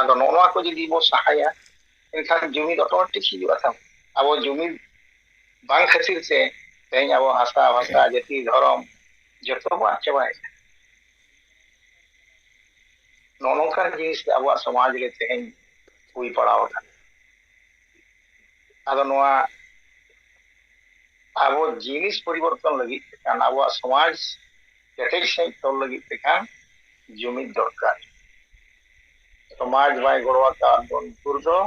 ᱟᱫᱚ ᱱᱚᱜᱼᱚ ᱱᱚᱣᱟ ᱠᱚ ᱡᱩᱫᱤ ᱵᱚ ᱥᱟᱦᱟᱭᱟ ᱮᱱᱠᱷᱟᱱ ᱡᱩᱢᱤᱫ ᱚᱴᱳᱢᱮᱴᱤᱠ ᱦᱤᱡᱩᱜᱼᱟ ᱛᱟᱢ ᱟᱵᱚ ᱡᱩᱢᱤᱫ ᱵᱟᱝ ᱠᱷᱟᱹᱛᱤᱨ ᱛᱮ ᱛᱮᱦᱮᱧ ᱟᱵᱚ ᱦᱟᱥᱟ ᱵᱷᱟᱥᱟ ᱡᱟᱹᱛᱤ ᱫᱷᱚᱨᱚᱢ ᱡᱚᱛᱚ ᱵᱚ ᱟᱫ ᱪᱟᱵᱟᱭᱮᱫ ᱠᱟᱱᱟ ᱱᱚᱜᱼᱚ ᱱᱚᱝᱠᱟᱱ ᱡᱤᱱᱤᱥ ᱟᱵᱚᱣᱟᱜ ᱥᱚᱢᱟᱡᱽ ᱨᱮ ᱛᱮᱦᱮᱧ ᱦᱩᱭ ᱯᱟᱲᱟᱣ ᱟᱠᱟᱱᱟ ᱟᱫᱚ ᱱᱚᱣᱟ ᱟᱵᱚ ᱡᱤᱱᱤᱥ ᱯᱚᱨᱤᱵᱚᱨᱛᱚᱱ ᱞᱟᱹᱜᱤᱫ ᱛᱮ ᱠᱷᱟᱱ ᱟᱵᱚᱣᱟᱜ ᱥᱚᱢᱟᱡᱽ ᱠᱮᱴᱮᱡ ᱥᱟᱺᱦᱤᱡ ᱛᱚᱞ ᱞᱟᱹᱜᱤᱫ ᱛᱮ ᱠᱷᱟᱱ ᱡᱩᱢᱤᱫ ᱫᱚᱨᱠᱟᱨ ᱥᱚᱢᱟᱡᱽ ᱵᱟᱭ ᱜᱚᱲᱚ ᱟᱠᱟᱫ ᱵᱚᱱ ᱵᱷᱳᱨ ᱫᱚ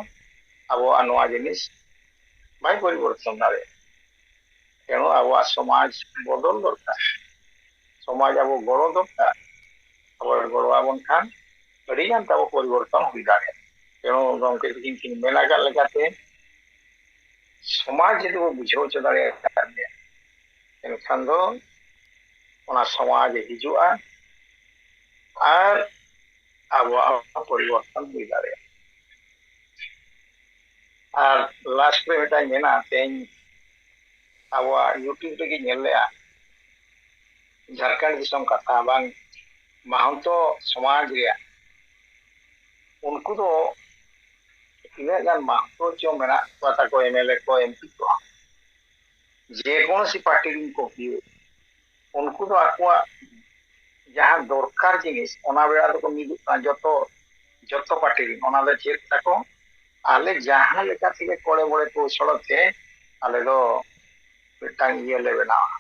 ᱟᱵᱚᱣᱟᱜ ᱱᱚᱣᱟ ᱡᱤᱱᱤᱥ ᱵᱟᱭ ᱯᱚᱨᱤᱵᱚᱨᱛᱚᱱ ᱫᱟᱲᱮᱭᱟᱜᱼᱟ ᱛᱮᱱᱚ ᱟᱵᱚᱣᱟᱜ ᱥᱚᱢᱟᱡᱽ ᱵᱚᱫᱚᱞ ᱫᱚᱨᱠᱟᱨ ᱥᱚᱢᱟᱡᱽ ᱟᱵᱚ ᱜᱚᱲᱚ ᱫᱚᱨᱠᱟᱨ ᱟᱵᱚ ᱜᱚᱲᱚ ᱟᱵᱚᱱ ᱠᱷᱟᱱ ᱟᱹᱰᱤ ᱜᱟᱱ ᱛᱟᱵᱚ ᱯᱚᱨᱤᱵᱚᱨᱛᱚᱱ ᱦᱩᱭ ᱫᱟᱲᱮᱭᱟᱜᱼᱟ ᱛᱮᱱᱚ ᱜᱚᱢᱠᱮ ᱛᱟᱹᱠᱤᱱ ᱠᱤᱱ ᱢᱮᱱ ᱟᱠᱟᱫ ᱞᱮᱠᱟᱛᱮ ᱥᱚᱢᱟᱡᱽ ᱡᱩᱫᱤ ᱵᱚ ᱵᱩᱡᱷᱟᱹᱣ ᱦᱚᱪᱚ ᱫᱟᱲᱮᱭᱟᱜ ᱠᱟᱱ ᱜᱮᱭᱟ ᱮᱱᱠᱷᱟᱱ ᱫᱚ ᱚᱱᱟ ᱥᱚᱢᱟᱡᱽ ᱦᱤᱡᱩᱜᱼᱟ ᱟᱨ ᱟᱵᱚᱣᱟᱜ ᱯᱚᱨᱤᱵᱚᱨᱛᱚᱱ ᱦᱩᱭ ᱫᱟᱲᱮᱭᱟᱜᱼᱟ ᱟᱨ ᱞᱟᱥᱴ ᱨᱮ ᱢᱤᱫᱴᱟᱝ ᱢᱮᱱᱟ ᱛᱮᱦᱮᱧ ᱟᱵᱚᱣᱟᱜ ᱤᱭᱩᱴᱤᱭᱩᱵᱽ ᱨᱮᱜᱮ ᱧᱮᱞ ᱞᱮᱜᱼᱟ ᱡᱷᱟᱲᱠᱷᱚᱸᱰ ᱫᱤᱥᱚᱢ ᱠᱟᱛᱷᱟ ᱵᱟᱝ ᱢᱟᱦᱟᱱᱛᱚ ᱥᱚᱢᱟᱡᱽ ᱨᱮᱭᱟᱜ ᱩᱱᱠᱩ ᱫᱚ ᱛᱤᱱᱟᱹᱜ ᱜᱟᱱ ᱢᱟᱦᱟᱱᱛᱚ ᱪᱚ ᱢᱮᱱᱟᱜ ᱠᱚᱣᱟ ᱛᱟᱠᱚ ᱮᱢᱮᱞᱮ ᱠᱚ ᱮᱢᱯᱤ ᱠᱚ ᱡᱮᱠᱳᱱᱳᱥᱤ ᱯᱟᱨᱴᱤ ᱨᱮᱱ ᱠᱚ ᱦᱩᱭᱩᱜ ᱩᱱᱠᱩ ᱫᱚ ᱟᱠᱚᱣᱟᱜ ᱡᱟᱦᱟᱸ ᱫᱚᱨᱠᱟᱨ ᱡᱤᱱᱤᱥ ᱚᱱᱟ ᱵᱮᱲᱟ ᱫᱚᱠᱚ ᱢᱤᱫᱚᱜ ᱠᱟᱱᱟ ᱡᱚᱛᱚ ᱡᱚᱛᱚ ᱯᱟᱨᱴᱤ ᱨᱮᱱ ᱚᱱᱟ ᱫᱚ ᱪᱮᱫ ᱛᱟᱠᱚ ᱟᱞᱮ ᱡᱟᱦᱟᱸ ᱞᱮᱠᱟ ᱛᱮᱜᱮ ᱠᱚᱲᱮ ᱵᱚᱲᱮ ᱠᱚᱣᱥᱚᱲ ᱛᱮ ᱟᱞᱮ ᱫᱚ ᱢᱤᱫᱴᱟᱝ ᱤᱭᱟᱹ ᱞᱮ ᱵᱮᱱᱟᱣᱟ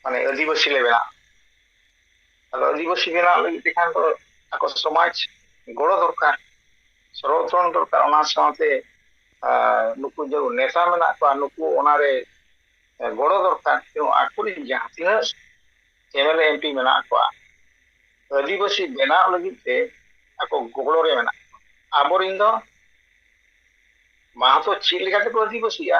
ᱢᱟᱱᱮ ᱟᱹᱫᱤᱵᱟᱹᱥᱤ ᱞᱮ ᱵᱮᱱᱟᱜᱼᱟ ᱟᱫᱚ ᱟᱹᱫᱤᱵᱟᱹᱥᱤ ᱵᱮᱱᱟᱣ ᱞᱟᱹᱜᱤᱫ ᱛᱮᱠᱷᱟᱱ ᱫᱚ ᱟᱠᱚ ᱥᱚᱢᱟᱡᱽ ᱜᱚᱲᱚ ᱫᱚᱨᱠᱟᱨ ᱥᱚᱨᱚᱛᱚᱱ ᱫᱚᱨᱠᱟᱨ ᱚᱱᱟ ᱥᱟᱶᱛᱮ ᱱᱩᱠᱩ ᱡᱮ ᱱᱮᱛᱟ ᱢᱮᱱᱟᱜ ᱠᱚᱣᱟ ᱱᱩᱠᱩ ᱚᱱᱟᱨᱮ ᱜᱚᱲᱚ ᱫᱚᱨᱠᱟᱨ ᱟᱠᱚᱨᱮᱱ ᱡᱟᱦᱟᱸ ᱛᱤᱱᱟᱹᱜ M L A M P ᱢᱮᱱᱟᱜ ᱠᱚᱣᱟ ᱟᱹᱫᱤᱵᱟᱹᱥᱤ ᱵᱮᱱᱟᱣ ᱞᱟᱹᱜᱤᱫ ᱛᱮ ᱟᱠᱚ ᱜᱚᱲᱚ ᱨᱮ ᱢᱮᱱᱟᱜ ᱠᱚᱣᱟ ᱟᱵᱚᱨᱮᱱ ᱫᱚ ᱢᱟᱦᱟᱛᱚ ᱪᱮᱫ ᱞᱮᱠᱟ ᱛᱮᱠᱚ ᱟᱹᱫᱤᱵᱟᱹᱥᱤᱜᱼᱟ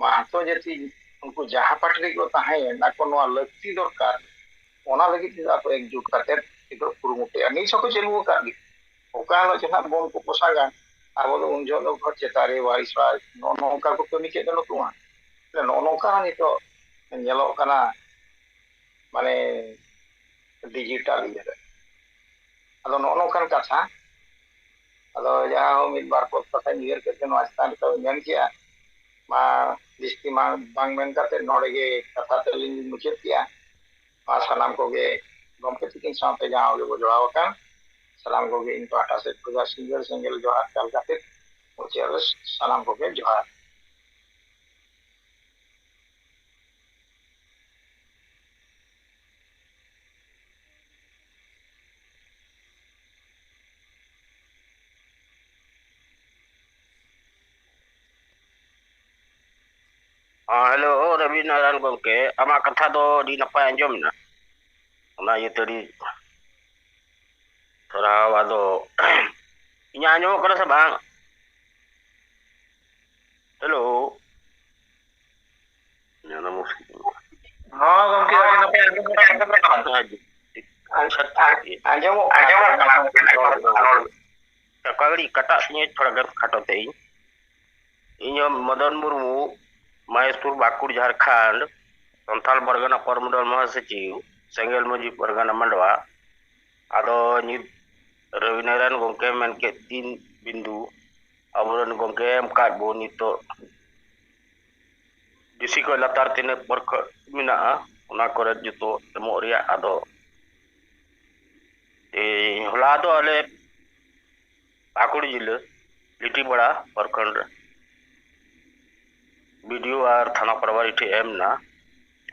ᱢᱟᱦᱟᱛᱚ ᱡᱟᱹᱛᱤ ᱩᱱᱠᱩ ᱡᱟᱦᱟᱸ ᱯᱟᱴ ᱨᱮᱜᱮ ᱠᱚ ᱛᱟᱦᱮᱸᱭᱮᱱ ᱟᱠᱚ ᱱᱚᱣᱟ ᱞᱟᱹᱠᱛᱤ ᱫᱚᱨᱠᱟᱨ ᱚᱱᱟ ᱞᱟᱹᱜᱤᱫ ᱛᱮᱫᱚ ᱟᱠᱚ ᱮᱠᱡᱩᱴ ᱠᱟᱛᱮ ᱱᱤᱛᱚᱜ ᱠᱩᱨᱩᱢᱩᱴᱩᱭᱟ ᱱᱤᱛ ᱦᱚᱸᱠᱚ ᱪᱟᱹᱞᱩ ᱟᱠᱟᱫ ᱜᱮ ᱚᱠᱟ ᱦᱤᱞᱳᱜ ᱪᱮ ᱱᱟᱦᱟᱜ ᱵᱚᱢ ᱠᱚ ᱯᱚᱥᱟᱜᱟ ᱟᱵᱚ ᱫᱚ ᱩᱱ ᱡᱚᱦᱚᱜ ᱫᱚ ᱜᱷᱚᱴ ᱪᱮᱛᱟᱱ ᱨᱮ ᱵᱟᱭᱤᱥ ᱵᱟᱭᱤᱥ ᱱᱚᱜᱼᱚ ᱱᱚᱝᱠᱟ ᱠᱚ ᱠᱟᱹᱢᱤ ᱠᱮᱫ ᱫᱚ ᱱᱩᱠᱩ ᱢᱟ ᱱᱚᱜᱼᱚ ᱱᱚᱝᱠᱟ ᱦᱚᱸ ᱱᱤᱛᱚᱜ ᱧᱮᱞᱚᱜ ᱠᱟᱱᱟ ᱢᱟᱱᱮ ᱰᱤᱡᱤᱴᱟᱞ ᱤᱭᱟᱹᱨᱮ ᱟᱫᱚ ᱱᱚᱜᱼᱚ ᱱᱚᱝᱠᱟᱱ ᱠᱟᱛᱷᱟ ᱟᱫᱚ ᱡᱟᱦᱟᱸ ᱦᱚᱸ ᱢᱤᱫ ᱵᱟᱨ ᱯᱚᱫ ᱠᱟᱛᱷᱟᱧ ᱩᱭᱦᱟᱹᱨ ᱠᱮᱫ ᱛᱮ ᱱᱚᱣᱟ ᱪᱮᱛᱟᱱ ᱨᱮ ᱛᱟᱹᱣ ᱢᱮᱱ ᱠᱮᱜᱼᱟ ᱢᱟ ᱡᱟᱹᱥᱛᱤ ᱢᱟ ᱵᱟᱝ ᱢᱮᱱ ᱠᱟᱛᱮ ᱱᱚᱰᱮ ᱜᱮ ᱠᱟᱛᱷᱟ ᱛᱟᱹᱞᱤᱧ ᱢᱩᱪᱟᱹᱫ ᱠᱮᱜᱼᱟ ᱢᱟ ᱥᱟᱱᱟᱢ ᱠᱚᱜᱮ ᱜᱚᱢᱠᱮ ᱛᱤᱠᱤᱱ ᱥᱟᱶᱛᱮ ᱡᱟᱦᱟᱸ ᱜᱮᱵᱚ ᱡᱚᱲᱟᱣ ᱟᱠᱟᱱ ᱥᱟᱱᱟᱢ ᱠᱚᱜᱮ ᱤᱧ ᱯᱟᱦᱴᱟ ᱥᱮᱫ ᱠᱷᱚᱱ ᱥᱤᱸᱜᱟᱹᱲ ᱥᱮᱸᱜᱮᱞ ᱡᱚᱦᱟᱨ ᱪᱟᱞ ᱠᱟᱛᱮ ᱢᱩᱪᱟᱹᱫ ᱨᱮ ᱥᱟᱱᱟᱢ ᱠᱚᱜᱮ ᱡᱚᱦᱟᱨ ᱦᱮᱞᱳ ᱨᱚᱵᱤ ᱱᱟᱨᱟᱭᱚᱱ ᱜᱚᱢᱠᱮ ᱟᱢᱟᱜ ᱠᱟᱛᱷᱟ ᱫᱚ ᱟᱹᱰᱤ ᱱᱟᱯᱟᱭ ᱟᱸᱡᱚᱢ ᱮᱱᱟ ᱚᱱᱟ ᱤᱭᱟᱹᱛᱮ ᱟᱹᱰᱤ ᱥᱟᱨᱦᱟᱣ ᱟᱫᱚ ᱤᱧᱟᱹᱜ ᱟᱸᱡᱚᱢᱚᱜ ᱠᱟᱱᱟ ᱥᱮ ᱵᱟᱝ ᱦᱮᱞᱳ ᱚᱱᱟ ᱢᱩᱥᱠᱤᱞ ᱦᱚᱸ ᱜᱚᱝᱠᱮ ᱟᱹᱰᱤ ᱱᱟᱯᱟᱭ ᱟᱸᱡᱚᱢᱚᱜ ᱠᱟᱱᱟ ᱚᱠᱟ ᱜᱷᱟᱹᱲᱤᱡ ᱠᱟᱴᱟᱜ ᱛᱤᱧᱟᱹ ᱛᱷᱚᱲᱟ ᱜᱟᱱ ᱠᱷᱟᱴᱚ ᱛᱮ ᱤᱧ ᱤᱧᱦᱚᱸ ᱢᱚᱫᱚᱱ ᱢᱩᱨᱢᱩ ᱢᱟᱦᱮᱥᱯᱩᱨ ᱵᱟᱸᱠᱩᱲ ᱡᱷᱟᱲᱠᱷᱚᱸᱰ ᱥᱟᱱᱛᱟᱲ ᱯᱟᱨᱜᱟᱱᱟ ᱯᱚᱨᱢᱚᱰᱚᱞ ᱢᱚᱦᱟᱥᱚᱪᱤᱵ ᱥᱮᱸᱜᱮᱞ ᱢᱟᱹᱡᱷᱤ ᱯᱟᱨᱜᱟᱱᱟ ᱢᱟᱰᱣᱟ ᱟᱫᱚ ᱱᱤᱛ ᱨᱚᱵᱤᱱᱟᱨᱟᱭᱚᱱ ᱜᱚᱝᱠᱮ ᱢᱮᱱ ᱠᱮᱫ ᱛᱤᱱ ᱵᱤᱱᱫᱩ ᱟᱵᱚᱨᱮᱱ ᱜᱚᱝᱠᱮ ᱮᱢ ᱠᱟᱫ ᱵᱚᱱ ᱱᱤᱛᱚᱜ ᱰᱤᱥᱤ ᱠᱷᱚᱡ ᱞᱟᱛᱟᱨ ᱛᱤᱱᱟᱹᱜ ᱯᱚᱨᱠᱷᱚ ᱢᱮᱱᱟᱜᱼᱟ ᱚᱱᱟ ᱠᱚᱨᱮ ᱡᱚᱛᱚ ᱮᱢᱚᱜ ᱨᱮᱭᱟᱜ ᱟᱫᱚ ᱛᱮᱦᱮᱧ ᱦᱚᱞᱟ ᱫᱚ ᱟᱞᱮ ᱯᱟᱠᱩᱲ ᱡᱤᱞᱟᱹ ᱞᱤᱴᱤᱯᱟᱲᱟ ᱯᱨᱚᱠᱷᱚᱸᱰ ᱨᱮ ᱵᱤᱰᱤᱳ ᱟᱨ ᱛᱷᱟᱱᱟ ᱯᱨᱟᱵᱟᱨᱤ ᱴᱷᱮᱡ ᱮᱢ ᱮᱱᱟ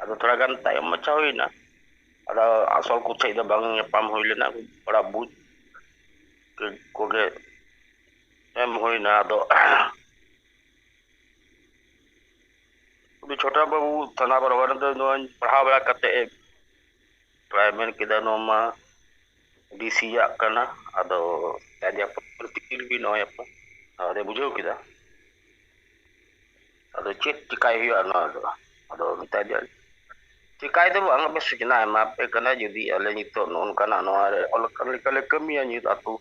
ᱟᱫᱚ ᱛᱷᱚᱲᱟ ᱜᱟᱱ ᱛᱟᱭᱚᱢ ᱢᱟᱪᱷᱟ ᱦᱩᱭᱱᱟ ᱟᱫᱚ ᱟᱥᱚᱞ ᱠᱚ ᱴᱷᱮᱡ ᱫᱚ ᱵᱟᱝ ᱧᱟᱯᱟᱢ ᱦᱩᱭ ᱞᱮᱱᱟ ᱛᱷᱚᱲᱟ ᱵᱩᱡᱽ ᱠᱚᱜᱮ ᱮᱢ ᱦᱩᱭᱱᱟ ᱟᱫᱚ ᱩᱱᱤ ᱪᱷᱳᱴᱟ ᱵᱟᱹᱵᱩ ᱛᱷᱟᱱᱟ ᱵᱟᱨᱵᱟᱨ ᱫᱚ ᱱᱚᱣᱟᱧ ᱯᱟᱲᱦᱟᱣ ᱵᱟᱲᱟ ᱠᱟᱛᱮ ᱯᱨᱟᱭ ᱢᱮᱱ ᱠᱮᱫᱟ ᱱᱚᱣᱟ ᱢᱟ ᱰᱤᱥᱤᱭᱟᱜ ᱠᱟᱱᱟ ᱟᱫᱚ ᱟᱡᱟᱜ ᱯᱨᱚᱛᱤᱠᱤᱞ ᱜᱮ ᱱᱚᱜᱼᱚᱭ ᱟᱯᱟ ᱟᱫᱚ ᱵᱩᱡᱷᱟᱹᱣ ᱠᱮᱫᱟ ᱟᱫᱚ ᱪᱮᱫ ᱪᱤᱠᱟᱭ ᱦᱩᱭᱩᱜᱼᱟ ᱱᱚᱣᱟ ᱫᱚ ᱟᱫᱚ ᱢᱮᱛᱟᱭ ᱫᱚ ᱪᱤᱠᱟᱭ ᱫᱚ ᱵᱟᱝ ᱟᱯᱮ ᱥᱩᱪᱱᱟ ᱮᱢᱟ ᱯᱮ ᱠᱟᱱᱟ ᱡᱩᱫᱤ ᱟᱞᱮ ᱱᱤᱛᱚᱜ ᱱᱚᱜᱼᱚ ᱱᱚᱝᱠᱟᱱᱟᱜ ᱱᱚᱣᱟ ᱨᱮ ᱚᱞ ᱟᱠᱟᱱ ᱞᱮᱠᱟᱞᱮ ᱠᱟᱹᱢᱤᱭᱟ ᱱᱤᱛ ᱟᱛᱳ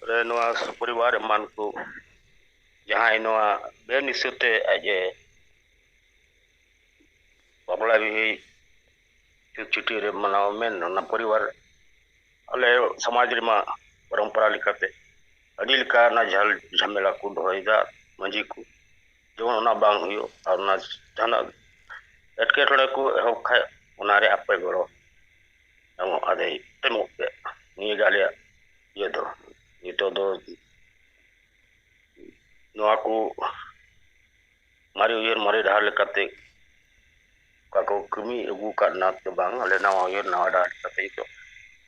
ᱨᱮ ᱱᱚᱣᱟ ᱥᱩᱯᱚᱨᱤᱵᱟᱨ ᱮᱢᱟᱱ ᱠᱚ ᱡᱟᱦᱟᱸᱭ ᱱᱚᱣᱟ ᱵᱮᱱᱤᱥᱟᱹᱛᱮ ᱟᱡ ᱮ ᱵᱟᱯᱞᱟ ᱵᱤᱦᱤ ᱪᱷᱩᱴ ᱪᱷᱩᱴᱤ ᱨᱮ ᱢᱟᱱᱟᱣ ᱢᱮᱱ ᱚᱱᱟ ᱯᱚᱨᱤᱵᱟᱨ ᱟᱞᱮ ᱥᱚᱢᱟᱡᱽ ᱨᱮᱢᱟ ᱯᱚᱨᱚᱢᱯᱚᱨᱟ ᱞᱮᱠᱟᱛᱮ ᱟᱹᱰᱤ ᱞᱮᱠᱟᱱᱟᱜ ᱡᱷᱟᱞ ᱡᱷᱟᱢᱮᱞᱟ ᱠᱚ ᱫᱚᱦᱚᱭᱮᱫᱟ ᱢᱟᱺᱡᱷᱤ ᱠᱚ ᱡᱮᱢᱚᱱ ᱚᱱᱟ ᱵᱟᱝ ᱦᱩᱭᱩᱜ ᱟᱨ ᱚᱱᱟ ᱡᱟᱦᱟᱱᱟᱜ ᱮᱴᱠᱮᱴᱚᱬᱮ ᱠᱚ ᱮᱦᱚᱵ ᱠᱷᱟᱡ ᱚᱱᱟᱨᱮ ᱟᱯᱮ ᱜᱚᱲᱚ ᱟᱫᱚ ᱟᱫᱚᱭ ᱮᱢᱚᱜ ᱜᱮ ᱱᱤᱭᱟᱹ ᱜᱮ ᱟᱞᱮᱭᱟᱜ ᱤᱭᱟᱹ ᱫᱚ ᱱᱤᱛᱚᱜ ᱫᱚ ᱱᱚᱣᱟ ᱠᱚ ᱢᱟᱨᱮ ᱩᱭᱦᱟᱹᱨ ᱢᱟᱨᱮ ᱰᱟᱦᱟᱨ ᱞᱮᱠᱟᱛᱮ ᱚᱠᱟ ᱠᱚ ᱠᱟᱹᱢᱤ ᱟᱹᱜᱩ ᱟᱠᱟᱫ ᱱᱟᱛ ᱫᱚ ᱵᱟᱝ ᱟᱞᱮ ᱱᱟᱣᱟ ᱩᱭᱦᱟᱹᱨ ᱱᱟᱣᱟ ᱰᱟᱦᱟᱨ ᱞᱮᱠᱟᱛᱮ ᱱᱤᱛᱚᱜ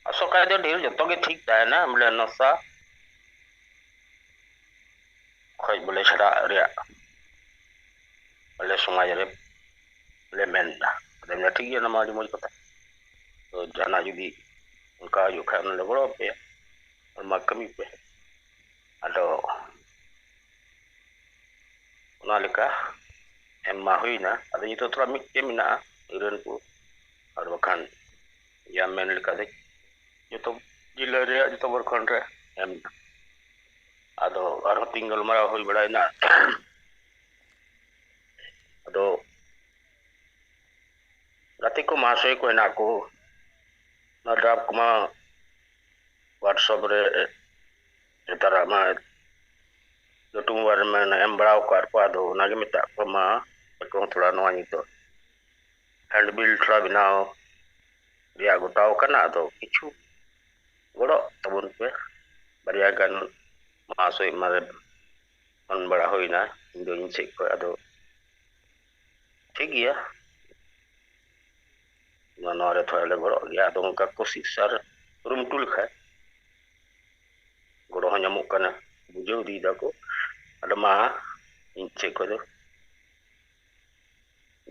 ᱟᱥᱚᱜ ᱠᱷᱟᱡ ᱫᱚ ᱰᱷᱮᱨ ᱡᱚᱛᱚ ᱜᱮ ᱴᱷᱤᱠ ᱛᱟᱦᱮᱱᱟ ᱵᱚᱞᱮ ᱱᱚᱥᱟ ᱠᱷᱚᱡ ᱵᱚᱞᱮ ᱪᱷᱟᱰᱟᱜ ᱨᱮᱭᱟᱜ ᱟᱞᱮ ᱥᱚᱢᱟᱡᱽ ᱨᱮ ᱞᱮ ᱢᱮᱱ ᱮᱫᱟ ᱟᱫᱚ ᱢᱮᱱᱫᱟ ᱴᱷᱤᱠ ᱜᱮᱭᱟ ᱚᱱᱟ ᱢᱟ ᱟᱹᱰᱤ ᱢᱚᱡᱽ ᱠᱟᱛᱷᱟ ᱛᱚ ᱡᱟᱦᱟᱱᱟᱜ ᱡᱩᱫᱤ ᱚᱱᱠᱟ ᱦᱩᱭᱩᱜ ᱠᱷᱟᱱ ᱚᱱᱟᱞᱮ ᱜᱚᱲᱚ ᱟᱯᱮᱭᱟ ᱢᱟ ᱠᱟᱹᱢᱤ ᱯᱮ ᱟᱫᱚ ᱚᱱᱟ ᱞᱮᱠᱟ ᱮᱢ ᱢᱟ ᱦᱩᱭᱱᱟ ᱟᱫᱚ ᱱᱤᱛᱚᱜ ᱛᱷᱚᱲᱟ ᱢᱤᱫᱴᱮᱡ ᱢᱮᱱᱟᱜᱼᱟ ᱤᱨᱟᱹᱱ ᱠᱚ ᱟᱨ ᱵᱟᱠᱷᱟᱱ ᱡᱟ ᱢᱮᱱ ᱞᱮᱠᱟ ᱫᱚ ᱡᱚᱛᱚ ᱡᱮᱞᱟᱹ ᱨᱮᱭᱟᱜ ᱡᱚᱛᱚ ᱯᱨᱚᱠᱷᱚᱸᱰ ᱨᱮ ᱮᱢ ᱮᱱᱟ ᱟᱫᱚ ᱟᱨᱦᱚᱸ ᱛᱤᱧ ᱜᱟᱞᱢᱟᱨᱟᱣ ᱦᱩᱭ ᱵᱟᱲᱟᱭᱮᱱᱟ ᱟᱫᱚ ᱜᱟᱛᱮ ᱠᱚ ᱢᱟᱦᱟᱥᱚᱭ ᱠᱚ ᱦᱮᱱᱟᱜ ᱠᱚ ᱚᱱᱟ ᱰᱨᱟᱯ ᱠᱚᱢᱟ ᱦᱳᱣᱟᱴᱥᱚᱯ ᱨᱮ ᱱᱮᱛᱟᱨᱟᱜ ᱢᱟ ᱞᱟᱹᱴᱩ ᱢᱳᱵᱟᱭᱤᱞ ᱨᱮ ᱮᱢ ᱵᱟᱲᱟ ᱟᱠᱟᱫ ᱠᱚᱣᱟ ᱟᱫᱚ ᱚᱱᱟᱜᱮ ᱢᱮᱛᱟᱜ ᱠᱚᱣᱟ ᱢᱟ ᱟᱠᱚ ᱦᱚᱸ ᱛᱷᱚᱲᱟ ᱱᱚᱣᱟ ᱱᱤᱛᱚᱜ ᱦᱮᱱᱰ ᱵᱤᱞ ᱛᱷᱚᱲᱟ ᱵᱮᱱᱟᱣ ᱨᱮᱭᱟᱜ ᱜᱚᱴᱟᱣ ᱠᱟᱱᱟ ᱟᱫᱚ ᱠᱤᱪᱷᱩ ᱜᱚᱲᱚᱜ ᱛᱟᱵᱚᱱ ᱯᱮ ᱵᱟᱨᱭᱟ ᱜᱟᱱ ᱢᱟᱦᱟᱥᱚᱭ ᱢᱟᱨᱮ ᱯᱷᱳᱱ ᱵᱟᱲᱟ ᱦᱩᱭᱱᱟ ᱤᱧ ᱫᱚ ᱤᱧ ᱥᱮᱫ ᱠᱷᱚᱱ ᱟᱫᱚ ᱴᱷᱤᱠ ᱜᱮᱭᱟ ᱱᱚᱣᱟ ᱨᱮ ᱛᱷᱚᱲᱟ ᱞᱮ ᱜᱚᱲᱚᱜ ᱜᱮᱭᱟ ᱟᱫᱚ ᱚᱱᱠᱟ ᱠᱳᱥᱤᱥ ᱟᱨ ᱠᱩᱨᱩᱢᱩᱴᱩ ᱞᱮᱠᱷᱟᱡ ᱜᱚᱲᱚ ᱦᱚᱸ ᱧᱟᱢᱚᱜ ᱠᱟᱱᱟ ᱵᱩᱡᱷᱟᱹᱣ ᱤᱫᱤᱭ ᱫᱟᱠᱚ ᱟᱫᱚ ᱢᱟ ᱤᱧ ᱥᱮᱫ ᱠᱷᱚᱱ ᱫᱚ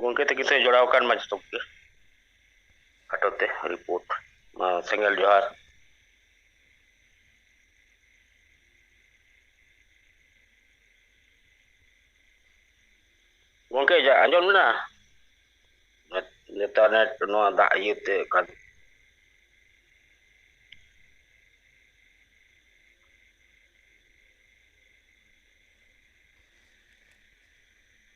ᱜᱚᱢᱠᱮ ᱛᱟᱹᱠᱤᱱ ᱥᱮ ᱡᱚᱲᱟᱣ ᱟᱠᱟᱱ ᱢᱟ ᱡᱚᱛᱚ ᱜᱮ ᱠᱷᱟᱴᱚ ᱛᱮ ᱨᱤᱯᱳᱨᱴ ᱢᱟ ᱥᱮᱸᱜᱮᱞ ᱡᱚᱦᱟᱨ ᱜᱚᱝᱠᱮ ᱡᱟ ᱟᱸᱡᱚᱢ ᱢᱮᱱᱟ ᱱᱮᱛᱟᱨ ᱱᱮᱴ ᱱᱚᱣᱟ ᱫᱟᱜ ᱤᱭᱟᱹᱛᱮ ᱠᱟᱱ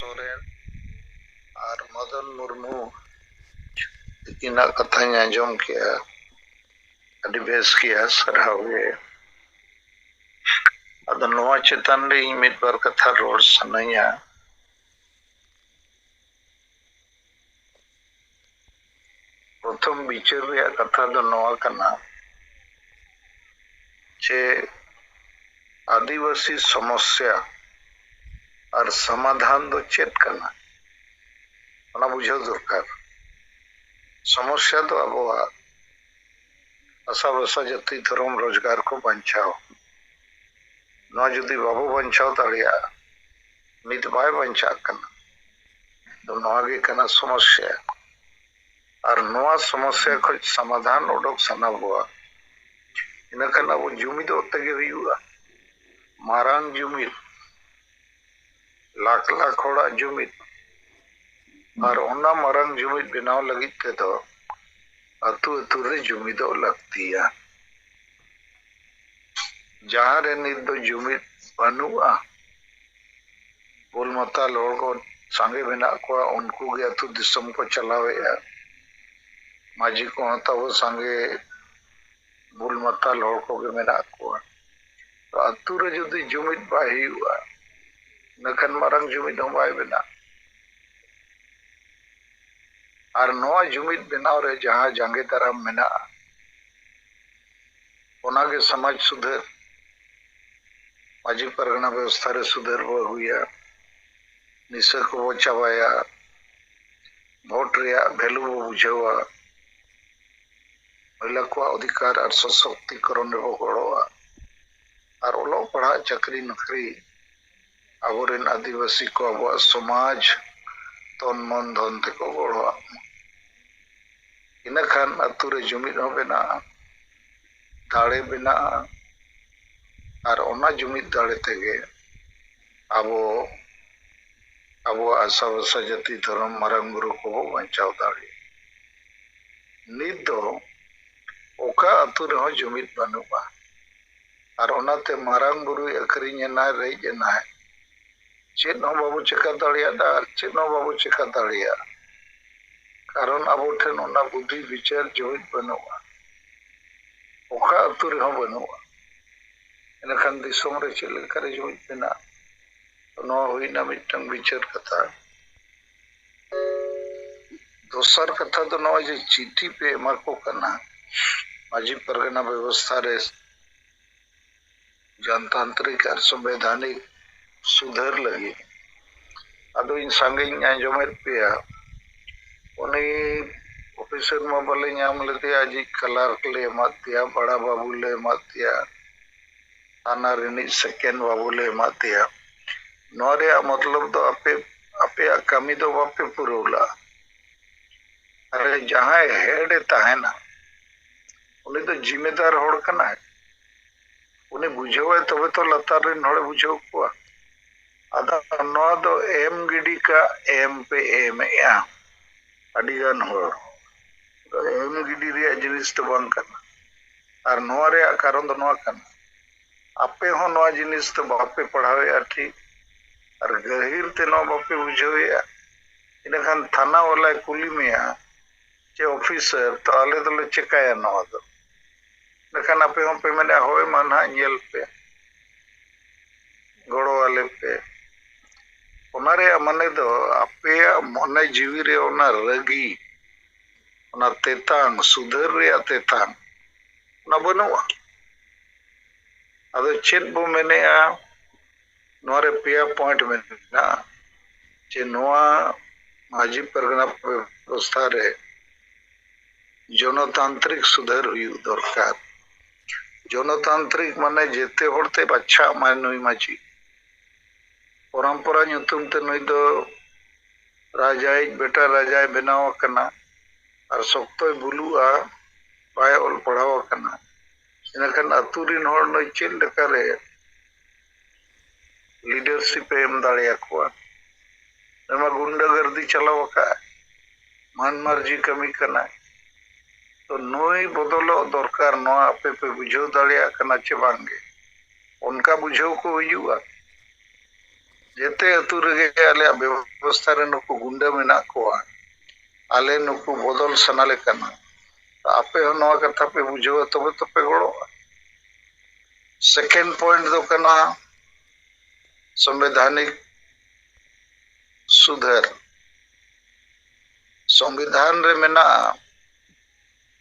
ᱥᱚᱨᱮᱱ ᱟᱨ ᱢᱚᱫᱚᱱ ᱢᱩᱨᱢᱩ ᱛᱤᱠᱤᱱᱟᱜ ᱠᱟᱛᱷᱟᱧ ᱟᱸᱡᱚᱢ ᱠᱮᱜᱼᱟ ᱟᱹᱰᱤ ᱵᱮᱥ ᱜᱮᱭᱟ ᱥᱟᱨᱦᱟᱣ ᱜᱮ ᱟᱫᱚ ᱱᱚᱣᱟ ᱪᱮᱛᱟᱱ ᱨᱮ ᱤᱧ ᱢᱤᱫ ᱵᱟᱨ ᱠᱟᱛᱷᱟ ᱨᱚᱲ ᱥᱟᱱᱟᱧᱟ ᱯᱨᱚᱛᱷᱚᱢ ᱵᱤᱪᱟᱹᱨ ᱨᱮᱭᱟᱜ ᱠᱟᱛᱷᱟ ᱫᱚ ᱱᱚᱣᱟ ᱠᱟᱱᱟ ᱡᱮ ᱟᱹᱫᱤᱵᱟᱹᱥᱤ ᱥᱚᱢᱚᱥᱭᱟ ᱟᱨ ᱥᱚᱢᱟᱫᱷᱟᱱ ᱫᱚ ᱪᱮᱫ ᱠᱟᱱᱟ ᱚᱱᱟ ᱵᱩᱡᱷᱟᱹᱣ ᱫᱚᱨᱠᱟᱨ ᱥᱚᱢᱚᱥᱭᱟ ᱫᱚ ᱟᱵᱚᱣᱟᱜ ᱟᱥᱟ ᱵᱷᱟᱥᱟ ᱡᱟᱹᱛᱤ ᱫᱷᱚᱨᱚᱢ ᱨᱳᱡᱽᱜᱟᱨ ᱠᱚ ᱵᱟᱧᱪᱟᱣ ᱱᱚᱣᱟ ᱡᱩᱫᱤ ᱵᱟᱵᱚ ᱵᱟᱧᱪᱟᱣ ᱫᱟᱲᱮᱭᱟᱜᱼᱟ ᱱᱤᱛ ᱵᱟᱭ ᱵᱟᱧᱪᱟᱜ ᱠᱟᱱᱟ ᱱᱚᱣᱟ ᱜᱮ ᱠᱟᱱᱟ ᱥᱚᱢᱚᱥᱭᱟ ᱟᱨ ᱱᱚᱣᱟ ᱥᱚᱢᱚᱥᱭᱟ ᱠᱷᱚᱱ ᱥᱚᱢᱟᱫᱷᱟᱱ ᱚᱰᱚᱠ ᱥᱟᱱᱟ ᱵᱚᱣᱟ ᱤᱱᱟᱹᱠᱷᱟᱱ ᱟᱵᱚ ᱡᱩᱢᱤᱫᱚᱜ ᱛᱮᱜᱮ ᱦᱩᱭᱩᱜᱼᱟ ᱢᱟᱨᱟᱝ ᱡᱩᱢᱤᱫ ᱞᱟᱠᱷ ᱞᱟᱠᱷ ᱦᱚᱲᱟᱜ ᱡᱩᱢᱤᱫ ᱟᱨ ᱚᱱᱟ ᱢᱟᱨᱟᱝ ᱡᱩᱢᱤᱫ ᱵᱮᱱᱟᱣ ᱞᱟᱹᱜᱤᱫ ᱛᱮᱫᱚ ᱟᱹᱛᱩ ᱟᱹᱛᱩ ᱨᱮ ᱡᱩᱢᱤᱫᱚᱜ ᱞᱟᱹᱠᱛᱤᱭᱟ᱾ ᱡᱟᱦᱟᱸ ᱨᱮ ᱱᱤᱛ ᱫᱚ ᱡᱩᱢᱤᱫ ᱵᱟᱹᱱᱩᱜᱼᱟ, ᱵᱩᱞ ᱢᱟᱛᱟᱞ ᱦᱚᱲ ᱠᱚ ᱥᱟᱸᱜᱮ ᱢᱮᱱᱟᱜ ᱠᱚᱣᱟ, ᱩᱱᱠᱩ ᱜᱮ ᱟᱹᱛᱩ ᱫᱤᱥᱚᱢ ᱠᱚ ᱪᱟᱞᱟᱣᱮᱫᱼᱟ᱾ ᱢᱟᱹᱡᱷᱤ ᱠᱚᱦᱚᱸ ᱛᱟᱵᱚ ᱥᱟᱸᱜᱮ ᱵᱩᱞ ᱢᱟᱛᱟᱞ ᱦᱚᱲ ᱠᱚᱜᱮ ᱢᱮᱱᱟᱜ ᱠᱚᱣᱟ᱾ ᱛᱚ ᱟᱹᱛᱩ ᱨᱮ ᱡᱩᱫᱤ ᱡᱩᱢᱤᱫ ᱵᱟᱭ ᱦᱩᱭᱩᱜᱼᱟ, ᱤᱱᱟᱹ ᱠᱷᱟᱱ ᱢᱟᱨᱟᱝ ᱡᱩᱢᱤᱫ ᱦᱚᱸ ᱵᱟᱭ ᱵᱮᱱᱟᱜᱼᱟ᱾ ᱟᱨ ᱱᱚᱣᱟ ᱡᱩᱢᱤᱫ ᱵᱮᱱᱟᱣ ᱨᱮ ᱡᱟᱦᱟᱸ ᱡᱟᱸᱜᱮ ᱫᱟᱨᱟᱢ ᱢᱮᱱᱟᱜᱼᱟ ᱚᱱᱟ ᱜᱮ ᱥᱚᱢᱟᱡᱽ ᱥᱩᱫᱷᱟᱹᱨ, ᱢᱟᱹᱡᱷᱤ ᱯᱟᱨᱜᱟᱱᱟ ᱵᱮᱵᱚᱥᱛᱷᱟ ᱨᱮ ᱥᱩᱫᱷᱟᱹᱨ ᱵᱚ ᱟᱹᱜᱩᱭᱟ, ᱱᱤᱥᱟᱹ ᱠᱚ ᱵᱚ ᱪᱟᱵᱟᱭᱟ, ᱵᱷᱳᱴ ᱨᱮᱭᱟᱜ ᱵᱷᱮᱞᱩ ᱵᱚ ᱵᱩᱡᱷᱟᱹᱣᱟ, ᱢᱚᱦᱤᱞᱟ ᱠᱚᱣᱟᱜ ᱚᱫᱷᱤᱠᱟᱨ ᱟᱨ ᱥᱚᱥᱚᱠᱛᱤᱠᱚᱨᱚᱱ ᱨᱮ ᱵᱚ ᱜᱚᱲᱚᱜᱼᱟ ᱟᱨ ᱚᱞᱚᱜ ᱯᱟᱲᱦᱟᱜ ᱪᱟᱹᱠᱨᱤ ᱱᱚᱠᱨᱤ ᱟᱵᱚ ᱨᱮᱱ ᱟᱹᱫᱤᱵᱟᱹᱥᱤ ᱠᱚ ᱟᱵᱚᱣᱟᱜ ᱥᱚᱢᱟᱡᱽ ᱛᱚᱱ ᱢᱚᱱ ᱫᱷᱚᱱ ᱛᱮᱠᱚ ᱜᱚᱲᱚ ᱟᱜ ᱢᱟ ᱤᱱᱟᱹ ᱠᱷᱟᱱ ᱟᱹᱛᱩ ᱨᱮ ᱡᱩᱢᱤᱫ ᱦᱚᱸ ᱵᱮᱱᱟᱜᱼᱟ ᱫᱟᱲᱮ ᱵᱮᱱᱟᱜᱼᱟ ᱟᱨ ᱚᱱᱟ ᱡᱩᱢᱤᱫ ᱫᱟᱲᱮ ᱛᱮᱜᱮ ᱟᱵᱚ ᱟᱵᱚᱣᱟᱜ ᱟᱥᱟ ᱵᱷᱟᱥᱟ ᱡᱟᱹᱛᱤ ᱫᱷᱚᱨᱚᱢ ᱢᱟᱨᱟᱝ ᱵᱩᱨᱩ ᱠᱚᱵᱚ ᱵᱟᱧᱪᱟᱣ ᱫᱟᱲᱮᱭᱟᱜᱼᱟ ᱱᱤᱛ ᱫᱚ ᱚᱠᱟ ᱟᱹᱛᱩ ᱨᱮᱦᱚᱸ ᱡᱩᱢᱤᱫ ᱵᱟᱹᱱᱩᱜᱼᱟ ᱟᱨ ᱚᱱᱟᱛᱮ ᱢᱟᱨᱟᱝ ᱵᱩᱨᱩᱭ ᱟᱹᱠᱷᱨᱤᱧ ᱮᱱᱟᱭ ᱨᱮᱡ ᱮᱱᱟᱭ᱾ ᱪᱮᱫ ᱦᱚᱸ ᱵᱟᱵᱚ ᱪᱮᱠᱟ ᱫᱟᱲᱮᱭᱟᱫᱼᱟ ᱟᱨ ᱪᱮᱫ ᱦᱚᱸ ᱵᱟᱵᱚ ᱪᱮᱠᱟ ᱫᱟᱲᱮᱭᱟᱜᱼᱟ᱾ ᱠᱟᱨᱚᱱ ᱟᱵᱚ ᱴᱷᱮᱱ ᱚᱱᱟ ᱵᱩᱫᱷᱤ ᱵᱤᱪᱟᱹᱨ ᱡᱩᱢᱤᱫ ᱵᱟᱹᱱᱩᱜᱼᱟ᱾ ᱚᱠᱟ ᱟᱹᱛᱩ ᱨᱮᱦᱚᱸ ᱵᱟᱹᱱᱩᱜᱼᱟ᱾ ᱤᱱᱟᱹᱠᱷᱟᱱ ᱫᱤᱥᱚᱢ ᱨᱮ ᱪᱮᱫ ᱞᱮᱠᱟᱨᱮ ᱡᱩᱢᱤᱫ ᱵᱮᱱᱟᱜᱼᱟ? ᱛᱚ ᱱᱚᱣᱟ ᱦᱩᱭ ᱮᱱᱟ ᱢᱤᱫᱴᱟᱹᱝ ᱵᱤᱪᱟᱹᱨ ᱠᱟᱛᱷᱟ᱾ ᱫᱚᱥᱟᱨ ᱠᱟᱛᱷᱟ ᱫᱚ ᱱᱚᱜᱼᱚᱭ ᱡᱮ ᱪᱤᱴᱷᱤ ᱯᱮ ᱮᱢᱟ ᱠᱚ ᱠᱟᱱᱟ ᱢᱟᱹᱡᱷᱤ ᱯᱟᱨᱜᱟᱱᱟ ᱵᱮᱵᱚᱥᱛᱷᱟ ᱨᱮ ᱡᱚᱱᱛᱟᱱᱛᱨᱤᱠ ᱟᱨ ᱥᱚᱝᱵᱤᱫᱷᱟᱱᱤᱠ ᱥᱩᱫᱷᱟᱹᱨ ᱞᱟᱹᱜᱤᱫ ᱟᱫᱚ ᱤᱧ ᱥᱟᱸᱜᱮᱧ ᱟᱸᱡᱚᱢᱮᱫ ᱯᱮᱭᱟ ᱩᱱᱤ ᱚᱯᱷᱤᱥᱟᱨ ᱢᱟ ᱵᱟᱞᱮ ᱧᱟᱢ ᱞᱮᱫᱮᱭᱟ ᱟᱡᱤᱡ ᱠᱞᱟᱨᱠ ᱞᱮ ᱮᱢᱟᱫᱮᱭᱟ ᱵᱟᱲᱟ ᱵᱟᱹᱵᱩ ᱞᱮ ᱮᱢᱟᱫᱮᱭᱟ ᱟᱱᱟ ᱨᱤᱱᱤᱡ ᱥᱮᱠᱮᱱᱰ ᱵᱟᱹᱵᱩ ᱞᱮ ᱮᱢᱟᱫ ᱫᱮᱭᱟ᱾ ᱱᱚᱶᱟ ᱨᱮᱭᱟᱜ ᱢᱚᱛᱞᱚᱵᱽ ᱫᱚ ᱟᱯᱮ ᱟᱯᱮᱭᱟᱜ ᱠᱟᱹᱢᱤ ᱫᱚ ᱵᱟᱯᱮ ᱯᱩᱨᱟᱹᱣ ᱞᱟᱜᱼᱟ᱾ ᱟᱨᱮ ᱡᱟᱦᱟᱸᱭ ᱦᱮᱰ ᱮ ᱛᱟᱦᱮᱸᱱᱟ ᱩᱱᱤ ᱫᱚ ᱡᱤᱢᱮᱫᱟᱨ ᱦᱚᱲ ᱠᱟᱱᱟᱭ᱾ ᱩᱱᱤ ᱵᱩᱡᱷᱟᱹᱣᱟᱭ ᱛᱚᱵᱮ ᱛᱚ ᱞᱟᱛᱟᱨ ᱨᱤᱱ ᱦᱚᱲᱮ ᱵᱩᱡᱷᱟᱹᱣ ᱠᱚᱣᱟ᱾ ᱟᱫᱚ ᱱᱚᱶᱟ ᱫᱚ ᱮᱢ ᱜᱤᱰᱤ ᱠᱟᱜ ᱮᱢ ᱯᱮ ᱮᱢᱮᱜᱼᱟ ᱟᱹᱰᱤ ᱜᱟᱱ ᱦᱚᱲ᱾ ᱱᱚᱶᱟ ᱫᱚ ᱮᱢ ᱜᱤᱰᱤ ᱨᱮᱭᱟᱜ ᱡᱤᱱᱤᱥ ᱫᱚ ᱵᱟᱝ ᱠᱟᱱᱟ᱾ ᱟᱨ ᱱᱚᱣᱟ ᱨᱮᱭᱟᱜ ᱠᱟᱨᱚᱱ ᱫᱚ ᱱᱚᱣᱟ ᱠᱟᱱᱟ ᱟᱯᱮ ᱦᱚᱸ ᱱᱚᱣᱟ ᱡᱤᱱᱤᱥ ᱫᱚ ᱵᱟᱯᱮ ᱯᱟᱲᱦᱟᱣᱮᱫᱼᱟ ᱴᱷᱤᱠ ᱟᱨ ᱜᱟᱹᱦᱤᱨ ᱛᱮ ᱱᱚᱣᱟ ᱵᱟᱯᱮ ᱵᱩᱡᱷᱟᱹᱣᱮᱫᱼᱟ ᱤᱱᱟᱹᱠᱷᱟᱱ ᱛᱷᱟᱱᱟ ᱵᱟᱞᱟᱭ ᱠᱩᱞᱤ ᱢᱮᱭᱟ ᱡᱮ ᱚᱯᱷᱤᱥᱟᱨ ᱛᱚ ᱟᱞᱮ ᱫᱚᱞᱮ ᱪᱮᱠᱟᱭᱟ ᱱᱚᱣᱟ ᱫᱚ ᱤᱱᱟᱹᱠᱷᱟᱱ ᱟᱯᱮ ᱦᱚᱸ ᱯᱮ ᱢᱮᱱᱮᱫᱼᱟ ᱦᱳᱭ ᱢᱟ ᱱᱟᱦᱟᱜ ᱧᱮᱞ ᱯᱮ ᱜᱚᱲᱚ ᱟᱞᱮ ᱯᱮ ᱚᱱᱟ ᱨᱮᱭᱟᱜ ᱢᱟᱱᱮ ᱫᱚ ᱟᱯᱮᱭᱟᱜ ᱢᱚᱱᱮ ᱡᱤᱣᱤ ᱨᱮ ᱚᱱᱟ ᱨᱟᱹᱜᱤ ᱚᱱᱟ ᱛᱮᱛᱟᱝ ᱥᱩᱫᱷᱟᱹᱨ ᱨᱮᱭᱟᱜ ᱛᱮᱛᱟᱝ ᱚᱱᱟ ᱵᱟᱹᱱᱩᱜᱼᱟ ᱟᱫᱚ ᱪᱮᱫ ᱵᱚ ᱢᱮᱱᱮᱜᱼᱟ ᱱᱚᱣᱟ ᱨᱮ ᱯᱮᱭᱟ ᱯᱚᱭᱮᱱᱴ ᱢᱮᱱᱟᱜᱼᱟ ᱡᱮ ᱱᱚᱣᱟ ᱢᱟᱹᱡᱷᱤ ᱯᱟᱨᱜᱟᱱᱟ ᱵᱮᱵᱚᱥᱛᱷᱟ ᱨᱮ ᱡᱚᱱᱚᱛᱟᱱᱛᱨᱤᱠ ᱥᱩᱫᱷᱟᱹᱨ ᱦᱩᱭᱩᱜ ᱫᱚᱨᱠᱟᱨ ᱡᱚᱱᱚᱛᱟᱱᱛᱨᱤᱠ ᱢᱟᱱᱮ ᱡᱮᱛᱮ ᱦᱚᱲᱛᱮ ᱵᱟᱪᱷᱟᱜ ᱢᱟᱭ ᱱᱩᱭ ᱢᱟᱹᱡᱷᱤ ᱯᱚᱨᱚᱢᱯᱚᱨᱟ ᱧᱩᱛᱩᱢ ᱛᱮ ᱱᱩᱭ ᱫᱚ ᱨᱟᱡᱟᱭᱤᱡ ᱵᱮᱴᱟ ᱨᱟᱡᱟᱭ ᱵᱮᱱᱟᱣ ᱟᱠᱟᱱᱟ ᱟᱨ ᱥᱚᱠᱛᱚᱭ ᱵᱩᱞᱩᱜᱼᱟ ᱵᱟᱭ ᱚᱞ ᱯᱟᱲᱦᱟᱣ ᱟᱠᱟᱱᱟ ᱤᱱᱟᱹᱠᱷᱟᱱ ᱟᱹᱛᱩ ᱨᱤᱱ ᱦᱚᱲ ᱱᱩᱭ ᱪᱮᱫ ᱞᱮᱠᱟ ᱨᱮ ᱞᱤᱰᱟᱨᱥᱤᱯ ᱮ ᱮᱢ ᱫᱟᱲᱮ ᱟᱠᱚᱣᱟ ᱱᱩᱭ ᱢᱟ ᱜᱩᱱᱰᱟᱹ ᱜᱟᱹᱨᱫᱤ ᱪᱟᱞᱟᱣ ᱟᱠᱟᱫ ᱢᱟᱹᱱ ᱢᱟᱹᱨᱡᱤ ᱠᱟᱹᱢᱤ ᱠᱟᱱᱟᱭ ᱛᱚ ᱱᱩᱭ ᱵᱚᱫᱚᱞᱚᱜ ᱫᱚᱨᱠᱟᱨ ᱱᱚᱣᱟ ᱟᱯᱮ ᱯᱮ ᱵᱩᱡᱷᱟᱹᱣ ᱫᱟᱲᱮᱭᱟᱜ ᱠᱟᱱᱟ ᱪᱮ ᱵᱟᱝ ᱜᱮ ᱚᱱᱠᱟ ᱵᱩᱡᱷᱟᱹᱣ ᱠᱚ ᱦᱩᱭᱩᱜᱼᱟ ᱡᱮᱛᱮ ᱟᱹᱛᱩ ᱨᱮᱜᱮ ᱟᱞᱮᱭᱟᱜ ᱵᱮᱵᱚᱥᱛᱷᱟ ᱨᱮ ᱱᱩᱠᱩ ᱜᱩᱱᱰᱟᱹ ᱢᱮᱱᱟᱜ ᱠᱚᱣᱟ ᱟᱞᱮ ᱱᱩᱠᱩ ᱵᱚᱫᱚᱞ ᱥᱟᱱᱟᱞᱮ ᱠᱟᱱᱟ ᱟᱯᱮ ᱦᱚᱸ ᱱᱚᱣᱟ ᱠᱟᱛᱷᱟ ᱯᱮ ᱵᱩᱡᱷᱟᱹᱣᱟ ᱛᱚᱵᱮ ᱛᱚᱯᱮ ᱜᱚᱲᱚᱜᱼᱟ ᱥᱮᱠᱮᱱᱰ ᱯᱚᱭᱮᱱᱴ ᱫᱚ ᱠᱟᱱᱟ ᱥᱚᱝᱵᱤᱫᱷᱟᱱᱤᱠ ᱥᱩᱫᱷᱟᱹᱨ ᱥᱚᱝᱵᱤᱫᱷᱟᱱ ᱨᱮ ᱢᱮᱱᱟᱜᱼᱟ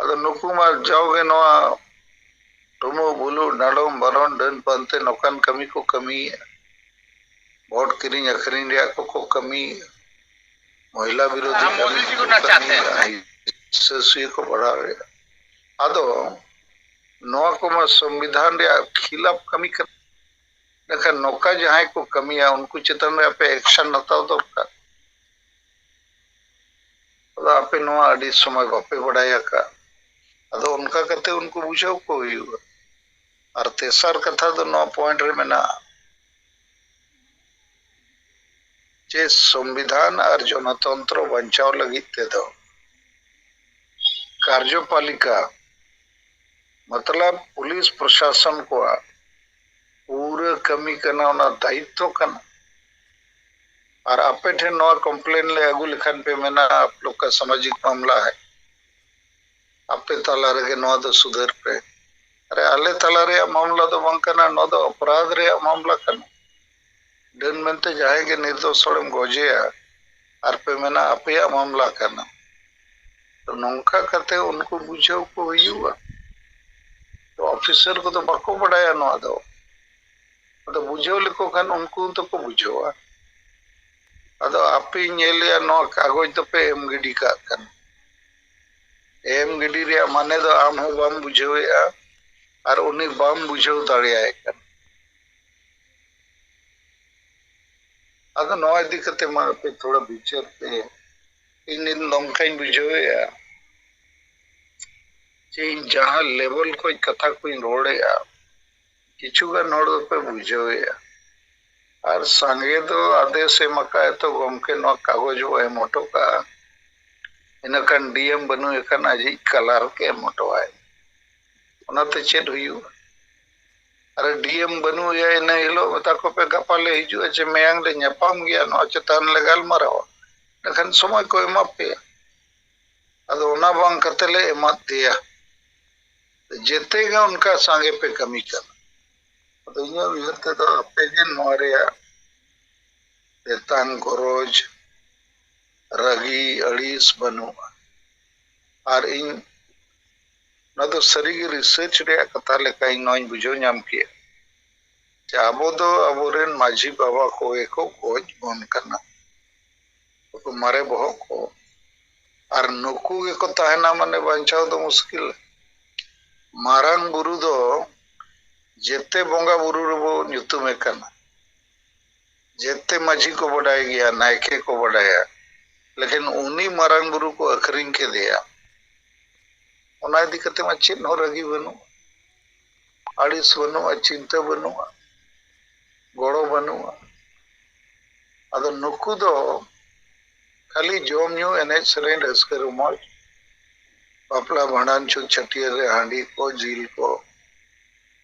ᱟᱫᱚ ᱱᱩᱠᱩ ᱢᱟ ᱡᱟᱣᱜᱮ ᱱᱚᱣᱟ ᱴᱩᱢᱩ ᱵᱩᱞᱩ ᱰᱟᱸᱰᱚᱢ ᱵᱟᱨᱚᱱ ᱰᱟᱹᱱ ᱯᱟᱱᱛᱮ ᱱᱚᱝᱠᱟᱱ ᱠᱟᱹᱢᱤ ᱠᱚ ᱠᱟᱹᱢᱤᱭᱮᱫᱼᱟ ᱵᱷᱳᱴ ᱠᱤᱨᱤᱧ ᱟᱹᱠᱷᱨᱤᱧ ᱨᱮᱭᱟᱜ ᱠᱚᱠᱚ ᱠᱟᱹᱢᱤᱭᱮᱫᱼᱟ ᱢᱚᱦᱤᱞᱟ ᱵᱤᱨᱳᱫᱷᱤ ᱠᱟᱹᱢᱤ ᱠᱚᱠᱚ ᱠᱟᱹᱢᱤᱭᱮᱫᱼᱟ ᱦᱤᱥᱟᱹ ᱥᱩᱭᱟᱹ ᱠᱚ ᱵᱟᱲᱟᱣᱮᱫᱼᱟ ᱟᱫᱚ ᱱᱚᱣᱟ ᱠᱚᱢᱟ ᱥᱚᱝᱵᱤᱫᱷᱟᱱ ᱨᱮᱭᱟᱜ ᱠᱷᱤᱞᱟᱯ ᱠᱟᱹᱢᱤ ᱠᱟᱱᱟ ᱮᱱᱠᱷᱟᱱ ᱱᱚᱝᱠᱟ ᱡᱟᱦᱟᱸᱭ ᱠᱚ ᱠᱟᱹᱢᱤᱭᱟ ᱩᱱᱠᱩ ᱪᱮᱛᱟᱱ ᱨᱮ ᱟᱯᱮ ᱮᱠᱥᱚᱱ ᱦᱟᱛᱟᱣ ᱫᱚᱨᱠᱟᱨ ᱟᱫᱚ ᱟᱯᱮ ᱱᱚᱣᱟ ᱟᱹᱰᱤ ᱥᱚᱢᱚᱭ ᱵᱟᱯᱮ ᱵᱟᱰᱟᱭ ᱟᱠᱟᱫ ᱟᱫᱚ ᱚᱱᱠᱟ ᱠᱟᱛᱮ ᱩᱱᱠᱩ ᱵᱩᱡᱷᱟᱹᱣ ᱠᱚ ᱦᱩᱭᱩᱜᱼᱟ ᱟᱨ ᱛᱮᱥᱟᱨ ᱠᱟᱛᱷᱟ ᱫᱚ ᱱᱚᱣᱟ ᱯᱚᱭᱮᱱᱴ ᱨᱮ ᱢᱮᱱᱟᱜᱼᱟ ᱡᱮ ᱥᱚᱝᱵᱤᱫᱷᱟᱱ ᱟᱨ ᱡᱚᱱᱚᱛᱚᱱᱛᱨᱚ ᱵᱟᱧᱪᱟᱣ ᱞᱟᱹᱜᱤᱫ ᱛᱮᱫᱚ ᱠᱟᱨᱡᱚᱯᱟᱞᱤᱠᱟ ᱢᱚᱛᱞᱚᱵ ᱯᱩᱞᱤᱥ ᱯᱨᱚᱥᱟᱥᱚᱱ ᱠᱚᱣᱟᱜ ᱯᱩᱨᱟᱹ ᱠᱟᱹᱢᱤ ᱠᱟᱱᱟ ᱚᱱᱟ ᱫᱟᱭᱤᱛᱛᱚ ᱠᱟᱱᱟ ᱟᱨ ᱟᱯᱮ ᱴᱷᱮᱱ ᱱᱚᱣᱟ ᱠᱚᱢᱯᱞᱮᱱ ᱞᱮ ᱟᱹᱜᱩ ᱞᱮᱠᱷᱟᱱ ᱯᱮ ᱢᱮᱱᱟ ᱟᱯ ᱞᱳᱜ ᱠᱟ ᱥᱟᱢᱟᱡᱤᱠ ᱢᱟᱢᱞᱟ ᱦᱟᱭ ᱟᱯᱮ ᱛᱟᱞᱟ ᱨᱮᱜᱮ ᱱᱚᱣᱟ ᱫᱚ ᱥᱩᱫᱷᱟᱹᱨ ᱯᱮ ᱟᱨᱮ ᱟᱞᱮ ᱛᱟᱞᱟ ᱨᱮᱭᱟᱜ ᱢᱟᱢᱞᱟ ᱫᱚ ᱵᱟᱝ ᱠᱟᱱᱟ ᱱᱚᱣᱟ ᱫᱚ ᱚᱯᱨᱟᱫᱷ ᱨᱮᱭᱟᱜ ᱢᱟᱢᱞᱟ ᱠᱟᱱᱟ ᱰᱟᱹᱱ ᱢᱮᱱᱛᱮ ᱡᱟᱦᱟᱸᱭ ᱜᱮ ᱱᱤᱨᱫᱚᱥ ᱦᱚᱲᱮᱢ ᱜᱚᱡᱮᱭᱟ ᱟᱨ ᱯᱮ ᱢᱮᱱᱟ ᱟᱯᱮᱭᱟᱜ ᱢᱟᱢᱞᱟ ᱠᱟᱱᱟ ᱛᱚ ᱱᱚᱝᱠᱟ ᱠᱟᱛᱮ ᱩᱱᱠᱩ ᱵᱩᱡᱷᱟᱹᱣ ᱠᱚ ᱦᱩᱭᱩᱜᱼᱟ ᱛᱚ ᱚᱯᱷᱤᱥᱟᱨ ᱠᱚᱫᱚ ᱵᱟᱠᱚ ᱵᱟᱰᱟᱭᱟ ᱱᱚᱣᱟ ᱫᱚ ᱟᱫᱚ ᱵᱩᱡᱷᱟᱹᱣ ᱞᱮᱠᱚ ᱠᱷᱟᱱ ᱩᱱᱠᱩ ᱫᱚᱠᱚ ᱵᱩᱡᱷᱟᱹᱣᱟ ᱟᱫᱚ ᱟᱯᱮ ᱧᱮᱞᱮᱭᱟ ᱱᱚᱣᱟ ᱠᱟᱜᱚᱡᱽ ᱫᱚᱯᱮ ᱮᱢ ᱜᱤᱰᱤ ᱠᱟᱜ ᱠᱟᱱᱟ ᱮᱢ ᱜᱤᱰᱤ ᱨᱮᱭᱟᱜ ᱢᱟᱱᱮ ᱫᱚ ᱟᱢ ᱦᱚᱸ ᱵᱟᱢ ᱵᱩᱡᱷᱟᱹᱣᱮᱜᱼᱟ ᱟᱨ ᱩᱱᱤ ᱵᱟᱢ ᱵᱩᱡᱷᱟᱹᱣ ᱫᱟᱲᱮᱭᱟᱭ ᱠᱟᱱᱟ ᱟᱫᱚ ᱱᱚᱣᱟ ᱤᱫᱤ ᱠᱟᱛᱮ ᱢᱟ ᱟᱯᱮ ᱛᱷᱚᱲᱟ ᱵᱤᱪᱟᱹᱨ ᱯᱮ ᱤᱧ ᱱᱤᱛ ᱱᱚᱝᱠᱟᱧ ᱵᱩᱡᱷᱟᱹᱣᱮᱫᱼᱟ ᱡᱮ ᱤᱧ ᱡᱟᱦᱟᱸ ᱞᱮᱵᱮᱞ ᱠᱷᱚᱡ ᱠᱟᱛᱷᱟ ᱠᱚᱧ ᱨᱚᱲᱮᱫᱼᱟ ᱠᱤᱪᱷᱩ ᱜᱟᱱ ᱦᱚᱲ ᱫᱚᱯᱮ ᱵᱩᱡᱷᱟᱹᱣᱮᱫᱼᱟ ᱟᱨ ᱥᱟᱸᱜᱮ ᱫᱚ ᱟᱫᱮᱥ ᱮᱢ ᱟᱠᱟᱫ ᱛᱚ ᱜᱚᱢᱠᱮ ᱱᱚᱣᱟ ᱠᱟᱜᱚᱡᱽ ᱵᱚ ᱮᱢ ᱦᱚᱴᱚ ᱠᱟᱜᱼᱟ ᱤᱱᱟᱹ ᱠᱷᱟᱱ ᱰᱤᱮᱢ ᱵᱟᱹᱱᱩᱭ ᱠᱷᱟᱱ ᱟᱡᱤᱡ ᱠᱟᱞᱟᱨᱠ ᱮᱢ ᱦᱚᱴᱚᱣᱟᱭ ᱚᱱᱟᱛᱮ ᱪᱮᱫ ᱦᱩᱭᱩᱜᱼᱟ ᱟᱨᱮ ᱰᱤᱭᱮᱢ ᱵᱟᱹᱱᱩᱜ ᱮᱭᱟ ᱤᱱᱟᱹ ᱦᱤᱞᱳᱜ ᱢᱮᱛᱟ ᱠᱚᱯᱮ ᱜᱟᱯᱟ ᱞᱮ ᱦᱤᱡᱩᱜᱼᱟ ᱪᱮ ᱢᱮᱭᱟᱝ ᱞᱮ ᱧᱟᱯᱟᱢ ᱜᱮᱭᱟ ᱱᱚᱣᱟ ᱪᱮᱛᱟᱱ ᱞᱮ ᱜᱟᱞᱢᱟᱨᱟᱣᱟ ᱮᱱᱠᱷᱟᱱ ᱥᱚᱢᱚᱭ ᱠᱚ ᱮᱢᱟ ᱯᱮᱭᱟ ᱟᱫᱚ ᱚᱱᱟ ᱵᱟᱝ ᱠᱟᱛᱮ ᱞᱮ ᱮᱢᱟᱫ ᱫᱮᱭᱟ ᱡᱮᱛᱮ ᱜᱮ ᱚᱱᱠᱟ ᱥᱟᱸᱜᱮ ᱯᱮ ᱠᱟᱹᱢᱤ ᱠᱟᱱᱟ ᱟᱫᱚ ᱤᱧᱟᱹᱜ ᱩᱭᱦᱟᱹᱨ ᱛᱮᱫᱚ ᱟᱯᱮ ᱜᱮ ᱱᱚᱣᱟ ᱨᱮᱭᱟᱜ ᱛᱮᱛᱟᱝ ᱜᱚᱨᱚᱡᱽ ᱨᱟᱹᱜᱤ ᱟᱹᱲᱤᱥ ᱵᱟᱹᱱᱩᱜᱼᱟ ᱟᱨ ᱤᱧ ᱱᱚᱣᱟ ᱫᱚ ᱥᱟᱹᱨᱤ ᱜᱮ ᱨᱤᱥᱟᱹᱨᱪ ᱨᱮᱭᱟᱜ ᱠᱟᱛᱷᱟ ᱞᱮᱠᱟ ᱤᱧ ᱱᱚᱣᱟᱧ ᱵᱩᱡᱷᱟᱹᱣ ᱧᱟᱢ ᱠᱮᱫᱼᱟ ᱡᱮ ᱟᱵᱚ ᱫᱚ ᱟᱵᱚ ᱨᱮᱱ ᱢᱟᱹᱡᱷᱤ ᱵᱟᱵᱟ ᱠᱚᱜᱮ ᱠᱚ ᱜᱚᱡ ᱵᱚᱱ ᱠᱟᱱᱟ ᱱᱩᱠᱩ ᱢᱟᱨᱮ ᱵᱚᱦᱚᱜ ᱠᱚ ᱟᱨ ᱱᱩᱠᱩ ᱜᱮᱠᱚ ᱛᱟᱦᱮᱱᱟ ᱢᱟᱱᱮ ᱵᱟᱧᱪᱟᱣ ᱫᱚ ᱢᱩᱥᱠᱤᱞ ᱢᱟᱨᱟᱝ ᱵᱩᱨᱩ ᱫᱚ ᱡᱮᱛᱮ ᱵᱚᱸᱜᱟ ᱵᱩᱨᱩ ᱨᱮᱵᱚ ᱧᱩᱛᱩᱢᱮ ᱠᱟᱱᱟ ᱡᱮᱛᱮ ᱢᱟᱹᱡᱷᱤ ᱠᱚ ᱵᱟᱰᱟᱭ ᱜᱮᱭᱟ ᱱᱟᱭᱠᱮ ᱠᱚ ᱵᱟᱰᱟᱭᱟ ᱞᱮᱠᱤᱱ ᱩᱱᱤ ᱢᱟᱨᱟᱝ ᱵᱩᱨᱩ ᱠᱚ ᱟᱹᱠᱷᱨᱤᱧ ᱠᱮᱫᱮᱭᱟ ᱚᱱᱟ ᱤᱫᱤ ᱠᱟᱛᱮ ᱢᱟ ᱪᱮᱫ ᱦᱚᱸ ᱨᱟᱹᱜᱤ ᱵᱟᱹᱱᱩᱜ ᱟᱹᱲᱤᱥ ᱵᱟᱹᱱᱩᱜᱼᱟ ᱪᱤᱱᱛᱟᱹ ᱵᱟᱹᱱᱩᱜᱼᱟ ᱜᱚᱲᱚ ᱵᱟᱹᱱᱩᱜᱼᱟ ᱟᱫᱚ ᱱᱩᱠᱩ ᱫᱚ ᱠᱷᱟᱹᱞᱤ ᱡᱚᱢ ᱧᱩ ᱮᱱᱮᱡ ᱥᱮᱨᱮᱧ ᱨᱟᱹᱥᱠᱟᱹ ᱨᱚᱢᱚᱡᱽ ᱵᱟᱯᱞᱟ ᱵᱷᱟᱸᱰᱟᱱ ᱪᱷᱩᱛ ᱪᱷᱟᱹᱴᱭᱟᱹᱨ ᱨᱮ ᱦᱟᱺᱰᱤ ᱠᱚ ᱡᱤᱞ ᱠᱚ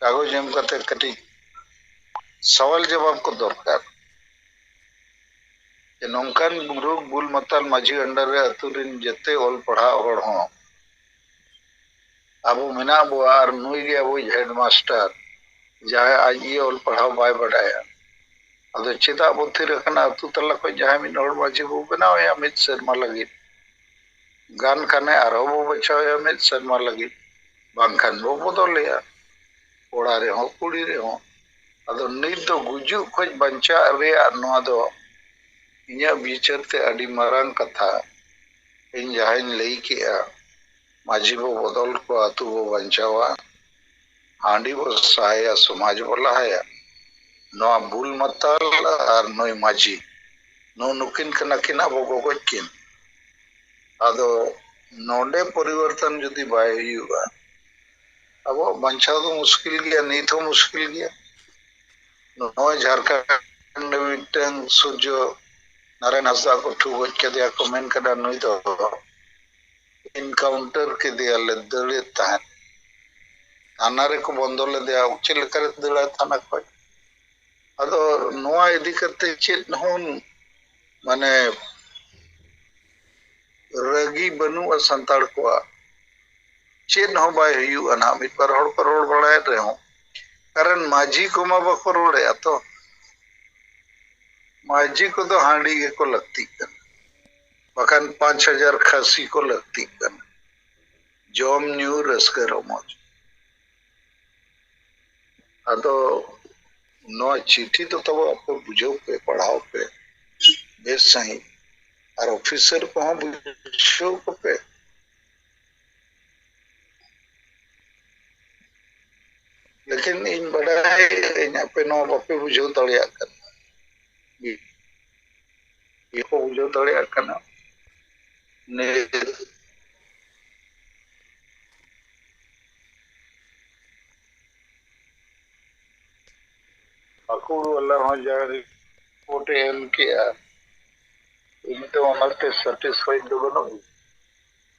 ᱠᱟᱜᱚᱡᱽ ᱮᱢ ᱠᱟᱛᱮ ᱠᱟᱹᱴᱤᱡ ᱥᱟᱣᱟᱞ ᱡᱟᱵᱟᱵ ᱠᱚ ᱫᱚᱨᱠᱟᱨ ᱡᱮ ᱱᱚᱝᱠᱟᱱ ᱨᱳᱜᱽ ᱵᱩᱞ ᱢᱟᱛᱟᱞ ᱢᱟᱹᱡᱷᱤ ᱟᱱᱰᱟᱨ ᱨᱮ ᱟᱹᱛᱩ ᱨᱤᱱ ᱡᱮᱛᱮ ᱚᱞ ᱯᱟᱲᱦᱟᱜ ᱦᱚᱲ ᱦᱚᱸ ᱟᱵᱚ ᱢᱮᱱᱟᱜ ᱵᱚᱣᱟ ᱟᱨ ᱱᱩᱭ ᱜᱮ ᱟᱵᱚᱭᱤᱡ ᱦᱮᱰ ᱢᱟᱥᱴᱟᱨ ᱡᱟᱦᱟᱸᱭ ᱟᱡ ᱜᱮ ᱚᱞ ᱯᱟᱲᱦᱟᱣ ᱵᱟᱭ ᱵᱟᱰᱟᱭᱟ ᱟᱫᱚ ᱪᱮᱫᱟᱜ ᱵᱚ ᱛᱷᱤᱨ ᱟᱠᱟᱱᱟ ᱟᱹᱛᱩ ᱛᱟᱞᱟ ᱠᱷᱚᱱ ᱡᱟᱦᱟᱸᱭ ᱢᱤᱫ ᱦᱚᱲ ᱢᱟᱹᱡᱷᱤ ᱵᱚ ᱵᱮᱱᱟᱣᱮᱭᱟ ᱢᱤᱫ ᱥᱮᱨᱢᱟ ᱞᱟᱹᱜᱤᱫ ᱜᱟᱱ ᱠᱷᱟᱱᱮ ᱟᱨᱦᱚᱸ ᱵᱚ ᱵᱟᱪᱷᱟᱣᱮᱭᱟ ᱢᱤᱫ ᱥᱮᱨᱢᱟ ᱞᱟᱹᱜᱤᱫ ᱵᱟᱝᱠᱷᱟᱱ ᱵᱚ ᱵᱚᱫᱚᱞᱮᱭᱟ ᱠᱚᱲᱟ ᱨᱮᱦᱚᱸ ᱠᱩᱲᱤ ᱨᱮᱦᱚᱸ ᱟᱫᱚ ᱱᱤᱛ ᱫᱚ ᱜᱩᱡᱩᱜ ᱠᱷᱚᱱ ᱵᱟᱧᱪᱟᱜ ᱨᱮᱭᱟᱜ ᱱᱚᱣᱟ ᱫᱚ ᱤᱧᱟᱹᱜ ᱵᱤᱪᱟᱹᱨ ᱛᱮ ᱟᱹᱰᱤ ᱢᱟᱨᱟᱝ ᱠᱟᱛᱷᱟ ᱤᱧ ᱡᱟᱦᱟᱸᱧ ᱞᱟᱹᱭ ᱠᱮᱫᱼᱟ ᱢᱟᱹᱡᱷᱤ ᱵᱚ ᱵᱚᱫᱚᱞ ᱠᱚᱣᱟ ᱟᱹᱛᱩ ᱵᱚ ᱵᱟᱧᱪᱟᱣᱟ ᱦᱟᱺᱰᱤ ᱵᱚ ᱥᱟᱦᱟᱭᱟ ᱥᱚᱢᱟᱡᱽ ᱵᱚ ᱞᱟᱦᱟᱭᱟ ᱱᱚᱣᱟ ᱵᱩᱞ ᱢᱟᱛᱟᱞ ᱟᱨ ᱱᱩᱭ ᱢᱟᱹᱡᱷᱤ ᱱᱩ ᱱᱩᱠᱤᱱ ᱠᱟᱱᱟ ᱠᱤᱱ ᱟᱵᱚ ᱜᱚᱜᱚᱡ ᱠᱤᱱ ᱟᱫᱚ ᱱᱚᱰᱮ ᱯᱚᱨᱤᱵᱚᱨᱛᱚᱱ ᱡᱩᱫᱤ ᱵᱟᱭ ᱦᱩᱭᱩᱜᱼᱟ ᱟᱵᱚᱣᱟᱜ ᱵᱟᱧᱪᱟᱣ ᱫᱚ ᱢᱩᱥᱠᱤᱞ ᱜᱮᱭᱟ ᱱᱤᱛ ᱦᱚᱸ ᱢᱩᱥᱠᱤᱞ ᱜᱮᱭᱟ ᱱᱚᱜᱼᱚᱭ ᱡᱷᱟᱲᱠᱷᱚᱸᱰ ᱢᱤᱫᱴᱟᱝ ᱥᱩᱨᱡᱚ ᱱᱟᱨᱟᱭᱚᱱ ᱦᱟᱸᱥᱫᱟ ᱠᱚ ᱴᱷᱩ ᱜᱚᱡ ᱠᱮᱫᱮᱭᱟ ᱠᱚ ᱢᱮᱱ ᱠᱮᱫᱟ ᱱᱩᱭ ᱫᱚ ᱤᱱᱠᱟᱣᱩᱱᱴᱟᱨ ᱠᱮᱫᱮᱭᱟ ᱞᱮ ᱫᱟᱹᱲᱮᱫ ᱛᱟᱦᱮᱸᱫ ᱛᱷᱟᱱᱟ ᱨᱮᱠᱚ ᱵᱚᱱᱫᱚ ᱞᱮᱫᱮᱭᱟ ᱪᱮᱫ ᱞᱮᱠᱟᱨᱮ ᱫᱟᱹᱲᱟ ᱛᱷᱟᱱᱟ ᱠᱷᱚᱡ ᱟᱫᱚ ᱱᱚᱣᱟ ᱤᱫᱤ ᱠᱟᱛᱮ ᱪᱮᱫ ᱦᱚᱸ ᱢᱟᱱᱮ ᱨᱟᱹᱜᱤ ᱵᱟᱹᱱᱩᱜᱼᱟ ᱥᱟᱱᱛᱟᱲ ᱠᱚᱣᱟᱜ ᱪᱮᱫ ᱦᱚᱸ ᱵᱟᱭ ᱦᱩᱭᱩᱜᱼᱟ ᱱᱟᱦᱟᱜ ᱢᱤᱫ ᱵᱟᱨ ᱦᱚᱲ ᱠᱚ ᱨᱚᱲ ᱵᱟᱲᱟᱭᱮᱫ ᱨᱮᱦᱚᱸ ᱠᱟᱨᱚᱱ ᱢᱟᱹᱡᱷᱤ ᱠᱚᱢᱟ ᱵᱟᱠᱚ ᱨᱚᱲᱮᱫᱼᱟ ᱛᱚ ᱢᱟᱹᱡᱷᱤ ᱠᱚᱫᱚ ᱦᱟᱺᱰᱤ ᱜᱮᱠᱚ ᱞᱟᱹᱠᱛᱤᱜ ᱠᱟᱱᱟ ᱵᱟᱠᱷᱟᱱ ᱯᱟᱸᱪ ᱦᱟᱡᱟᱨ ᱠᱷᱟᱹᱥᱤ ᱠᱚ ᱞᱟᱹᱠᱛᱤᱜ ᱠᱟᱱᱟ ᱡᱚᱢ ᱧᱩ ᱨᱟᱹᱥᱠᱟᱹ ᱨᱚᱢᱚᱡᱽ ᱟᱫᱚ ᱱᱚᱣᱟ ᱪᱤᱴᱷᱤ ᱫᱚ ᱛᱟᱵᱚ ᱟᱯᱮ ᱵᱩᱡᱷᱟᱹᱣ ᱯᱮ ᱯᱟᱲᱦᱟᱣ ᱯᱮ ᱵᱮᱥ ᱥᱟᱺᱦᱤᱡ ᱟᱨ ᱚᱯᱷᱤᱥᱟᱨ ᱠᱚᱦᱚᱸ ᱵᱩᱡᱷᱟᱹᱣ ᱠᱚᱯᱮ ᱞᱮᱠᱤᱱ ᱤᱧ ᱵᱟᱰᱟᱭ ᱟᱹᱧ ᱟᱯᱮ ᱱᱚᱣᱟ ᱵᱟᱯᱮ ᱵᱩᱡᱷᱟᱹᱣ ᱫᱟᱲᱮᱭᱟᱜ ᱠᱟᱱᱟ ᱵᱟᱠᱚ ᱵᱩᱡᱷᱟᱹᱣ ᱫᱟᱲᱮᱭᱟᱜ ᱠᱟᱱᱟ ᱯᱟᱹᱠᱩᱲ ᱵᱟᱞᱟ ᱦᱚᱸ ᱡᱟ ᱨᱤᱯᱳᱨᱴ ᱮ ᱮᱢ ᱠᱮᱜᱼᱟ ᱤᱧ ᱫᱚ ᱚᱱᱟᱛᱮ ᱥᱟᱴᱤᱥᱯᱷᱟᱭᱤᱰ ᱫᱚ ᱵᱟᱹᱱᱩᱜ ᱤᱧ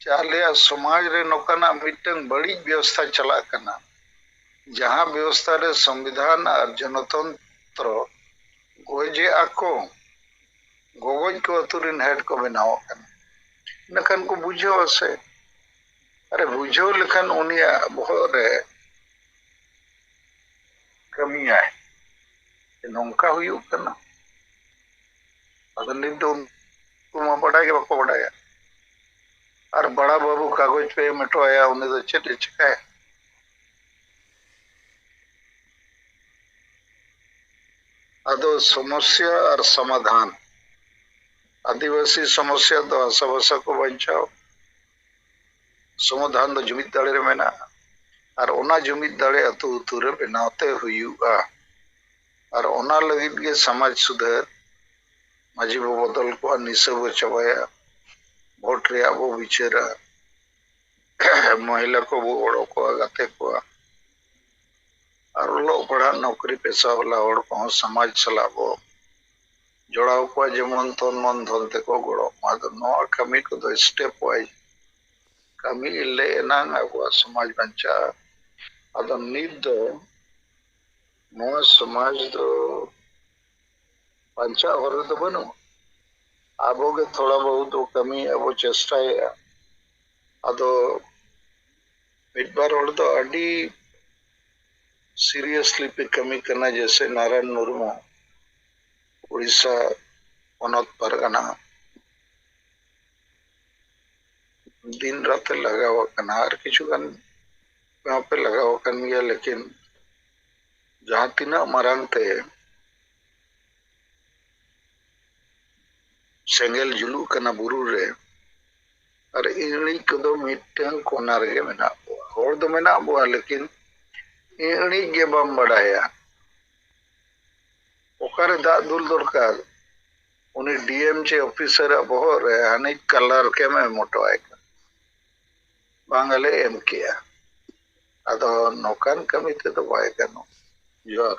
ᱪᱮ ᱟᱞᱮᱭᱟᱜ ᱥᱚᱢᱟᱡᱽ ᱨᱮ ᱱᱚᱠᱟᱱᱟᱜ ᱢᱤᱫᱴᱟᱹᱝ ᱵᱟᱹᱲᱤᱡ ᱵᱮᱣᱚᱥᱛᱷᱟ ᱪᱟᱞᱟᱜ ᱠᱟᱱᱟ ᱡᱟᱦᱟᱸ ᱵᱮᱣᱚᱥᱛᱷᱟ ᱨᱮ ᱥᱚᱢᱵᱤᱫᱷᱟᱱ ᱟᱨ ᱡᱚᱱᱚᱛᱚᱱᱛᱨᱚ ᱜᱚᱡᱮ ᱟᱠᱚ ᱜᱚᱜᱚᱡ ᱠᱚ ᱟᱹᱛᱩ ᱨᱤᱱ ᱦᱮᱰ ᱠᱚ ᱵᱮᱱᱟᱣᱚᱜ ᱠᱟᱱᱟ ᱤᱱᱟᱹᱠᱷᱟᱱ ᱠᱚ ᱵᱩᱡᱷᱟᱹᱣ ᱟᱥᱮ ᱟᱨᱮ ᱵᱩᱡᱷᱟᱹᱣ ᱞᱮᱠᱷᱟᱱ ᱩᱱᱤᱭᱟᱜ ᱵᱚᱦᱚᱜ ᱨᱮ ᱠᱟᱹᱢᱤᱭᱟᱭ ᱱᱚᱝᱠᱟ ᱦᱩᱭᱩᱜ ᱠᱟᱱᱟ ᱟᱫᱚ ᱱᱤᱛ ᱫᱚ ᱩᱱᱠᱩ ᱢᱟ ᱵᱟᱰᱟᱭ ᱜᱮ ᱵᱟᱠᱚ ᱵᱟᱰᱟᱭᱟ ᱟᱨ ᱵᱟᱲᱟ ᱵᱟᱹᱵᱩ ᱠᱟᱜᱚᱡᱽ ᱯᱮ ᱮᱢ ᱦᱚᱴᱚ ᱟᱭᱟ ᱩᱱᱤ ᱫᱚ ᱪᱮᱫ ᱮ ᱪᱤᱠᱟᱹᱭᱟ ᱟᱫᱚ ᱥᱚᱢᱚᱥᱭᱟ ᱟᱨ ᱥᱚᱢᱟᱫᱷᱟᱱ ᱟᱹᱫᱤᱵᱟᱹᱥᱤ ᱥᱚᱢᱚᱥᱭᱟ ᱫᱚ ᱦᱟᱥᱟ ᱵᱷᱟᱥᱟ ᱠᱚ ᱵᱟᱧᱪᱟᱣ ᱥᱚᱢᱟᱫᱷᱟᱱ ᱫᱚ ᱡᱩᱢᱤᱫ ᱫᱟᱲᱮ ᱨᱮ ᱢᱮᱱᱟᱜᱼᱟ ᱟᱨ ᱚᱱᱟ ᱡᱩᱢᱤᱫ ᱫᱟᱲᱮ ᱟᱹᱛᱩ ᱟᱹᱛᱩ ᱨᱮ ᱵᱮᱱᱟᱣ ᱛᱮ ᱦᱩᱭᱩᱜᱼᱟ ᱟᱨ ᱚᱱᱟ ᱞᱟᱹᱜᱤᱫ ᱜᱮ ᱥᱟᱢᱟᱡᱽ ᱥᱩᱫᱷᱟᱹᱨ, ᱢᱟᱹᱡᱷᱤ ᱵᱚ ᱵᱚᱫᱚᱞ ᱠᱚᱣᱟ, ᱱᱤᱥᱟᱹ ᱵᱚ ᱪᱟᱵᱟᱭᱟ, ᱵᱷᱳᱴ ᱨᱮᱭᱟᱜ ᱵᱚ ᱵᱤᱪᱟᱹᱨᱟ, ᱢᱚᱦᱤᱞᱟ ᱠᱚ ᱵᱚ ᱜᱚᱲᱚ ᱠᱚᱣᱟ, ᱜᱟᱛᱮ ᱠᱚᱣᱟ ᱟᱨ ᱚᱞᱚᱜ ᱯᱟᱲᱦᱟᱜ ᱱᱚᱠᱨᱤ ᱯᱮᱥᱟ ᱵᱟᱞᱟ ᱦᱚᱲ ᱠᱚ ᱦᱚᱸ ᱥᱟᱢᱟᱡᱽ ᱥᱟᱞᱟᱜ ᱵᱚ ᱡᱚᱲᱟᱣ ᱠᱚᱣᱟ ᱡᱮᱢᱚᱱ ᱛᱚᱱ ᱢᱚᱱ ᱫᱷᱚᱱ ᱛᱮ ᱠᱚ ᱜᱚᱲᱚᱜ ᱢᱟ᱾ ᱟᱫᱚ ᱱᱚᱶᱟ ᱠᱟᱹᱢᱤ ᱠᱚ ᱫᱚ ᱥᱴᱮᱯ ᱣᱟᱭᱤᱡᱽ ᱠᱟᱹᱢᱤ ᱞᱮ ᱮᱱᱟᱝ ᱟᱵᱚᱣᱟᱜ ᱥᱚᱢᱟᱡᱽ ᱵᱟᱧᱪᱟᱜᱼᱟ᱾ ᱟᱫᱚ ᱱᱤᱛ ᱫᱚ᱾ ᱱᱚᱣᱟ ᱥᱚᱢᱟᱡᱽ ᱫᱚ ᱵᱟᱧᱪᱟᱜ ᱦᱚᱨ ᱨᱮᱫᱚ ᱵᱟᱹᱱᱩᱜᱼᱟ ᱟᱵᱚ ᱜᱮ ᱛᱷᱚᱲᱟ ᱵᱚᱦᱩᱛ ᱫᱚ ᱠᱟᱹᱢᱤ ᱟᱵᱚ ᱪᱮᱥᱴᱟᱭᱮᱫᱼᱟ ᱟᱫᱚ ᱢᱤᱫ ᱵᱟᱨ ᱦᱚᱲ ᱫᱚ ᱟᱹᱰᱤ ᱥᱤᱨᱤᱭᱟᱥᱞᱤ ᱯᱮ ᱠᱟᱹᱢᱤ ᱠᱟᱱᱟ ᱡᱮᱥᱮ ᱱᱟᱨᱟᱭᱚᱱ ᱢᱩᱨᱢᱩ ᱩᱲᱤᱥᱥᱟ ᱯᱚᱱᱚᱛ ᱯᱟᱨᱜᱟᱱᱟ ᱫᱤᱱ ᱨᱟᱛᱮ ᱞᱟᱜᱟᱣ ᱟᱠᱟᱱᱟ ᱟᱨ ᱠᱤᱪᱷᱩ ᱜᱟᱱ ᱱᱚᱣᱟ ᱯᱮ ᱞᱟᱜᱟᱣ ᱟᱠᱟᱱ ᱜᱮᱭᱟ ᱞᱮᱠᱤᱱ ᱡᱟᱦᱟᱸ ᱛᱤᱱᱟᱹᱜ ᱢᱟᱨᱟᱝ ᱛᱮ ᱥᱮᱸᱜᱮᱞ ᱡᱩᱞᱩᱜ ᱠᱟᱱᱟ ᱵᱩᱨᱩ ᱨᱮ ᱟᱨ ᱤᱬᱤᱡ ᱠᱚᱫᱚ ᱢᱤᱫᱴᱟᱝ ᱠᱚᱱᱟ ᱨᱮᱜᱮ ᱢᱮᱱᱟᱜ ᱠᱚᱣᱟ ᱦᱚᱲ ᱫᱚ ᱢᱮᱱᱟᱜ ᱵᱚᱣᱟ ᱞᱮᱠᱤᱱ ᱤᱬᱤᱡ ᱜᱮ ᱵᱟᱢ ᱵᱟᱰᱟᱭᱟ ᱚᱠᱟᱨᱮ ᱫᱟᱜ ᱫᱩᱞ ᱫᱚᱨᱠᱟᱨ ᱩᱱᱤ ᱰᱤᱮᱢ ᱪᱮ ᱚᱯᱷᱤᱥᱟᱨᱟᱜ ᱵᱚᱦᱚᱜ ᱨᱮ ᱦᱟᱹᱱᱤ ᱠᱟᱞᱟᱨ ᱠᱮᱢ ᱮᱢ ᱦᱚᱴᱚᱣᱟᱭ ᱠᱟᱱᱟ ᱵᱟᱝ ᱟᱞᱮ ᱮᱢ ᱠᱮᱜᱼᱟ ᱟᱫᱚ ᱱᱚᱝᱠᱟᱱ ᱠᱟᱹᱢᱤ ᱛᱮᱫᱚ ᱵᱟᱭ ᱜᱟᱱᱚᱜ ᱡᱚᱦᱟᱨ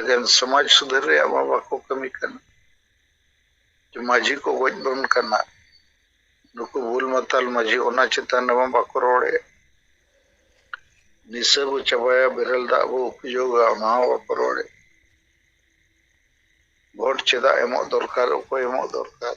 ᱮᱠᱮᱱ ᱥᱚᱢᱟᱡᱽ ᱥᱩᱫᱷᱟᱹᱨ ᱨᱮᱭᱟᱜ ᱢᱟ ᱵᱟᱠᱚ ᱠᱟᱹᱢᱤ ᱠᱟᱱᱟ ᱢᱟᱹᱡᱷᱤ ᱠᱚ ᱜᱚᱡ ᱵᱚᱱ ᱠᱟᱱᱟ ᱱᱩᱠᱩ ᱵᱩᱞ ᱢᱟᱛᱟᱞ ᱢᱟᱹᱡᱷᱤ ᱚᱱᱟ ᱪᱮᱛᱟᱱ ᱨᱮᱢᱟ ᱵᱟᱠᱚ ᱨᱚᱲᱮᱫ ᱱᱤᱥᱟᱹ ᱵᱚ ᱪᱟᱵᱟᱭᱟ ᱵᱮᱨᱮᱞ ᱫᱟᱜ ᱵᱚ ᱩᱯᱡᱳᱜᱟ ᱚᱱᱟ ᱦᱚᱸ ᱵᱟᱠᱚ ᱨᱚᱲᱮᱫ ᱵᱷᱳᱴ ᱪᱮᱫᱟᱜ ᱮᱢᱚᱜ ᱫᱚᱨᱠᱟᱨ ᱚᱠᱚᱭ ᱮᱢᱚᱜ ᱫᱚᱨᱠᱟᱨ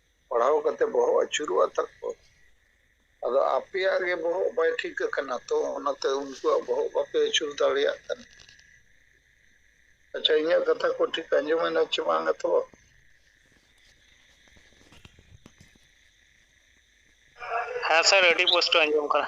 ᱯᱟᱲᱦᱟᱣ ᱠᱟᱛᱮ ᱵᱚᱦᱚᱜ ᱟᱹᱪᱩᱨᱚᱜᱼᱟ ᱛᱟᱠᱚ ᱟᱫᱚ ᱟᱯᱮᱭᱟᱜ ᱜᱮ ᱵᱚᱦᱚᱜ ᱵᱟᱭ ᱴᱷᱤᱠ ᱟᱠᱟᱱᱟ ᱛᱚ ᱚᱱᱟᱛᱮ ᱩᱱᱠᱩᱣᱟᱜ ᱵᱚᱦᱚᱜ ᱵᱟᱯᱮ ᱟᱹᱪᱩᱨ ᱫᱟᱲᱮᱭᱟᱜ ᱠᱟᱱᱟ ᱟᱪᱪᱷᱟ ᱤᱧᱟᱹᱜ ᱠᱟᱛᱷᱟ ᱠᱚ ᱴᱷᱤᱠ ᱟᱸᱡᱚᱢᱮᱱᱟ ᱪᱮ ᱵᱟᱝᱟ ᱛᱚ ᱦᱮᱸ ᱥᱟᱨ ᱟᱹᱰᱤ ᱯᱩᱥᱴᱟᱹ ᱟᱸᱡᱚᱢ ᱠᱟᱱᱟ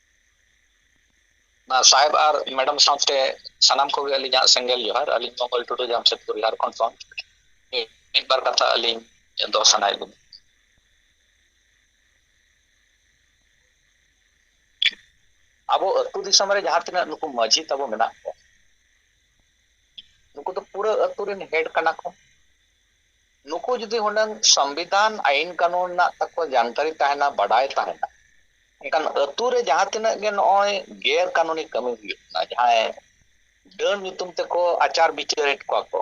ᱥᱟᱦᱮᱵᱽ ᱟᱨ ᱢᱮᱰᱟᱢ ᱥᱟᱶᱛᱮ ᱥᱟᱱᱟᱢ ᱠᱚᱜᱮ ᱟᱹᱞᱤᱧᱟᱜ ᱥᱮᱸᱜᱮᱞ ᱡᱚᱦᱟᱨ ᱟᱹᱞᱤᱧ ᱢᱚᱝᱜᱚᱞ ᱴᱩᱰᱩ ᱡᱟᱢᱥᱮᱫᱽᱯᱩᱨ ᱡᱷᱟᱲᱠᱷᱚᱸᱰ ᱠᱷᱚᱱ ᱢᱤᱫ ᱵᱟᱨ ᱠᱟᱛᱷᱟ ᱟᱹᱞᱤᱧ ᱫᱚᱦᱚ ᱥᱟᱱᱟᱭᱮᱫ ᱞᱤᱧᱟ ᱟᱵᱚ ᱟᱹᱛᱩ ᱫᱤᱥᱚᱢ ᱨᱮ ᱡᱟᱦᱟᱸ ᱛᱤᱱᱟᱹᱜ ᱱᱩᱠᱩ ᱢᱟᱹᱡᱷᱤ ᱛᱟᱵᱚ ᱢᱮᱱᱟᱜ ᱠᱚᱣᱟ ᱱᱩᱠᱩ ᱫᱚ ᱯᱩᱨᱟᱹ ᱟᱹᱛᱩ ᱨᱮᱱ ᱦᱮᱰ ᱠᱟᱱᱟ ᱠᱚ ᱱᱩᱠᱩ ᱡᱩᱫᱤ ᱦᱩᱱᱟᱹᱝ ᱥᱚᱢᱵᱤᱫᱷᱟᱱ ᱟᱭᱤᱱ ᱠᱟᱹᱱᱩᱱ ᱨᱮᱱᱟᱜ ᱛᱟᱠᱚ ᱡᱟᱱᱠᱟᱨᱤ ᱛᱟᱦᱮᱱᱟ ᱵᱟᱰᱟᱭ ᱛᱟᱦᱮᱱᱟ ᱮᱱᱠᱷᱟᱱ ᱟᱹᱛᱩ ᱨᱮ ᱡᱟᱦᱟᱸ ᱛᱤᱱᱟᱹᱜ ᱜᱮ ᱱᱚᱜᱼᱚᱭ ᱜᱮᱨ ᱠᱟᱹᱱᱩᱱᱤ ᱠᱟᱹᱢᱤ ᱦᱩᱭᱩᱜ ᱠᱟᱱᱟ ᱡᱟᱦᱟᱸᱭ ᱰᱟᱹᱱ ᱧᱩᱛᱩᱢ ᱛᱮᱠᱚ ᱟᱪᱟᱨ ᱵᱤᱪᱟᱹᱨᱮᱫ ᱠᱚᱣᱟ ᱠᱚ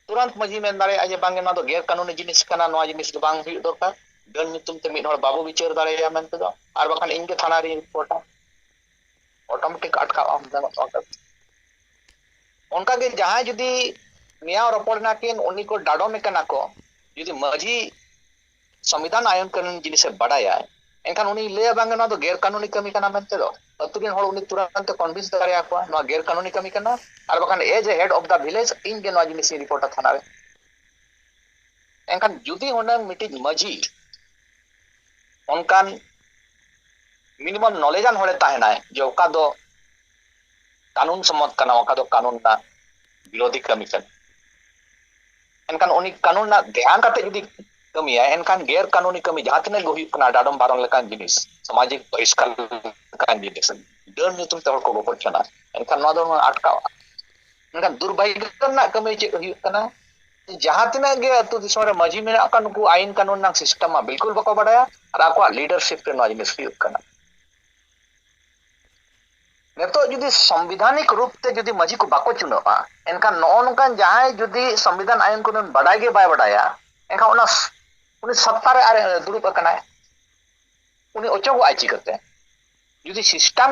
ᱛᱩᱨᱟᱱᱛ ᱢᱟᱹᱡᱷᱤ ᱢᱮᱱ ᱫᱟᱲᱮᱭᱟᱜᱼᱟ ᱡᱮ ᱵᱟᱝᱜᱮ ᱱᱚᱣᱟ ᱫᱚ ᱜᱮᱨ ᱠᱟᱹᱱᱩᱱᱤ ᱡᱤᱱᱤᱥ ᱠᱟᱱᱟ ᱱᱚᱣᱟ ᱡᱤᱱᱤᱥ ᱫᱚ ᱵᱟᱝ ᱦᱩᱭᱩᱜ ᱫᱚᱨᱠᱟᱨ ᱰᱟᱹᱱ ᱧᱩᱛᱩᱢ ᱛᱮ ᱢᱤᱫ ᱦᱚᱲ ᱵᱟᱵᱚ ᱵᱤᱪᱟᱹᱨ ᱫᱟᱲᱮᱭᱟᱭᱟ ᱢᱮᱱᱛᱮ ᱫᱚ ᱟᱨ ᱵᱟᱠᱷᱟᱱ ᱤᱧ ᱜᱮ ᱛᱷᱟᱱᱟ ᱨᱤᱧ ᱨᱤᱯᱳᱨᱴᱟ ᱚᱴᱳᱢᱮᱴᱤᱠ ᱟᱴᱠᱟᱜ ᱟᱢ ᱚᱱᱠᱟᱜᱮ ᱡᱟᱦᱟᱸᱭ ᱡᱩᱫᱤ ᱱᱮᱭᱟᱣ ᱨᱚᱯᱚᱲ ᱱᱟᱠᱤᱱ ᱩᱱᱤ ᱠᱚ ᱰᱟᱰᱚᱢᱮ ᱠᱟᱱᱟ ᱠᱚ ᱡᱩᱫᱤ ᱢᱟᱺᱡᱷᱤ ᱥᱚᱝᱵᱤᱫᱷᱟᱱ ᱟᱭᱚᱱ ᱠᱟᱹᱱᱩᱱ ᱡᱤᱱᱤᱥᱮ ᱵᱟᱰᱟᱭᱟ ᱮᱱᱠᱷᱟᱱ ᱩᱱᱤ ᱞᱟᱹᱭᱟ ᱵᱟᱝ ᱱᱚᱣᱟ ᱫᱚ ᱜᱮᱨ ᱠᱟᱹᱱᱩᱱᱤ ᱠᱟᱹᱢᱤ ᱠᱟᱱᱟ ᱢᱮᱱᱛᱮ ᱫᱚ ᱟᱹᱛᱩ ᱨᱮᱱ ᱦᱚᱲ ᱩᱱᱤ ᱛᱩᱨᱟᱱᱛᱮ ᱠᱚᱱᱵᱷᱤᱱᱥ ᱫᱟᱲᱮᱭᱟ ᱠᱚᱣᱟ ᱱᱚᱣᱟ ᱜᱮᱨ ᱠᱟᱹᱱᱩᱱᱤ ᱠᱟᱹᱢᱤ ᱠᱟᱱᱟ ᱟᱨ ᱵᱟᱠᱷᱟᱱ as a head of the village ᱤᱧ ᱜᱮ ᱱᱚᱣᱟ ᱡᱤᱱᱤᱥ ᱤᱧ ᱨᱤᱯᱳᱨᱴᱟ ᱛᱷᱟᱱᱟ ᱨᱮ ᱮᱱᱠᱷᱟᱱ ᱡᱩᱫᱤ ᱦᱩᱱᱟᱹᱝ ᱢᱤᱫᱴᱤᱡ ᱢᱟᱺᱡᱷᱤ ᱚᱱᱠᱟᱱ ᱢᱤᱱᱤᱢᱟᱢ ᱱᱚᱞᱮᱡᱟᱱ ᱦᱚᱲᱮ ᱛᱟᱦᱮᱱᱟᱭ ᱡᱮ ᱚᱠᱟ ᱫᱚ ᱠᱟᱹᱱᱩᱱ ᱥᱚᱢᱢᱚᱛ ᱠᱟᱱᱟ ᱚᱠᱟ ᱫᱚ ᱠᱟᱹᱱᱩᱱ ᱨᱮᱱᱟᱜ ᱵᱤᱨᱳᱫᱷᱤ ᱠᱟᱹᱢᱤ ᱠᱟᱱᱟ ᱮᱱᱠᱷᱟᱱ ᱩᱱᱤ ᱠᱟᱹᱱᱩᱱ ᱨᱮᱱᱟᱜ ᱫᱷᱮᱭᱟᱱ ᱠᱟᱛᱮ ᱡᱩᱫᱤ ᱠᱟᱹᱢᱤᱭᱟᱭ ᱮᱱᱠᱷᱟᱱ ᱜᱮᱨ ᱠᱟᱹᱱᱩᱱᱤ ᱠᱟᱹᱢᱤ ᱡᱟᱦᱟᱸ ᱛᱤᱱᱟᱹᱜ ᱜᱮ ᱦᱩᱭᱩᱜ ᱠᱟᱱᱟ ᱰᱟᱰᱚᱢ ᱵᱟᱨᱚᱱ ᱞᱮᱠᱟᱱ ᱡᱤᱱᱤᱥ ᱥᱟᱢᱟᱡᱤᱠ ᱵᱚᱦᱤᱥᱠᱟᱨ ᱞᱮᱠᱟᱱ ᱡᱤᱱᱤᱥ ᱰᱟᱹᱱ ᱧᱩᱛᱩᱢ ᱛᱮ ᱦᱚᱲ ᱠᱚ ᱜᱚᱯᱚᱡ ᱠᱟᱱᱟ ᱮᱱᱠᱷᱟᱱ ᱱᱚᱣᱟ ᱫᱚ ᱟᱴᱠᱟᱣᱟ ᱢᱮᱱᱠᱷᱟᱱ ᱫᱩᱨᱵᱷᱟᱜᱭᱚ ᱨᱮᱱᱟᱜ ᱠᱟᱹᱢᱤ ᱪᱮᱫ ᱦᱩᱭᱩᱜ ᱠᱟᱱᱟ ᱡᱟᱦᱟᱸ ᱛᱤᱱᱟᱹᱜ ᱜᱮ ᱟᱹᱛᱩ ᱫᱤᱥᱚᱢ ᱨᱮ ᱢᱟᱹᱡᱷᱤ ᱢᱮᱱᱟᱜ ᱠᱚᱣᱟ ᱱᱩᱠᱩ ᱟᱭᱤᱱ ᱠᱟᱹᱱᱩᱱ ᱨᱮᱱᱟᱜ ᱥᱤᱥᱴᱮᱢ ᱢᱟ ᱵᱤᱞᱠᱩᱞ ᱵᱟᱠᱚ ᱵᱟᱰᱟᱭᱟ ᱟᱨ ᱟᱠᱚᱣᱟᱜ ᱞᱤᱰᱟᱨᱥᱤᱯ ᱨᱮ ᱱᱚᱣᱟ ᱡᱤᱱᱤᱥ ᱦᱩᱭᱩᱜ ᱠᱟᱱᱟ ᱱᱤᱛᱚᱜ ᱡᱩᱫᱤ ᱥᱚᱝᱵᱤᱫᱷᱟᱱᱤᱠ ᱨᱩᱯ ᱛᱮ ᱡᱩᱫᱤ ᱢᱟᱹᱡᱷᱤ ᱠᱚ ᱵᱟᱠᱚ ᱪᱩᱱᱟᱹᱜᱼᱟ ᱮᱱᱠᱷᱟᱱ ᱱᱚᱜᱼᱚ ᱱᱚᱝᱠᱟᱱ ᱡᱟᱦᱟᱸᱭ ᱡᱩᱫᱤ ᱥᱚᱝᱵᱤᱫᱷᱟᱱ ᱟᱭᱤᱱ ᱠᱟᱹᱱᱩᱱ ᱵᱟᱰᱟᱭ ᱜᱮ ᱵᱟᱭ ᱵᱟᱰᱟᱭᱟ ᱮᱱᱠᱷᱟᱱ ᱚᱱᱟ ᱩᱱᱤ ᱥᱚᱛᱛᱟ ᱨᱮ ᱟᱨ ᱫᱩᱲᱩᱵ ᱟᱠᱟᱱᱟᱭ ᱩᱱᱤ ᱚᱪᱚᱜᱚᱜᱼᱟᱭ ᱪᱤᱠᱟᱹᱛᱮ ᱡᱩᱫᱤ ᱥᱤᱥᱴᱟᱢ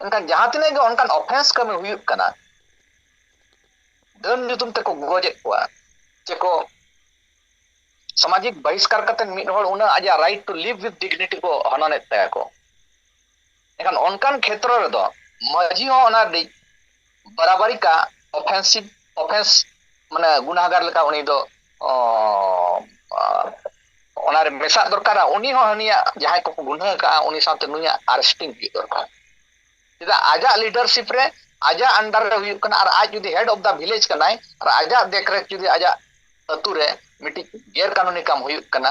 ᱢᱮᱱᱠᱷᱟᱱ ᱡᱟᱦᱟᱸ ᱛᱤᱱᱟᱹᱜ ᱜᱮ ᱚᱱᱠᱟᱱ ᱚᱯᱷᱮᱱᱥ ᱠᱟᱹᱢᱤ ᱦᱩᱭᱩᱜ ᱠᱟᱱᱟ ᱰᱟᱹᱱ ᱧᱩᱛᱩᱢ ᱛᱮᱠᱚ ᱜᱚᱡᱮᱫ ᱠᱚᱣᱟ ᱪᱮᱠᱚ ᱥᱟᱢᱟᱡᱤᱠ ᱵᱟᱦᱤᱥᱠᱟᱨ ᱠᱟᱛᱮ ᱢᱤᱫ ᱦᱚᱲ ᱩᱱᱟᱹᱜ ᱟᱡᱟᱜ right to live with dignity ᱠᱚ ᱦᱚᱱᱚᱱᱮᱫ ᱛᱟᱭᱟ ᱠᱚ ᱮᱱᱠᱷᱟᱱ ᱚᱱᱠᱟᱱ ᱠᱷᱮᱛᱨᱚ ᱨᱮᱫᱚ ᱢᱟᱹᱡᱷᱤ ᱦᱚᱸ ᱚᱱᱟ ᱨᱤᱱᱤᱡ ᱵᱟᱨᱟᱵᱟᱨᱤ ᱠᱟᱜ ᱚᱯᱷᱮᱱᱥᱤᱵᱽ ᱚᱯᱷᱮᱱᱥ ᱢᱟᱱᱮ ᱜᱩᱱᱟᱦᱟᱜᱟᱨ ᱞᱮᱠᱟ ᱩᱱᱤ ᱫᱚ ᱚᱱᱟᱨᱮ ᱢᱮᱥᱟᱜ ᱫᱚᱨᱠᱟᱨᱟ ᱩᱱᱤ ᱦᱚᱸ ᱦᱟᱹᱱᱤᱭᱟᱜ ᱡᱟᱦᱟᱸᱭ ᱠᱚᱠᱚ ᱜᱩᱱᱟᱹ ᱟᱠᱟᱫᱼᱟ ᱩᱱᱤ ᱥᱟᱶᱛᱮ ᱱᱩᱭᱟᱜ ᱟᱨᱮᱥᱴᱤᱝ ᱦᱩᱭᱩᱜ ᱫᱚᱨᱠᱟᱨ ᱪᱮᱫᱟᱜ ᱟᱡᱟᱜ ᱞᱤᱰᱟᱨᱥᱤᱯ ᱨᱮ ᱟᱡᱟᱜ ᱟᱱᱰᱟᱨ ᱨᱮ ᱦᱩᱭᱩᱜ ᱠᱟᱱᱟ ᱟᱨ ᱟᱡ ᱡᱩᱫᱤ ᱦᱮᱰ ᱚᱯᱷ ᱫᱟ ᱵᱷᱤᱞᱮᱡᱽ ᱠᱟᱱᱟᱭ ᱟᱨ ᱟᱡᱟᱜ ᱫᱮᱠᱨᱮᱠ ᱡᱩᱫᱤ ᱟᱡᱟᱜ ᱟᱹᱛᱩ ᱨᱮ ᱢᱤᱫᱴᱤᱡ ᱜᱮᱨ ᱠᱟᱹᱱᱩᱱᱤ ᱠᱟᱢ ᱦᱩᱭᱩᱜ ᱠᱟᱱᱟ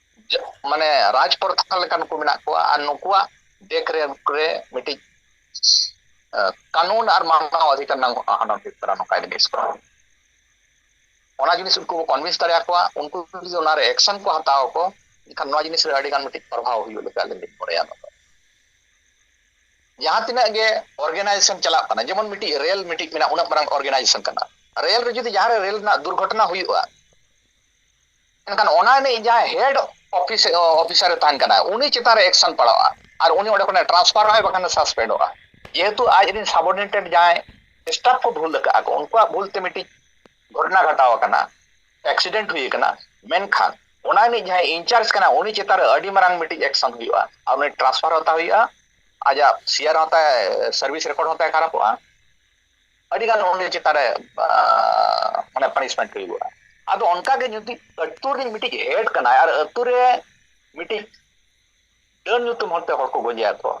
ᱢᱟᱱᱮ ᱨᱟᱡᱽ ᱯᱨᱚᱛᱷᱟ ᱞᱮᱠᱟᱱ ᱠᱚ ᱢᱮᱱᱟᱜ ᱠᱚᱣᱟ ᱟᱨ ᱱᱩᱠᱩᱣᱟᱜ ᱫᱮᱠ ᱨᱮ ᱨᱮ ᱢᱤᱫᱴᱤᱡ ᱠᱟᱹᱱᱩᱱ ᱟᱨ ᱢᱟᱱᱟᱣ ᱟᱫᱷᱤᱠᱟᱨ ᱨᱮᱱᱟᱜ ᱦᱚᱱᱚᱛ ᱦᱩᱭᱩᱜ ᱠᱟᱱᱟ ᱱᱚᱝᱠᱟ ᱡᱤᱱᱤᱥ ᱠᱚ ᱚᱱᱟ ᱡᱤᱱᱤᱥ ᱩᱱᱠᱩ ᱠᱚ ᱠᱚᱱᱵᱷᱤᱱᱥ ᱫᱟᱲᱮᱭᱟ ᱠᱚᱣᱟ ᱩᱱᱠᱩ ᱡᱩᱫᱤ ᱚᱱᱟᱨᱮ ᱮᱠᱥᱮᱱ ᱠᱚ ᱦᱟᱛᱟᱣ ᱟᱠᱚ ᱮᱱᱠᱷᱟᱱ ᱱᱚᱣᱟ ᱡᱤᱱᱤᱥ ᱨᱮ ᱟᱹᱰᱤᱜᱟᱱ ᱢᱤᱫᱴᱤᱡ ᱯᱨᱚᱵᱷᱟᱣ ᱦᱩᱭᱩᱜ ᱞᱮᱠᱟ ᱟᱹᱞᱤᱧ ᱞᱤᱧ ᱢᱚᱱᱮᱭᱟ ᱱᱚᱣᱟ ᱫᱚ ᱡᱟᱦᱟᱸ ᱛᱤᱱᱟᱹᱜ ᱜᱮ ᱚᱨᱜᱟᱱᱟᱭᱡᱮᱥᱚᱱ ᱪᱟᱞᱟᱜ ᱠᱟᱱᱟ ᱡᱮᱢᱚᱱ ᱢᱤᱫᱴᱤᱡ ᱨᱮᱞ ᱢᱤᱫᱴᱤᱡ ᱢᱮᱱᱟᱜᱼᱟ ᱩᱱᱟᱹᱜ ᱢᱟᱨᱟᱝ ᱚᱨᱜᱟᱱᱟᱭᱡᱮᱥᱚᱱ ᱠᱟᱱᱟ ᱨᱮᱞ ᱨᱮ ᱡᱩᱫᱤ ᱡᱟᱦᱟᱸᱨᱮ ᱨᱮᱞ ᱨᱮᱱᱟᱜ ᱫᱩᱨᱜᱷᱚᱴᱚᱱᱟ ᱦᱩᱭᱩᱜᱼᱟ ᱢᱮᱱᱠᱷᱟᱱ ᱚᱱᱟ ᱨᱤᱱᱤᱡ ᱡᱟᱦᱟᱸᱭ ᱦᱮᱰ ᱚᱯᱷᱤᱥ ᱚᱯᱷᱤᱥᱟᱨᱮ ᱛᱟᱦᱮᱱ ᱠᱟᱱᱟ ᱩᱱᱤ ᱪᱮᱛᱟᱱ ᱨᱮ ᱮᱠᱥᱚᱱ ᱯᱟᱲᱟᱜᱼᱟ ᱟᱨ ᱩᱱᱤ ᱚᱸᱰᱮ ᱠᱷᱚᱱᱮ ᱴᱨᱟᱱᱥᱯᱷᱟᱨᱚᱜᱼᱟᱭ ᱵᱟᱠᱷᱟᱱ ᱮ ᱥᱟᱥᱯᱮᱱᱰᱚᱜᱼᱟ ᱡᱮᱦᱮᱛᱩ ᱟᱡ ᱨᱮᱱ ᱥᱟᱵᱚᱨᱰᱤᱱᱮᱴᱮᱰ ᱡᱟᱦᱟᱸᱭ ᱥᱴᱟᱯ ᱠᱚ ᱵᱷᱩᱞ ᱟᱠᱟᱫᱼᱟ ᱠᱚ ᱩᱱᱠᱩᱣᱟᱜ ᱵᱷᱩᱞ ᱛᱮ ᱢᱤᱫᱴᱤᱡ ᱜᱷᱚᱴᱚᱱᱟ ᱜᱷᱟᱴᱟᱣ ᱟᱠᱟᱱᱟ ᱮᱠᱥᱤᱰᱮᱱᱴ ᱦᱩᱭ ᱟᱠᱟᱱᱟ ᱢᱮᱱᱠᱷᱟᱱ ᱚᱱᱟ ᱨᱤᱱᱤᱡ ᱡᱟᱦᱟᱸᱭ ᱤᱱᱪᱟᱨᱡᱽ ᱠᱟᱱᱟ ᱩᱱᱤ ᱪᱮᱛᱟᱱ ᱨᱮ ᱟᱹᱰᱤ ᱢᱟᱨᱟᱝ ᱢᱤᱫᱴᱤᱡ ᱮᱠᱥᱚᱱ ᱦᱩᱭᱩᱜᱼᱟ ᱟᱨ ᱩᱱᱤ ᱴᱨᱟᱱᱥᱯᱷᱟᱨ ᱦᱟᱛᱟᱣ ᱦᱩᱭᱩᱜᱼᱟ ᱟᱡᱟᱜ ᱥᱮᱭᱟᱨ ᱦᱚᱸ ᱛᱟᱭ ᱥᱟᱨᱵᱷᱤᱥ ᱨᱮᱠᱚᱨᱰ ᱦᱚᱸ ᱛᱟᱭ ᱠᱷᱟᱨᱟᱯᱚᱜᱼᱟ ᱟᱹᱰᱤ ᱜᱟᱱ ᱩᱱᱤ ᱪᱮᱛᱟᱱ ᱨᱮ ᱢᱟᱱᱮ ᱯᱟᱱᱤᱥᱢᱮᱱᱴ ᱦᱩᱭᱩᱜᱼᱟ ᱟᱫᱚ ᱚᱱᱠᱟᱜᱮ ᱡᱩᱫᱤ ᱟᱹᱛᱩ ᱨᱤᱱ ᱢᱤᱫᱴᱤᱡ ᱦᱮᱰ ᱠᱟᱱᱟᱭ ᱟᱨ ᱟᱹᱛᱩ ᱨᱮ ᱢᱤᱫᱴᱤᱡ ᱰᱟᱹᱱ ᱧᱩᱛᱩᱢ ᱦᱚᱲᱛᱮ ᱦᱚᱲ ᱠᱚ ᱜᱚᱡᱮᱭᱟ ᱠᱚ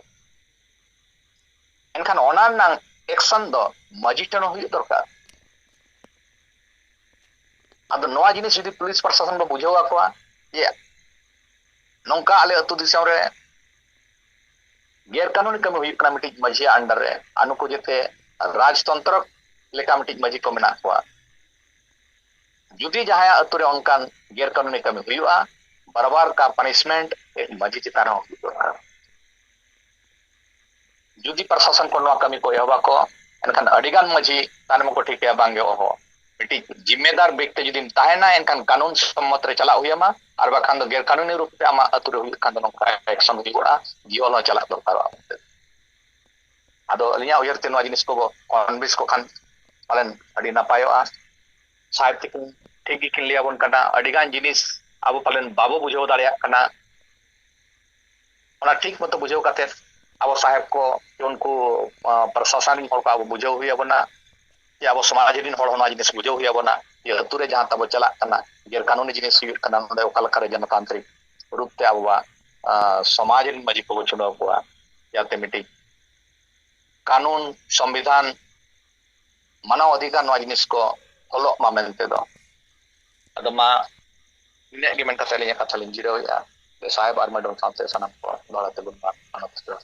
ᱮᱱᱠᱷᱟᱱ ᱚᱱᱟ ᱨᱮᱱᱟᱝ ᱮᱠᱥᱚᱱ ᱫᱚ ᱢᱟᱺᱡᱷᱤ ᱴᱷᱮᱱ ᱦᱚᱸ ᱦᱩᱭᱩᱜ ᱫᱚᱨᱠᱟᱨ ᱟᱫᱚ ᱱᱚᱣᱟ ᱡᱤᱱᱤᱥ ᱡᱩᱫᱤ ᱯᱩᱞᱤᱥ ᱯᱨᱚᱥᱟᱥᱚᱱ ᱵᱚ ᱵᱩᱡᱷᱟᱹᱣ ᱟᱠᱚᱣᱟ ᱡᱮ ᱱᱚᱝᱠᱟ ᱟᱞᱮ ᱟᱹᱛᱩ ᱫᱤᱥᱚᱢ ᱨᱮ ᱜᱮᱨ ᱠᱟᱹᱱᱩᱱᱤ ᱠᱟᱹᱢᱤ ᱦᱩᱭᱩᱜ ᱠᱟᱱᱟ ᱢᱤᱫᱴᱤᱡ ᱢᱟᱹᱡᱷᱤᱭᱟᱜ ᱟᱱᱰᱟᱨ ᱨᱮ ᱟᱨ ᱱᱩᱠᱩ ᱡᱮᱛᱮ ᱨᱟᱡᱽᱛᱚᱱᱛᱨᱚ ᱞᱮᱠᱟ ᱢᱤᱫᱴᱤᱡ ᱢᱟᱹᱡᱷᱤ ᱠᱚ ᱢᱮᱱᱟᱜ ᱠᱚᱣᱟ ᱡᱩᱫᱤ ᱡᱟᱦᱟᱸᱭᱟᱜ ᱟᱹᱛᱩ ᱨᱮ ᱚᱱᱠᱟᱱ ᱜᱮᱨ ᱠᱟᱹᱱᱩᱱᱤ ᱠᱟᱹᱢᱤ ᱦᱩᱭᱩᱜᱼᱟ ᱵᱟᱨᱵᱟᱨ ᱠᱟ ᱯᱟᱱᱤᱥᱢᱮᱱᱴ ᱢᱟᱹᱡᱷᱤ ᱪᱮᱛᱟᱱ ᱨᱮᱦᱚᱸ ᱦᱩᱭᱩᱜ ᱫᱚᱨᱠᱟᱨ ᱡᱩᱫᱤ ᱯᱨᱚᱥᱟᱥᱚᱱ ᱠᱚ ᱱᱚᱣᱟ ᱠᱟᱹᱢᱤ ᱠᱚ ᱮᱦᱚᱵᱟ ᱠᱚ ᱮᱱᱠᱷᱟᱱ ᱟᱹᱰᱤᱜᱟᱱ ᱢᱟᱹᱡᱷᱤ ᱛᱟᱭᱱᱚᱢ ᱠᱚ ᱴᱷᱤᱠᱟᱹᱭᱟ ᱵᱟᱝᱜᱮ ᱚᱦᱚ ᱢᱤᱫᱴᱤᱡ ᱡᱤᱢᱢᱮᱫᱟᱨ ᱵᱮᱠᱛᱮ ᱡᱩᱫᱤᱢ ᱛᱟᱦᱮᱱᱟ ᱮᱱᱠᱷᱟᱱ ᱠᱟᱹᱱᱩᱱ ᱥᱚᱢᱢᱚᱛ ᱨᱮ ᱪᱟᱞᱟᱜ ᱦᱩᱭ ᱟᱢᱟ ᱟᱨ ᱵᱟᱠᱷᱟᱱ ᱫᱚ ᱜᱮᱨ ᱠᱟᱹᱱᱩᱱᱤ ᱨᱩᱯ ᱛᱮ ᱟᱢᱟᱜ ᱟᱹᱛᱩ ᱨᱮ ᱦᱩᱭᱩᱜ ᱠᱷᱟᱱ ᱫᱚ ᱱᱚᱝᱠᱟ ᱮᱠᱥᱚᱱ ᱦᱩᱭᱩᱜᱼᱟ ᱡᱤᱭᱚᱞ ᱦᱚᱸ ᱪᱟᱞᱟᱜ ᱫᱚᱨᱠᱟᱨᱚᱜᱼᱟ ᱢᱮᱱᱛᱮ ᱟᱫᱚ ᱟᱹᱞᱤᱧᱟᱜ ᱩᱭᱦᱟᱹᱨ ᱛᱮ ᱱᱚᱣᱟ ᱡᱤᱱᱤᱥ ᱠᱚ ᱠᱚᱱᱵᱷᱤᱱᱥ ᱠᱚ ᱠᱷᱟᱱ ᱯᱟᱞᱮᱱ ᱟᱹᱰᱤ ᱱᱟᱯᱟᱭᱚᱜᱼᱟ ᱥᱟᱦᱮᱵ ᱛᱤᱠᱤᱱ ᱴᱷᱤᱠ ᱜᱮᱠᱤᱱ ᱞᱟᱹᱭᱟᱵᱚᱱ ᱠᱟᱱᱟ ᱟᱹᱰᱤᱜᱟᱱ ᱡᱤᱱᱤᱥ ᱟᱵᱚ ᱯᱟᱞᱮᱱ ᱵᱟᱵᱚ ᱵᱩᱡᱷᱟᱹᱣ ᱫᱟᱲᱮᱭᱟᱜ ᱠᱟᱱᱟ ᱚᱱᱟ ᱴᱷᱤᱠ ᱢᱚᱛᱚ ᱵᱩᱡᱷᱟᱹᱣ ᱠᱟᱛᱮ ᱟᱵᱚ ᱥᱟᱦᱮᱵ ᱠᱚ ᱩᱱᱠᱩ ᱯᱨᱚᱥᱟᱥᱚᱱ ᱨᱮᱱ ᱦᱚᱲ ᱠᱚ ᱟᱵᱚ ᱵᱩᱡᱷᱟᱹᱣ ᱦᱩᱭ ᱟᱵᱚᱱᱟ ᱡᱮ ᱟᱵᱚ ᱥᱚᱢᱟᱡᱽ ᱨᱮᱱ ᱦᱚᱲ ᱦᱚᱸ ᱱᱚᱣᱟ ᱡᱤᱱᱤᱥ ᱵᱩᱡᱷᱟᱹᱣ ᱦᱩᱭ ᱟᱵᱚᱱᱟ ᱡᱮ ᱟᱹᱛᱩ ᱨᱮ ᱡᱟᱦᱟᱸ ᱛᱟᱵᱚ ᱪᱟᱞᱟᱜ ᱠᱟᱱᱟ ᱜᱮᱨ ᱠᱟᱹᱱᱩᱱᱤ ᱡᱤᱱᱤᱥ ᱦᱩᱭᱩᱜ ᱠᱟᱱᱟ ᱱᱚᱰᱮ ᱚᱠᱟ ᱞᱮᱠᱟᱨᱮ ᱡᱚᱱᱚᱛᱟᱱᱛᱨᱤᱠ ᱨᱩᱯ ᱛᱮ ᱟᱵᱚᱣᱟᱜ ᱥᱚᱢᱟᱡᱽ ᱨᱮᱱ ᱢᱟᱹᱡᱷᱤ ᱠᱚᱵᱚ ᱪᱩᱱᱟᱹᱣ ᱠᱚᱣᱟ ᱡᱟᱛᱮ ᱢᱤᱫᱴᱤᱡ ᱠᱟᱹᱱᱩᱱ ᱥᱚᱝᱵᱤᱫᱷᱟᱱ ᱢᱟᱱᱟᱣ ᱚᱫᱷᱤᱠᱟᱨ ᱱᱚᱣᱟ ᱡᱤᱱᱤᱥ ᱠᱚ ᱚᱞᱚᱜ ᱢᱟ ᱢᱮᱱᱛᱮ ᱫᱚ ᱟᱫᱚ ᱢᱟ ᱤᱱᱟᱹᱜ ᱜᱮ ᱢᱮᱱ ᱠᱟᱛᱮ ᱟᱹᱞᱤᱧᱟᱜ ᱠᱟᱛᱷᱟ ᱞᱤᱧ ᱡᱤᱨᱟᱹᱣᱮᱫᱼᱟ ᱥᱟᱦᱮᱵ ᱟᱨ ᱢᱮᱰᱚᱢ ᱥᱟᱶᱛᱮ ᱥᱟᱱᱟᱢ ᱠᱚ ᱫᱚᱦᱲᱟ ᱛᱮᱵᱚᱱ ᱢᱟᱱᱚᱛ ᱡᱚᱦᱟᱨ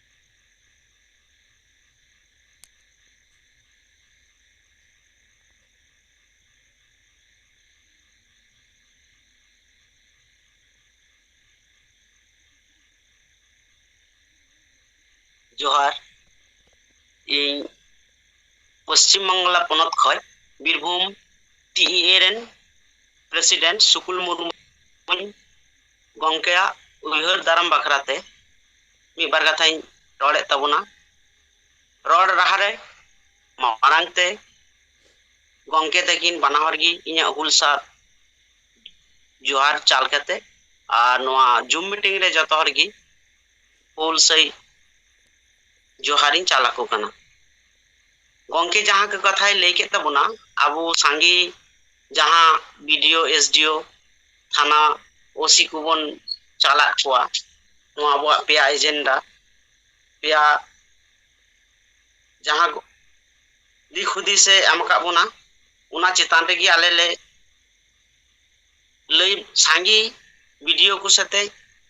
ᱡᱚᱦᱟᱨ ᱤᱧ ᱯᱚᱥᱪᱤᱢ ᱵᱟᱝᱞᱟ ᱯᱚᱱᱚᱛ ᱠᱷᱚᱱ ᱵᱤᱨᱵᱷᱩᱢ ᱴᱤ ᱤ ᱮ ᱨᱮᱱ ᱯᱨᱮᱥᱤᱰᱮᱱᱴ ᱥᱩᱠᱩᱞ ᱢᱩᱨᱢᱩᱧ ᱜᱚᱝᱠᱮᱭᱟᱜ ᱩᱭᱦᱟᱹᱨ ᱫᱟᱨᱟᱢ ᱵᱟᱠᱷᱨᱟ ᱛᱮ ᱢᱤᱫ ᱵᱟᱨ ᱠᱟᱛᱷᱟᱧ ᱨᱚᱲᱮᱫ ᱛᱟᱵᱚᱱᱟ᱾ ᱨᱚᱲ ᱨᱟᱦᱟ ᱨᱮ ᱢᱟᱲᱟᱝ ᱛᱮ ᱜᱚᱝᱠᱮ ᱛᱟᱹᱠᱤᱱ ᱵᱟᱱᱟ ᱦᱚᱲ ᱜᱮ ᱤᱧᱟᱹᱜ ᱦᱩᱞ ᱥᱟᱨ ᱡᱚᱦᱟᱨ ᱪᱟᱞ ᱠᱟᱛᱮ ᱟᱨ ᱱᱚᱣᱟ ᱡᱩᱢ ᱢᱤᱴᱤᱝ ᱨᱮ ᱡᱚᱛᱚ ᱦᱚᱲ ᱜᱮ ᱦᱩᱞ ᱥᱟᱹᱭ ᱡᱚᱦᱟᱨᱤᱧ ᱪᱟᱞ ᱟᱠᱚ ᱠᱟᱱᱟ᱾ ᱜᱚᱝᱠᱮ ᱡᱟᱦᱟᱸ ᱠᱚ ᱠᱟᱛᱷᱟᱭ ᱞᱟᱹᱭ ᱠᱮᱫ ᱛᱟᱵᱚᱱᱟ ᱟᱵᱚ ᱥᱟᱸᱜᱮ ᱡᱟᱦᱟᱸ ᱵᱤᱰᱤᱭᱳ ᱮᱥᱰᱤᱭᱳ ᱛᱷᱟᱱᱟ ᱳᱥᱤ ᱠᱚᱵᱚᱱ ᱪᱟᱞᱟᱜ ᱠᱚᱣᱟ ᱱᱚᱣᱟ ᱟᱵᱚᱣᱟᱜ ᱯᱮᱭᱟ ᱮᱡᱮᱱᱰᱟ ᱯᱮᱭᱟ ᱡᱟᱦᱟᱸ ᱫᱤᱠ ᱦᱩᱫᱤᱥᱮ ᱮᱢ ᱟᱠᱟᱫ ᱵᱚᱱᱟ ᱚᱱᱟ ᱪᱮᱛᱟᱱ ᱨᱮᱜᱮ ᱟᱞᱮ ᱞᱮ ᱞᱟᱹᱭ ᱥᱟᱸᱜᱮ ᱵᱤᱰᱤᱭᱳ ᱠᱚ ᱥᱟᱛᱮ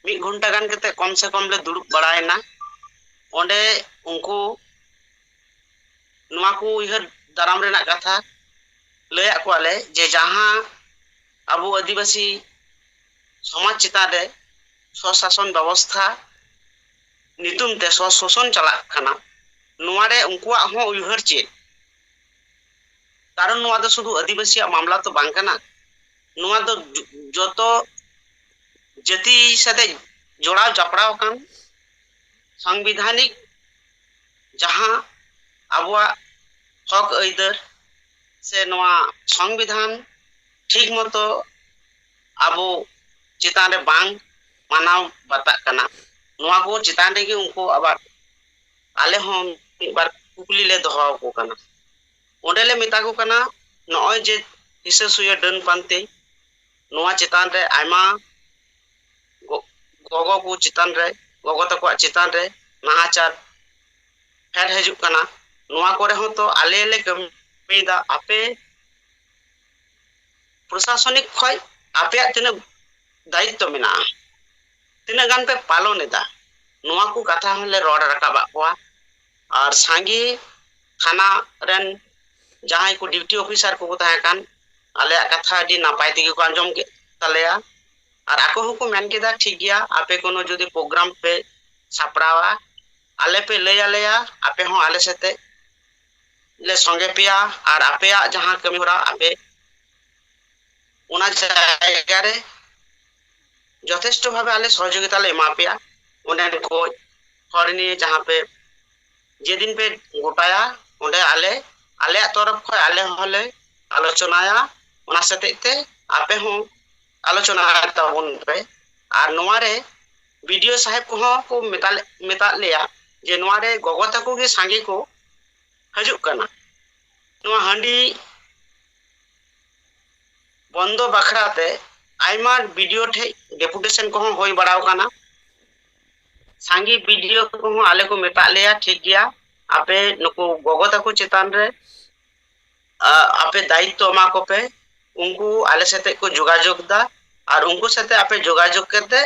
ᱢᱤᱫ ᱜᱷᱚᱱᱴᱟ ᱜᱟᱱ ᱠᱟᱛᱮ ᱠᱚᱢ ᱥᱮ ᱠᱚᱢ ᱞᱮ ᱫᱩᱲᱩᱵ ᱵᱟᱲᱟᱭᱮᱱᱟ ᱚᱸᱰᱮ ᱩᱱᱠᱩ ᱱᱚᱣᱟ ᱠᱚ ᱩᱭᱦᱟᱹᱨ ᱫᱟᱨᱟᱢ ᱨᱮᱱᱟᱜ ᱠᱟᱛᱷᱟ ᱞᱟᱹᱭᱟᱫ ᱠᱚᱣᱟ ᱞᱮ ᱡᱮ ᱡᱟᱦᱟᱸ ᱟᱵᱚ ᱟᱹᱫᱤᱵᱟᱹᱥᱤ ᱥᱚᱢᱟᱡᱽ ᱪᱮᱛᱟᱱ ᱨᱮ ᱥᱚᱥᱟᱥᱚᱱ ᱵᱮᱵᱚᱥᱛᱷᱟ ᱧᱩᱛᱩᱢ ᱛᱮ ᱥᱚᱥᱚᱱ ᱪᱟᱞᱟᱜ ᱠᱟᱱᱟ ᱱᱚᱣᱟ ᱨᱮ ᱩᱱᱠᱩᱣᱟᱜ ᱦᱚᱸ ᱩᱭᱦᱟᱹᱨ ᱪᱮᱫ ᱠᱟᱨᱚᱱ ᱱᱚᱣᱟ ᱫᱚ ᱥᱩᱫᱷᱩ ᱟᱹᱫᱤᱵᱟᱹᱥᱤᱭᱟᱜ ᱢᱟᱢᱞᱟ ᱛᱚ ᱵᱟᱝ ᱠᱟᱱᱟ ᱱᱚᱣᱟ ᱫᱚ ᱡᱚᱛᱚ ᱡᱟᱹᱛᱤ ᱥᱟᱛᱮ ᱡᱚᱲᱟᱣ ᱡᱚᱯᱲᱟᱣ ᱟᱠᱟᱱ ᱥᱟᱝᱵᱤᱫᱷᱟᱱᱤᱠ ᱡᱟᱦᱟᱸ ᱟᱵᱚᱣᱟᱜ ᱦᱚᱠ ᱟᱹᱭᱫᱟᱹᱨ ᱥᱮ ᱱᱚᱣᱟ ᱥᱚᱝᱵᱤᱫᱷᱟᱱ ᱴᱷᱤᱠ ᱢᱚᱛᱚ ᱟᱵᱚ ᱪᱮᱛᱟᱱ ᱨᱮ ᱵᱟᱝ ᱢᱟᱱᱟᱣ ᱵᱟᱛᱟᱜ ᱠᱟᱱᱟ ᱱᱚᱣᱟ ᱠᱚ ᱪᱮᱛᱟᱱ ᱨᱮᱜᱮ ᱩᱱᱠᱩ ᱟᱵᱟᱨ ᱟᱞᱮ ᱦᱚᱸ ᱢᱤᱫ ᱵᱟᱨ ᱠᱩᱠᱞᱤ ᱞᱮ ᱫᱚᱦᱚ ᱟᱠᱚ ᱠᱟᱱᱟ ᱚᱸᱰᱮ ᱞᱮ ᱢᱮᱛᱟ ᱠᱚ ᱠᱟᱱᱟ ᱱᱚᱜᱼᱚᱭ ᱡᱮ ᱦᱤᱥᱟᱹ ᱥᱩᱭᱟᱹ ᱰᱟᱹᱱ ᱯᱟᱱᱛᱮ ᱱᱚᱣᱟ ᱪᱮᱛᱟᱱ ᱨᱮ ᱟᱭᱢᱟ ᱜᱚᱜᱚ ᱠᱚ ᱪᱮᱛᱟᱱ ᱨᱮ ᱜᱚᱜᱚ ᱛᱟᱠᱚᱣᱟᱜ ᱪᱮᱛᱟᱱ ᱨᱮ ᱱᱟᱦᱟᱪᱟᱨ ᱯᱷᱮᱰ ᱦᱤᱡᱩᱜ ᱠᱟᱱᱟ ᱱᱚᱣᱟ ᱠᱚᱨᱮ ᱦᱚᱸ ᱛᱚ ᱟᱞᱮ ᱞᱮ ᱠᱟᱹᱢᱤᱭᱮᱫᱟ ᱟᱯᱮ ᱯᱨᱚᱥᱟᱥᱚᱱᱤᱠ ᱠᱷᱚᱡ ᱟᱯᱮᱭᱟᱜ ᱛᱤᱱᱟᱹᱜ ᱫᱟᱭᱤᱛᱛᱚ ᱢᱮᱱᱟᱜᱼᱟ ᱛᱤᱱᱟᱹᱜ ᱜᱟᱱ ᱯᱮ ᱯᱟᱞᱚᱱ ᱮᱫᱟ ᱱᱚᱣᱟ ᱠᱚ ᱠᱟᱛᱷᱟ ᱦᱚᱸᱞᱮ ᱨᱚᱲ ᱨᱟᱠᱟᱵᱟᱜ ᱠᱚᱣᱟ ᱟᱨ ᱥᱟᱸᱜᱮ ᱛᱷᱟᱱᱟ ᱨᱮᱱ ᱡᱟᱦᱟᱸᱭ ᱠᱚ ᱰᱤᱭᱩᱴᱤ ᱚᱯᱷᱤᱥᱟᱨ ᱠᱚᱠᱚ ᱛᱟᱦᱮᱸ ᱠᱟᱱ ᱟᱞᱮᱭᱟᱜ ᱠᱟᱛᱷᱟ ᱟᱹᱰᱤ ᱱᱟᱯᱟᱭ ᱛᱮᱜᱮ ᱠᱚ ᱟᱸᱡᱚᱢ ᱠᱮᱫ ᱛᱟᱞᱮᱭᱟ ᱟᱨ ᱟᱠᱚ ᱦᱚᱸ ᱠᱚ ᱢᱮᱱ ᱠᱮᱫᱟ ᱴᱷᱤᱠ ᱜᱮᱭᱟ ᱟᱯᱮ ᱠᱚᱱᱚ ᱡᱩᱫᱤ ᱯᱨᱳᱜᱨᱟᱢ ᱯᱮ ᱥᱟᱯᱲᱟᱣᱟ ᱟᱞᱮ ᱯᱮ ᱞᱟᱹᱭ ᱟᱞᱮᱭᱟ ᱟᱯᱮ ᱦᱚᱸ ᱟᱞᱮ ᱥᱟᱛᱮ ᱞᱮ ᱥᱚᱸᱜᱮ ᱯᱮᱭᱟ ᱟᱨ ᱟᱯᱮᱭᱟᱜ ᱡᱟᱦᱟᱸ ᱠᱟᱹᱢᱤ ᱦᱚᱨᱟ ᱟᱯᱮ ᱚᱱᱟ ᱡᱟᱭᱜᱟ ᱨᱮ ᱡᱚᱛᱷᱮᱥᱴᱚ ᱵᱷᱟᱵᱮ ᱟᱞᱮ ᱥᱚᱦᱚᱡᱳᱜᱤᱛᱟ ᱞᱮ ᱮᱢᱟ ᱯᱮᱭᱟ ᱚᱸᱰᱮ ᱠᱚ ᱦᱚᱲ ᱱᱤᱭᱮ ᱡᱟᱦᱟᱸ ᱯᱮ ᱡᱮᱫᱤᱱ ᱯᱮ ᱜᱚᱴᱟᱭᱟ ᱚᱸᱰᱮ ᱟᱞᱮ ᱟᱞᱮᱭᱟᱜ ᱛᱚᱨᱚᱯ ᱠᱷᱚᱱ ᱟᱞᱮ ᱦᱚᱸᱞᱮ ᱟᱞᱳᱪᱚᱱᱟᱭᱟ ᱚᱱᱟ ᱥᱟᱛᱮᱜ ᱛᱮ ᱟᱯᱮ ᱦᱚᱸ ᱟᱞᱳᱪᱚᱱᱟ ᱛᱟᱵᱚᱱ ᱯᱮ ᱟᱨ ᱱᱚᱣᱟ ᱨᱮ ᱵᱤᱰᱤᱳ ᱥᱟᱦᱮᱵ ᱠᱚᱦᱚᱸ ᱠᱚ ᱢᱮᱛᱟᱫ ᱞᱮᱭᱟ ᱡᱮ ᱱᱚᱣᱟ ᱨᱮ ᱜᱚᱜᱚ ᱛᱟᱠᱚ ᱜᱮ ᱥᱟᱸᱜᱮ ᱠᱚ ᱦᱤᱡᱩᱜ ᱠᱟᱱᱟ ᱱᱚᱣᱟ ᱦᱟᱺᱰᱤ ᱵᱚᱱᱫᱚ ᱵᱟᱠᱷᱨᱟ ᱛᱮ ᱟᱭᱢᱟ ᱵᱤᱰᱤᱳ ᱴᱷᱮᱡ ᱰᱮᱯᱩᱴᱮᱥᱚᱱ ᱠᱚᱦᱚᱸ ᱦᱩᱭ ᱵᱟᱲᱟᱣ ᱠᱟᱱᱟ ᱥᱟᱸᱜᱮ ᱵᱤᱰᱤᱳ ᱠᱚᱦᱚᱸ ᱟᱞᱮ ᱠᱚ ᱢᱮᱛᱟᱫ ᱞᱮᱭᱟ ᱴᱷᱤᱠ ᱜᱮᱭᱟ ᱟᱯᱮ ᱱᱩᱠᱩ ᱜᱚᱜᱚ ᱛᱟᱠᱚ ᱪᱮᱛᱟᱱ ᱨᱮ ᱟᱯᱮ ᱫᱟᱭᱤᱛᱛᱚ ᱮᱢᱟ ᱠᱚᱯᱮ ᱩᱱᱠᱩ ᱟᱞᱮ ᱥᱟᱛᱮᱜ ᱠᱚ ᱡᱳᱜᱟᱡᱳᱜᱽ ᱫᱟ ᱟᱨ ᱩᱱᱠᱩ ᱥᱟᱛᱮᱜ ᱟᱯᱮ ᱡᱳᱜᱟᱡᱳᱜᱽ ᱠᱟᱛᱮᱜ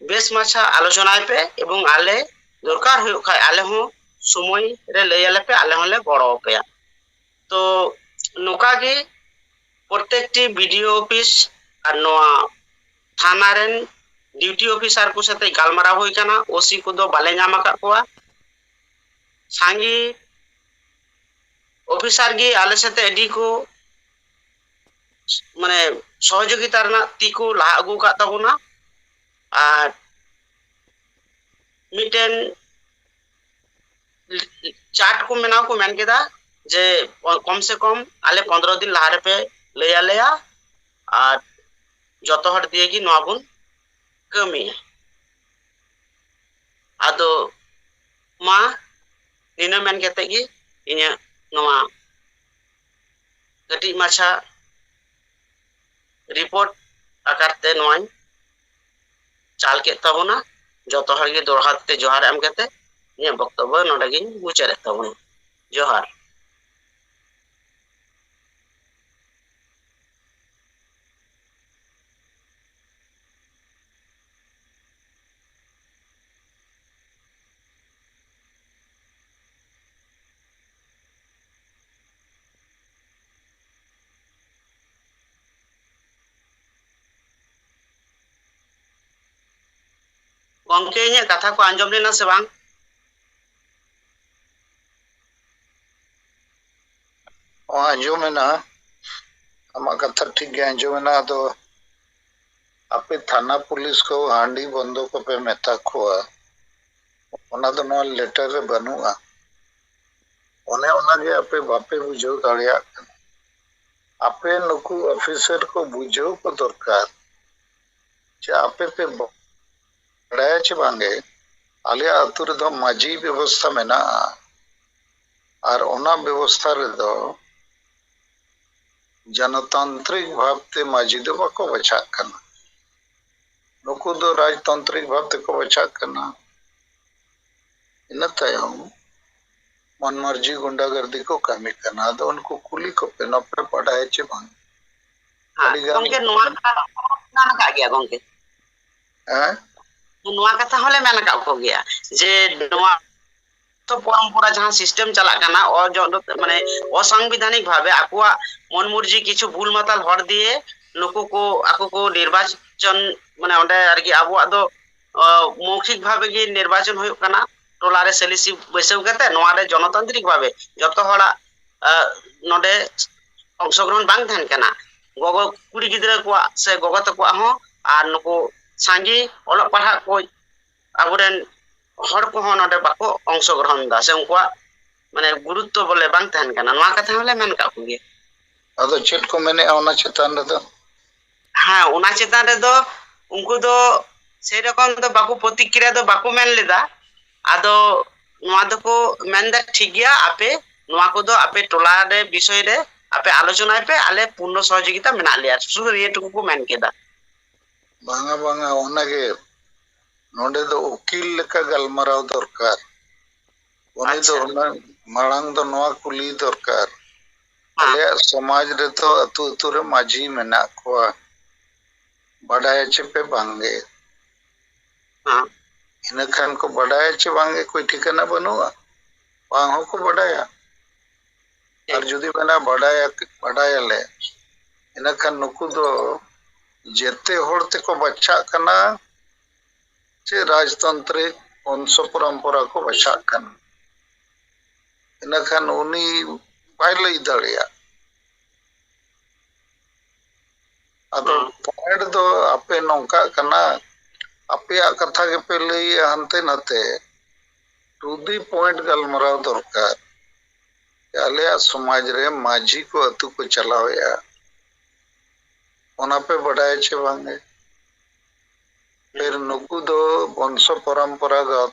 ᱵᱮᱥ ᱢᱟᱪᱷᱟ ᱟᱞᱳᱪᱚᱱᱟᱭ ᱯᱮ ᱮᱵᱚᱝ ᱟᱞᱮ ᱫᱚᱨᱠᱟᱨ ᱦᱩᱭᱩᱜ ᱠᱷᱟᱡ ᱟᱞᱮ ᱦᱚᱸ ᱥᱚᱢᱚᱭ ᱨᱮ ᱞᱟᱹᱭ ᱟᱞᱮ ᱯᱮ ᱟᱞᱮ ᱦᱚᱸᱞᱮ ᱜᱚᱲᱚ ᱟᱯᱮᱭᱟ ᱛᱚ ᱱᱚᱝᱠᱟ ᱜᱮ ᱯᱨᱚᱛᱮᱠᱴᱤ ᱵᱤᱰᱤᱳ ᱚᱯᱷᱤᱥ ᱟᱨ ᱱᱚᱣᱟ ᱛᱷᱟᱱᱟ ᱨᱮᱱ ᱰᱤᱭᱩᱴᱤ ᱚᱯᱷᱤᱥᱟᱨ ᱠᱚ ᱥᱟᱛᱮ ᱜᱟᱞᱢᱟᱨᱟᱣ ᱦᱩᱭ ᱠᱟᱱᱟ ᱳᱥᱤ ᱠᱚᱫᱚ ᱵᱟᱞᱮ ᱧᱟᱢ ᱟᱠᱟᱫ ᱠᱚᱣᱟ ᱥᱟᱸᱜᱮ ᱚᱯᱷᱤᱥᱟᱨ ᱜᱮ ᱟᱞᱮ ᱥᱟᱛᱮ ᱟᱹᱰᱤ ᱠᱚ ᱢᱟᱱᱮ ᱥᱚᱦᱚᱡᱳᱜᱤᱛᱟ ᱨᱮᱱᱟᱜ ᱛᱤ ᱠᱚ ᱞᱟᱦᱟ ᱟᱹᱜᱩ ᱟᱠᱟᱫ ᱛᱟᱵᱚᱱᱟ ᱟᱨ ᱢᱤᱫᱴᱮᱱ ᱪᱟᱨᱴ ᱠᱚ ᱵᱮᱱᱟᱣ ᱠᱚ ᱢᱮᱱ ᱠᱮᱫᱟ ᱡᱮ ᱠᱚᱢ ᱥᱮ ᱠᱚᱢ ᱟᱞᱮ ᱯᱚᱱᱨᱚ ᱫᱤᱱ ᱞᱟᱦᱟ ᱨᱮᱯᱮ ᱞᱟᱹᱭ ᱟᱞᱮᱭᱟ ᱟᱨ ᱡᱚᱛᱚ ᱦᱚᱲ ᱫᱤᱭᱮ ᱜᱮ ᱱᱚᱣᱟ ᱵᱚᱱ ᱠᱟᱹᱢᱤᱭᱟ ᱟᱫᱚ ᱢᱟ ᱱᱤᱱᱟᱹ ᱢᱮᱱ ᱠᱟᱛᱮ ᱜᱮ ᱤᱧᱟᱹᱜ ᱱᱚᱣᱟ ᱠᱟᱹᱴᱤᱡ ᱢᱟᱪᱷᱟ ᱨᱤᱯᱳᱨᱴ ᱟᱠᱟᱨ ᱛᱮ ᱱᱚᱣᱟᱧ ᱪᱟᱞ ᱠᱮᱫ ᱛᱟᱵᱚᱱᱟ ᱡᱚᱛᱚ ᱦᱚᱲ ᱜᱮ ᱫᱚᱲᱦᱟ ᱛᱮ ᱡᱚᱦᱟᱨ ᱮᱢ ᱠᱟᱛᱮ ᱤᱧᱟᱹᱜ ᱵᱚᱠᱛᱚᱵᱵᱚ ᱱᱚᱰᱮ ᱜᱤᱧ ᱢᱩᱪᱟᱹᱫ ᱮᱫ ᱛᱟᱵᱚᱱᱟ ᱡᱚᱦᱟᱨ ᱜᱚᱢᱠᱮ ᱤᱧᱟᱹᱜ ᱠᱟᱛᱷᱟ ᱠᱚ ᱟᱸᱡᱚᱢ ᱞᱮᱱᱟ ᱥᱮ ᱵᱟᱝ ᱟᱸᱡᱚᱢ ᱮᱱᱟ ᱟᱢᱟᱜ ᱠᱟᱛᱷᱟ ᱴᱷᱤᱠ ᱜᱮ ᱟᱸᱡᱚᱢ ᱮᱱᱟ ᱟᱫᱚ ᱟᱯᱮ ᱛᱷᱟᱱᱟ ᱯᱩᱞᱤᱥ ᱠᱚ ᱦᱟᱺᱰᱤ ᱵᱚᱱᱫᱚ ᱠᱚᱯᱮ ᱢᱮᱛᱟ ᱠᱚᱣᱟ ᱚᱱᱟ ᱫᱚ ᱱᱚᱣᱟ ᱞᱮᱴᱟᱨ ᱨᱮ ᱵᱟᱹᱱᱩᱜᱼᱟ ᱚᱱᱮ ᱚᱱᱟᱜᱮ ᱟᱯᱮ ᱵᱟᱯᱮ ᱵᱩᱡᱷᱟᱹᱣ ᱫᱟᱲᱮᱭᱟᱜ ᱠᱟᱱᱟ ᱟᱯᱮ ᱱᱩᱠᱩ ᱚᱯᱷᱤᱥᱟᱨ ᱠᱚ ᱵᱩᱡᱷᱟᱹᱣ ᱠᱚ ᱫᱚᱨᱠᱟᱨ ᱡᱮ ᱟᱯᱮ ᱯᱮ ᱵᱟᱲᱟᱭᱟ ᱪᱮ ᱵᱟᱝᱜᱮ ᱟᱞᱮᱭᱟᱜ ᱟᱹᱛᱩ ᱨᱮᱫᱚ ᱢᱟᱹᱡᱷᱤ ᱵᱮᱵᱚᱥᱛᱷᱟ ᱢᱮᱱᱟᱜᱼᱟ ᱟᱨ ᱚᱱᱟ ᱵᱮᱵᱚᱥᱛᱷᱟ ᱨᱮᱫᱚ ᱡᱚᱱᱚᱛᱟᱱᱛᱨᱤᱠ ᱵᱷᱟᱵᱛᱮ ᱢᱟᱹᱡᱷᱤ ᱫᱚ ᱵᱟᱠᱚ ᱵᱟᱪᱷᱟᱜ ᱠᱟᱱᱟ ᱱᱩᱠᱩ ᱫᱚ ᱨᱟᱡᱽᱛᱟᱱᱛᱨᱤᱠ ᱵᱷᱟᱵᱽ ᱛᱮᱠᱚ ᱵᱟᱪᱷᱟᱜ ᱠᱟᱱᱟ᱾ ᱤᱱᱟᱹ ᱛᱟᱭᱚᱢ ᱢᱚᱱ ᱢᱟᱹᱨᱡᱤ ᱜᱩᱱᱰᱟ ᱜᱟᱨᱫᱤ ᱠᱚ ᱠᱟᱹᱢᱤ ᱠᱟᱱᱟ᱾ ᱟᱫᱚ ᱩᱱᱠᱩ ᱠᱩᱞᱤ ᱠᱚᱯᱮ ᱱᱚᱣᱟ ᱯᱮ ᱵᱟᱰᱟᱭᱟ ᱪᱮ ᱵᱟᱝ? ᱦᱮᱸ ᱟᱹᱰᱤ ᱜᱟᱱ ᱜᱚᱝᱠᱮ ᱱᱚᱣᱟ ᱠᱟᱛᱷᱟ ᱫᱚ ᱢᱮᱱ ᱟᱠᱟᱫ ᱜᱮᱭᱟ ᱜᱚᱝᱠᱮ᱾ ᱦᱮᱸ ᱱᱚᱣᱟ ᱠᱟᱛᱷᱟ ᱦᱚᱸᱞᱮ ᱢᱮᱱ ᱟᱠᱟᱫ ᱠᱚᱜᱮᱭᱟ ᱡᱮ ᱱᱚᱣᱟ ᱯᱚᱨᱚᱢᱯᱚᱨᱟ ᱡᱟᱦᱟᱸ ᱥᱤᱥᱴᱮᱢ ᱪᱟᱞᱟᱜ ᱠᱟᱱᱟ ᱢᱟᱱᱮ ᱚᱥᱟᱝᱵᱤᱫᱷᱟᱱᱤᱠ ᱵᱷᱟᱵᱮ ᱟᱠᱚᱣᱟᱜ ᱢᱚᱱ ᱢᱩᱨᱡᱤ ᱠᱤᱪᱷᱩ ᱵᱷᱩᱞ ᱢᱟᱛᱟᱞ ᱦᱚᱲ ᱫᱤᱭᱮ ᱱᱩᱠᱩ ᱠᱚ ᱟᱠᱚ ᱠᱚ ᱱᱤᱨᱵᱟᱪᱚᱱ ᱢᱟᱱᱮ ᱚᱸᱰᱮ ᱟᱨᱠᱤ ᱟᱵᱚᱣᱟᱜ ᱫᱚ ᱢᱚᱣᱠᱷᱤᱠ ᱵᱷᱟᱵᱮ ᱜᱮ ᱱᱤᱨᱵᱟᱪᱚᱱ ᱦᱩᱭᱩᱜ ᱠᱟᱱᱟ ᱴᱚᱞᱟ ᱨᱮ ᱥᱮᱞᱤᱥᱤ ᱵᱟᱹᱭᱥᱟᱹᱣ ᱠᱟᱛᱮ ᱱᱚᱣᱟ ᱨᱮ ᱡᱚᱱᱚᱛᱟᱱᱛᱨᱤᱠ ᱵᱷᱟᱵᱮ ᱡᱚᱛᱚ ᱦᱚᱲᱟᱜ ᱱᱚᱰᱮ ᱚᱝᱥᱚᱜᱨᱚᱦᱚᱱ ᱵᱟᱝ ᱛᱟᱦᱮᱱ ᱠᱟᱱᱟ ᱜᱚᱜᱚ ᱠᱩᱲᱤ ᱜᱤᱫᱽᱨᱟᱹ ᱠᱚᱣᱟᱜ ᱥᱮ ᱜᱚᱜᱚ ᱛᱟᱠᱚᱣᱟᱜ ᱦᱚᱸ ᱟᱨ ᱱᱩᱠᱩ ᱥᱟᱸᱜᱮ ᱚᱞᱚᱜ ᱯᱟᱲᱦᱟᱜ ᱠᱚ ᱟᱵᱚᱨᱮᱱ ᱦᱚᱲ ᱠᱚᱦᱚᱸ ᱱᱚᱰᱮ ᱵᱟᱠᱚ ᱚᱝᱥᱚᱜᱨᱚᱦᱚᱱ ᱮᱫᱟ ᱥᱮ ᱩᱱᱠᱩᱣᱟᱜ ᱢᱟᱱᱮ ᱜᱩᱨᱩᱛᱛᱚ ᱵᱚᱞᱮ ᱵᱟᱝ ᱛᱟᱦᱮᱱ ᱠᱟᱱᱟ ᱱᱚᱣᱟ ᱠᱟᱛᱷᱟ ᱦᱚᱸᱞᱮ ᱢᱮᱱ ᱠᱟᱜ ᱠᱚᱜᱮᱭᱟ ᱟᱫᱚ ᱪᱮᱫ ᱠᱚ ᱢᱮᱱᱮᱜᱼᱟ ᱚᱱᱟ ᱪᱮᱛᱟᱱ ᱨᱮᱫᱚ ᱦᱮᱸ ᱚᱱᱟ ᱪᱮᱛᱟᱱ ᱨᱮᱫᱚ ᱩᱱᱠᱩ ᱫᱚ ᱥᱮᱨᱚᱠᱚᱢ ᱫᱚ ᱵᱟᱠᱚ ᱯᱨᱚᱛᱤᱠᱨᱤᱭᱟ ᱫᱚ ᱵᱟᱠᱚ ᱢᱮᱱ ᱞᱮᱫᱟ ᱟᱫᱚ ᱱᱚᱣᱟ ᱫᱚᱠᱚ ᱢᱮᱱᱫᱟ ᱴᱷᱤᱠ ᱜᱮᱭᱟ ᱟᱯᱮ ᱱᱚᱣᱟ ᱠᱚᱫᱚ ᱟᱯᱮ ᱴᱚᱞᱟ ᱨᱮ ᱵᱤᱥᱚᱭ ᱨᱮ ᱟᱯᱮ ᱟᱞᱳᱪᱚᱱᱟᱭ ᱯᱮ ᱟᱞᱮ ᱯᱩᱨᱱᱚ ᱥᱚᱦᱚᱡᱳᱜᱤᱛᱟ ᱢᱮᱱᱟᱜ ᱞᱮᱭᱟ ᱥᱩᱫᱷᱩ ᱱᱤᱭᱟᱹ ᱴᱩᱠᱩ ᱠᱚ ᱢᱮᱱ ᱠᱮᱫᱟ ᱵᱟᱝᱟ ᱵᱟᱝᱟ ᱚᱱᱟᱜᱮ ᱱᱚᱰᱮ ᱫᱚ ᱩᱠᱤᱞ ᱞᱮᱠᱟ ᱜᱟᱞᱢᱟᱨᱟᱣ ᱫᱚᱨᱠᱟᱨ ᱩᱱᱤ ᱫᱚ ᱚᱱᱟ ᱢᱟᱲᱟᱝ ᱫᱚ ᱱᱚᱣᱟ ᱠᱩᱞᱤ ᱫᱚᱨᱠᱟᱨ ᱟᱞᱮᱭᱟᱜ ᱥᱚᱢᱟᱡᱽ ᱨᱮᱫᱚ ᱟᱹᱛᱩ ᱟᱹᱛᱩ ᱨᱮ ᱢᱟᱹᱡᱷᱤ ᱢᱮᱱᱟᱜ ᱠᱚᱣᱟ ᱵᱟᱰᱟᱭᱟ ᱪᱮ ᱯᱮ ᱵᱟᱝᱜᱮ ᱤᱱᱟᱹ ᱠᱷᱟᱱ ᱠᱚ ᱵᱟᱰᱟᱭᱟ ᱪᱮ ᱵᱟᱝᱜᱮ ᱠᱚᱭ ᱴᱷᱤᱠᱟᱹᱱᱟ ᱵᱟᱹᱱᱩᱜᱼᱟ ᱵᱟᱝ ᱦᱚᱸᱠᱚ ᱵᱟᱰᱟᱭᱟ ᱟᱨ ᱡᱩᱫᱤ ᱢᱮᱱᱟ ᱵᱟᱰᱟᱭ ᱵᱟᱰᱟᱭᱟᱞᱮ ᱤᱱᱟᱹᱠᱷᱟᱱ ᱱᱩᱠᱩ ᱫᱚ ᱡᱮᱛᱮ ᱦᱚᱲ ᱛᱮᱠᱚ ᱵᱟᱪᱷᱟᱜ ᱠᱟᱱᱟ ᱪᱮ ᱨᱟᱡᱽᱛᱟᱱᱛᱨᱤᱠ ᱵᱚᱝᱥᱚ ᱯᱚᱨᱚᱢᱯᱚᱨᱟ ᱠᱚ ᱵᱟᱪᱷᱟᱜ ᱠᱟᱱᱟ ᱤᱱᱟᱹᱠᱷᱟᱱ ᱩᱱᱤ ᱵᱟᱭ ᱞᱟᱹᱭ ᱫᱟᱲᱮᱭᱟᱜ ᱟᱫᱚ ᱯᱚᱭᱮᱱᱴ ᱫᱚ ᱟᱯᱮ ᱱᱚᱝᱠᱟᱜ ᱠᱟᱱᱟ ᱟᱯᱮᱭᱟᱜ ᱠᱟᱛᱷᱟ ᱜᱮᱯᱮ ᱞᱟᱹᱭᱮᱜᱼᱟ ᱦᱟᱱᱛᱮ ᱱᱟᱛᱮ ᱴᱩ ᱫᱤ ᱯᱚᱭᱮᱱᱴ ᱜᱟᱞᱢᱟᱨᱟᱣ ᱫᱚᱨᱠᱟᱨ ᱟᱞᱮᱭᱟᱜ ᱥᱚᱢᱟᱡᱽ ᱨᱮ ᱢᱟᱹᱡᱷᱤ ᱠᱚ ᱟᱹᱛᱩ ᱠᱚ ᱪᱟᱞᱟᱣᱮᱜᱼᱟ ᱚᱱᱟ ᱯᱮ ᱵᱟᱰᱟᱭᱟ ᱪᱮ ᱵᱟᱝᱜᱮ ᱯᱷᱤᱨ ᱱᱩᱠᱩ ᱫᱚ ᱵᱚᱝᱥᱚ ᱯᱚᱨᱚᱢᱯᱚᱨᱟᱜᱚᱛ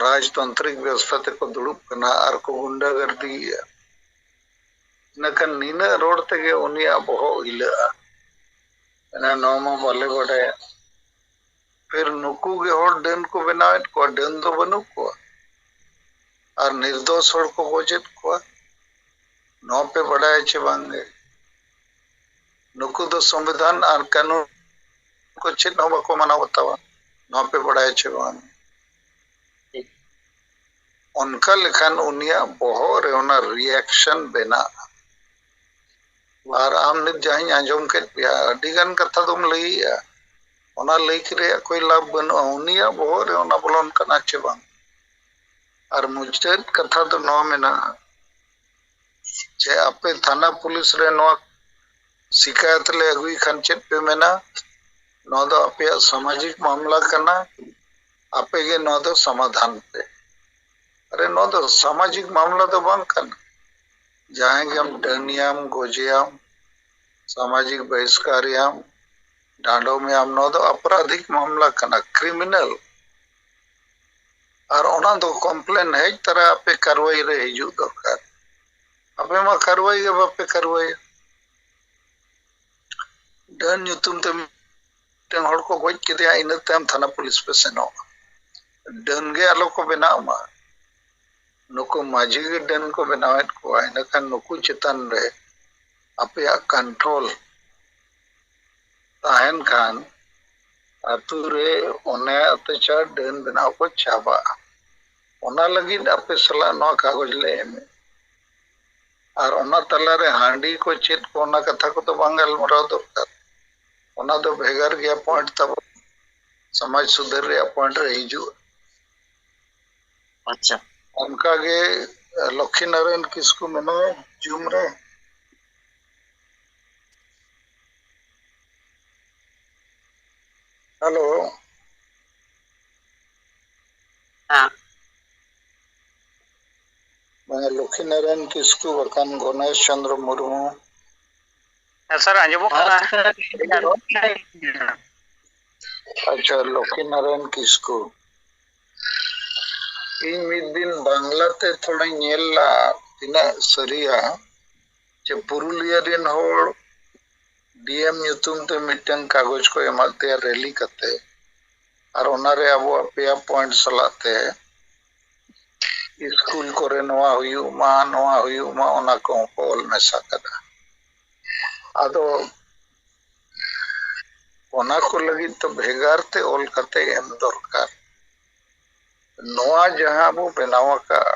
ᱨᱟᱡᱽᱛᱟᱱᱛᱨᱤᱠ ᱵᱮᱵᱚᱥᱛᱷᱟ ᱛᱮᱠᱚ ᱫᱩᱲᱩᱵ ᱠᱟᱱᱟ ᱟᱨ ᱠᱚ ᱜᱩᱱᱰᱟᱹ ᱜᱟᱨᱫᱤᱭᱮᱜᱼᱟ ᱤᱱᱟᱹᱠᱷᱟᱱ ᱱᱤᱱᱟᱹᱜ ᱨᱚᱲ ᱛᱮᱜᱮ ᱩᱱᱤᱭᱟᱜ ᱵᱚᱦᱚᱜ ᱦᱤᱞᱟᱹᱜᱼᱟ ᱢᱟᱱᱮ ᱱᱚᱣᱟ ᱢᱟ ᱵᱟᱞᱮ ᱵᱟᱰᱟᱭᱟ ᱯᱷᱤᱨ ᱱᱩᱠᱩ ᱜᱮ ᱦᱚᱲ ᱰᱟᱹᱱ ᱠᱚ ᱵᱮᱱᱟᱣᱮᱫ ᱠᱚᱣᱟ ᱰᱟᱹᱱ ᱫᱚ ᱵᱟᱹᱱᱩᱜ ᱠᱚᱣᱟ ᱟᱨ ᱱᱤᱨᱫᱚᱥ ᱦᱚᱲ ᱠᱚ ᱜᱚᱡᱮᱫ ᱠᱚᱣᱟ ᱱᱚᱣᱟ ᱯᱮ ᱵᱟᱰᱟᱭᱟ ᱪᱮ ᱵᱟᱝᱜᱮ ᱱᱩᱠᱩ ᱫᱚ ᱥᱚᱝᱵᱤᱫᱷᱟᱱ ᱟᱨ ᱠᱟᱹᱱᱩᱱ ᱠᱚ ᱪᱮᱫ ᱦᱚᱸ ᱵᱟᱠᱚ ᱢᱟᱱᱟᱣ ᱵᱟᱛᱟᱣᱟ ᱱᱚᱣᱟ ᱯᱮ ᱵᱟᱰᱟᱭᱟ ᱪᱮ ᱵᱟᱝ ᱚᱱᱠᱟ ᱞᱮᱠᱷᱟᱱ ᱩᱱᱤᱭᱟᱜ ᱵᱚᱦᱚᱜ ᱨᱮ ᱚᱱᱟ ᱨᱤᱭᱟᱠᱥᱚᱱ ᱵᱮᱱᱟᱜᱼᱟ ᱟᱨ ᱟᱢ ᱱᱤᱛ ᱡᱟᱦᱟᱸᱧ ᱟᱸᱡᱚᱢ ᱠᱮᱫ ᱯᱮᱭᱟ ᱟᱹᱰᱤ ᱜᱟᱱ ᱠᱟᱛᱷᱟ ᱫᱚᱢ ᱞᱟᱹᱭᱮᱜᱼᱟ ᱚᱱᱟ ᱞᱟᱹᱭ ᱨᱮᱭᱟᱜ ᱠᱚᱭ ᱞᱟᱵᱷ ᱵᱟᱹᱱᱩᱜᱼᱟ ᱩᱱᱤᱭᱟᱜ ᱵᱚᱦᱚᱜ ᱨᱮ ᱚᱱᱟ ᱵᱚᱞᱚᱱ ᱠᱟᱱᱟ ᱪᱮ ᱵᱟᱝ ᱟᱨ ᱢᱩᱪᱟᱹᱫ ᱠᱟᱛᱷᱟ ᱫᱚ ᱱᱚᱣᱟ ᱢᱮᱱᱟᱜᱼᱟ ᱡᱮ ᱟᱯᱮ ᱛᱷᱟᱱᱟ ᱯᱩᱞᱤᱥ ᱨᱮ ᱱᱚᱣᱟ ᱥᱤᱠᱟᱭᱚᱛ ᱞᱮ ᱟᱹᱜᱩᱭ ᱠᱷᱟᱱ ᱪᱮᱫ ᱯᱮ ᱢᱮᱱᱟ ᱱᱚᱣᱟ ᱫᱚ ᱟᱯᱮᱭᱟᱜ ᱥᱟᱢᱟᱡᱤᱠ ᱢᱟᱢᱞᱟ ᱠᱟᱱᱟ ᱟᱯᱮ ᱜᱮ ᱱᱚᱣᱟ ᱫᱚ ᱥᱚᱢᱟᱫᱷᱟᱱ ᱯᱮ ᱟᱨᱮ ᱱᱚᱣᱟ ᱫᱚ ᱥᱟᱢᱟᱡᱤᱠ ᱢᱟᱢᱞᱟ ᱫᱚ ᱵᱟᱝ ᱠᱟᱱᱟ ᱡᱟᱦᱟᱸᱭ ᱜᱮᱢ ᱰᱟᱹᱱᱮᱭᱟᱢ ᱜᱚᱡᱮᱭᱟᱢ ᱥᱟᱢᱟᱡᱤᱠ ᱵᱟᱹᱦᱤᱥᱠᱟᱨᱮᱭᱟᱢ ᱰᱟᱸᱰᱚᱢᱮᱭᱟᱢ ᱱᱚᱣᱟ ᱫᱚ ᱟᱯᱨᱟᱫᱷᱤᱠ ᱢᱟᱢᱞᱟ ᱠᱟᱱᱟ ᱠᱨᱤᱢᱤᱱᱟᱞ ᱟᱨ ᱚᱱᱟ ᱫᱚ ᱠᱚᱢᱯᱞᱮᱱ ᱦᱮᱡ ᱛᱟᱨᱟ ᱟᱯᱮ ᱠᱟᱨᱣᱟᱭ ᱨᱮ ᱦᱤᱡᱩᱜ ᱫᱚᱨᱠᱟᱨ ᱟᱯᱮ ᱢᱟ ᱠᱟᱨᱣᱟᱭ ᱜᱮ ᱵᱟᱯᱮ ᱠᱟᱨᱣᱟᱭᱟ ᱰᱟᱹᱱ ᱧᱩᱛᱩᱢ ᱛᱮ ᱢᱤᱫᱴᱮᱱ ᱦᱚᱲ ᱠᱚ ᱜᱚᱡ ᱠᱮᱫᱮᱭᱟ ᱤᱱᱟᱹ ᱛᱟᱭᱚᱢ ᱛᱷᱟᱱᱟ ᱯᱩᱞᱤᱥ ᱯᱮ ᱥᱮᱱᱚᱜᱼᱟ ᱰᱟᱹᱱ ᱜᱮ ᱟᱞᱚ ᱠᱚ ᱵᱮᱱᱟᱜ ᱢᱟ ᱱᱩᱠᱩ ᱢᱟᱹᱡᱷᱤ ᱜᱮ ᱰᱟᱹᱱ ᱠᱚ ᱵᱮᱱᱟᱣᱮᱫ ᱠᱚᱣᱟ ᱤᱱᱟᱹᱠᱷᱟᱱ ᱱᱩᱠᱩ ᱪᱮᱛᱟᱱ ᱨᱮ ᱟᱯᱮᱭᱟᱜ ᱠᱚᱱᱴᱨᱳᱞ ᱛᱟᱦᱮᱱ ᱠᱷᱟᱱ ᱟᱛᱳ ᱨᱮ ᱚᱱᱮ ᱚᱛᱛᱟᱪᱟᱨ ᱰᱟᱹᱱ ᱵᱮᱱᱟᱣ ᱠᱚ ᱪᱟᱵᱟᱜᱼᱟ ᱚᱱᱟ ᱞᱟᱹᱜᱤᱫ ᱟᱯᱮ ᱥᱟᱞᱟᱜ ᱱᱚᱣᱟ ᱠᱟᱜᱚᱡᱽ ᱞᱮ ᱮᱢᱮᱫ ᱟᱨ ᱚᱱᱟ ᱛᱟᱞᱟᱨᱮ ᱦᱟᱺᱰᱤ ᱠᱚ ᱪᱮᱫ ᱠᱚ ᱚᱱᱟ ᱠᱟᱛᱷᱟ ᱠᱚᱫᱚ ᱵᱟᱝ ᱜᱟᱞᱢᱟᱨᱟᱣ ᱫᱚᱨᱠᱟᱨ ᱚᱱᱟ ᱫᱚ ᱵᱷᱮᱜᱟᱨ ᱜᱮᱭᱟ ᱯᱚᱭᱮᱱᱴ ᱛᱟᱵᱚᱱ ᱥᱚᱢᱟᱡᱽ ᱥᱩᱫᱷᱟᱹᱨ ᱨᱮᱭᱟᱜ ᱯᱚᱭᱮᱱᱴ ᱨᱮ ᱦᱤᱡᱩᱜᱼᱟ ᱟᱪᱪᱷᱟ ᱚᱱᱠᱟᱜᱮ ᱞᱚᱠᱠᱷᱤ ᱱᱟᱨᱟᱭᱚᱱ ᱠᱤᱥᱠᱩ ᱢᱮᱱᱟᱭᱟ ᱡᱩᱢ ᱨᱮ ᱦᱮᱞᱳ ᱦᱮᱸ ᱢᱟᱱᱮ ᱞᱚᱠᱠᱷᱤ ᱱᱟᱨᱟᱭᱚᱱ ᱠᱤᱥᱠᱩ ᱵᱟᱠᱷᱟᱱ ᱜᱚᱱᱮᱥ ᱪᱚᱱᱫᱨᱚ ᱢᱩᱨᱢᱩ ᱦᱮᱸ ᱥᱟᱨ ᱟᱸᱡᱚᱢᱚᱜ ᱠᱟᱱᱟ ᱟᱪᱪᱷᱟ ᱞᱚᱠᱠᱷᱤ ᱱᱟᱨᱟᱭᱚᱱ ᱠᱤᱥᱠᱩ ᱤᱧ ᱢᱤᱫ ᱫᱤᱱ ᱵᱟᱝᱞᱟ ᱛᱮ ᱛᱷᱚᱲᱟᱧ ᱧᱮᱞ ᱞᱟᱜᱼᱟ ᱛᱤᱱᱟᱹᱜ ᱥᱟᱹᱨᱤᱭᱟ ᱡᱮ ᱯᱩᱨᱩᱞᱤᱭᱟᱹ ᱨᱮᱱ ᱦᱚᱲ ᱰᱤᱮᱢ ᱧᱩᱛᱩᱢ ᱛᱮ ᱢᱤᱫᱴᱟᱝ ᱠᱟᱜᱚᱡᱽ ᱠᱚ ᱮᱢᱟᱫ ᱛᱟᱭᱟ ᱨᱮᱞᱤ ᱠᱟᱛᱮ ᱟᱨ ᱚᱱᱟᱨᱮ ᱟᱵᱚᱣᱟᱜ ᱯᱮᱭᱟ ᱯᱚᱭᱮᱱᱴ ᱥᱟᱞᱟᱜ ᱛᱮ ᱥᱠᱩᱞ ᱠᱚᱨᱮ ᱱᱚᱣᱟ ᱦᱩᱭᱩᱜ ᱢᱟ ᱱᱚᱣᱟ ᱦᱩᱭᱩᱜ ᱢᱟ ᱚᱱᱟ ᱠᱚᱦᱚᱸ ᱠᱚ ᱚᱞ ᱢᱮᱥᱟ ᱠᱟᱫᱟ ᱟᱫᱚ ᱚᱱᱟ ᱠᱚ ᱞᱟᱹᱜᱤᱫ ᱫᱚ ᱵᱷᱮᱜᱟᱨ ᱛᱮ ᱚᱞ ᱠᱟᱛᱮ ᱮᱢ ᱫᱚᱨᱠᱟᱨ ᱱᱚᱣᱟ ᱡᱟᱦᱟᱸ ᱵᱚ ᱵᱮᱱᱟᱣ ᱟᱠᱟᱫ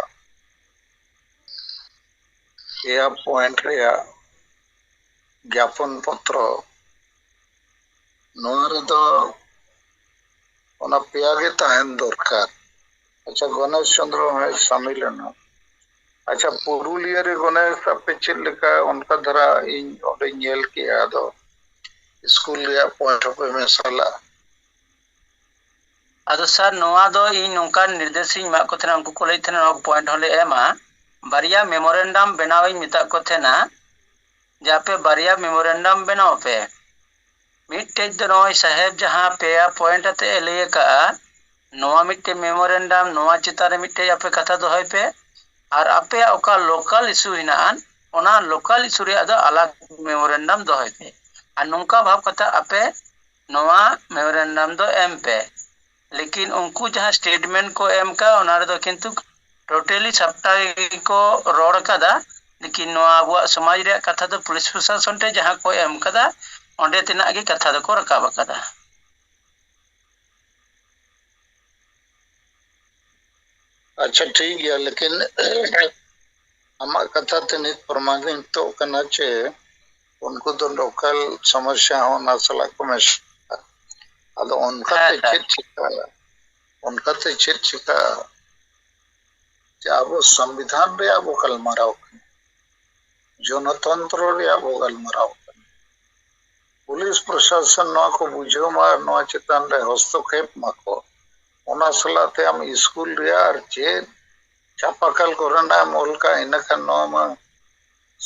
ᱯᱮᱭᱟ ᱯᱚᱭᱮᱱᱴ ᱨᱮᱭᱟᱜ ᱡᱟᱯᱚᱱ ᱯᱚᱛᱨᱚ ᱱᱚᱣᱟ ᱨᱮᱫᱚ ᱚᱱᱟ ᱯᱮᱭᱟ ᱜᱮ ᱛᱟᱦᱮᱱ ᱫᱚᱨᱠᱟᱨ ᱟᱪᱪᱷᱟ ᱜᱚᱱᱮᱥ ᱪᱚᱱᱫᱨᱚ ᱦᱚᱸᱭ ᱥᱟᱢᱤᱞ ᱮᱱᱟ ᱟᱪᱪᱷᱟ ᱯᱩᱨᱩᱞᱤᱭᱟᱹ ᱨᱮ ᱜᱚᱱᱮᱥ ᱟᱯᱮ ᱪᱮᱫ ᱞᱮᱠᱟ ᱚᱱᱠᱟ ᱫᱷᱟᱨᱟ ᱤᱧ ᱚᱸᱰᱮ ᱧᱮᱞ ᱠᱮᱜᱼᱟ ᱟᱫᱚ ᱥᱠᱩᱞ ᱨᱮᱭᱟᱜ ᱯᱚᱭᱮᱱᱴ ᱦᱚᱸᱯᱮ ᱢᱮᱥᱟ ᱞᱟᱜᱼᱟ ᱟᱫᱚ ᱥᱟᱨ ᱱᱚᱣᱟ ᱫᱚ ᱤᱧ ᱱᱚᱝᱠᱟᱱ ᱱᱤᱨᱫᱮᱥ ᱤᱧ ᱮᱢᱟᱜ ᱠᱚ ᱛᱟᱦᱮᱱᱟ ᱩᱱᱠᱩ ᱠᱚ ᱞᱟᱹᱭᱮᱫ ᱛᱟᱦᱮᱱᱟ ᱱᱚᱣᱟ ᱯᱚᱭᱮᱱᱴ ᱦᱚᱸᱞᱮ ᱮᱢᱟ ᱵᱟᱨᱭᱟ ᱢᱮᱢᱳᱨᱮᱱᱰᱟᱢ ᱵᱮᱱᱟᱣ ᱤᱧ ᱢᱮᱛᱟᱫ ᱠᱚ ᱛᱟᱦᱮᱱᱟ ᱡᱮ ᱟᱯᱮ ᱵᱟᱨᱭᱟ ᱢᱮᱢᱳᱨᱮᱱᱰᱟᱢ ᱵᱮᱱᱟᱣ ᱯᱮ ᱢᱤᱫᱴᱮᱡ ᱫᱚ ᱱᱚᱜᱼᱚᱭ ᱥᱟᱦᱮᱵᱽ ᱡᱟᱦᱟᱸ ᱯᱮᱭᱟ ᱯᱚᱭᱮᱱᱴ ᱟᱛᱮ ᱮ ᱞᱟᱹᱭ ᱟᱠᱟᱫᱼᱟ, ᱱᱚᱣᱟ ᱢᱤᱫᱴᱮᱡ ᱢᱮᱢᱳᱨᱮᱱᱰᱟᱢ ᱱᱚᱣᱟ ᱪᱮᱛᱟᱱ ᱨᱮ ᱢᱤᱫᱴᱮᱡ ᱟᱯᱮ ᱠᱟᱛᱷᱟ ᱫᱚᱦᱚᱭ ᱯᱮ ᱟᱨ ᱟᱯᱮᱭᱟᱜ ᱚᱠᱟ ᱞᱳᱠᱟᱞ ᱤᱥᱩ ᱦᱮᱱᱟᱜ ᱟᱱ ᱚᱱᱟ ᱞᱳᱠᱟᱞ ᱤᱥᱩ ᱨᱮᱭᱟᱜ ᱫᱚ ᱟᱞᱟᱜᱽ ᱢᱮᱢᱳᱨᱮᱱᱰᱟᱢ ᱫᱚᱦᱚᱭ ᱯᱮ ᱟᱨ ᱱᱚᱝᱠᱟ ᱵᱷᱟᱵᱽ ᱠᱟᱛᱮ ᱟᱯᱮ ᱱᱚᱣᱟ ᱢᱮᱢᱳᱨᱮᱱᱰᱟᱢ ᱫᱚ ᱮᱢ ᱯᱮ᱾ ᱞᱮᱠᱤᱱ ᱩᱱᱠᱩ ᱡᱟᱦᱟᱸ ᱥᱴᱮᱴᱢᱮᱱᱴ ᱠᱚ ᱮᱢ ᱠᱟᱜᱼᱟ ᱚᱱᱟ ᱨᱮᱫᱚ ᱠᱤᱱᱛᱩ ᱴᱳᱴᱟᱞᱤ ᱥᱟᱯᱴᱟ ᱜᱮᱠᱚ ᱨᱚᱲ ᱠᱟᱫᱟ ᱞᱮᱠᱤᱱ ᱱᱚᱣᱟ ᱟᱵᱚᱣᱟᱜ ᱥᱚᱢᱟᱡᱽ ᱨᱮᱭᱟᱜ ᱠᱟᱛᱷᱟ ᱫᱚ ᱯᱩᱞᱤᱥ ᱯᱨᱚᱥᱟᱥᱚᱱ ᱴᱷᱮᱱ ᱡᱟᱦᱟᱸ ᱠᱚ ᱮᱢ ᱠᱟᱫᱟ ᱚᱸᱰᱮ ᱛᱮᱱᱟᱜ ᱜᱮ ᱠᱟᱛᱷᱟ ᱫᱚᱠᱚ ᱨᱟᱠᱟᱵ ᱟᱠᱟᱫᱟ ᱟᱪᱪᱷᱟ ᱴᱷᱤᱠ ᱜᱮᱭᱟ ᱞᱮᱠᱤᱱ ᱟᱢᱟᱜ ᱠᱟᱛᱷᱟ ᱛᱮ ᱱᱤᱛ ᱯᱨᱚᱢᱟᱱᱤᱛᱚᱜ ᱠᱟᱱᱟ ᱪᱮ ᱩᱱᱠᱩ ᱫᱚ ᱞᱳᱠᱟᱞ ᱥᱚᱢᱚᱥᱥᱟ ᱦᱚᱸ ᱚᱱᱟ ᱥᱟᱞᱟᱜ ᱠᱚ ᱢᱮᱥᱟ ᱟᱫᱚ ᱚᱱᱠᱟᱛᱮ ᱪᱮᱫ ᱪᱤᱠᱟᱹᱜᱼᱟ ᱚᱱᱠᱟᱛᱮ ᱪᱮᱫ ᱪᱤᱠᱟᱹᱜᱼᱟ ᱡᱮ ᱟᱵᱚ ᱥᱚᱝᱵᱤᱫᱷᱟᱱ ᱨᱮᱭᱟᱜ ᱵᱚ ᱜᱟᱞᱢᱟᱨᱟᱣ ᱠᱟᱱᱟ ᱡᱚᱱᱚᱛᱚᱱᱛᱨᱚ ᱨᱮᱭᱟᱜ ᱵᱚ ᱜᱟᱞᱢᱟᱨᱟᱣ ᱠᱟᱱᱟ ᱯᱩᱞᱤᱥ ᱯᱨᱚᱥᱟᱥᱚᱱ ᱱᱚᱣᱟ ᱠᱚ ᱵᱩᱡᱷᱟᱹᱣ ᱢᱟ ᱟᱨ ᱱᱚᱣᱟ ᱪᱮᱛᱟᱱ ᱨᱮ ᱦᱚᱥᱛᱚᱠᱷᱮᱯ ᱢᱟᱠᱚ ᱚᱱᱟ ᱥᱟᱞᱟᱜ ᱛᱮ ᱟᱢ ᱥᱠᱩᱞ ᱨᱮᱭᱟᱜ ᱟᱨ ᱪᱮᱫ ᱪᱟᱯᱟᱠᱟᱞ ᱠᱚᱨᱮᱱᱟᱜ ᱮᱢ ᱚᱞ ᱠᱟᱜᱼᱟ ᱤᱱᱟᱹᱠᱷᱟᱱ ᱱᱚᱣᱟ ᱢᱟ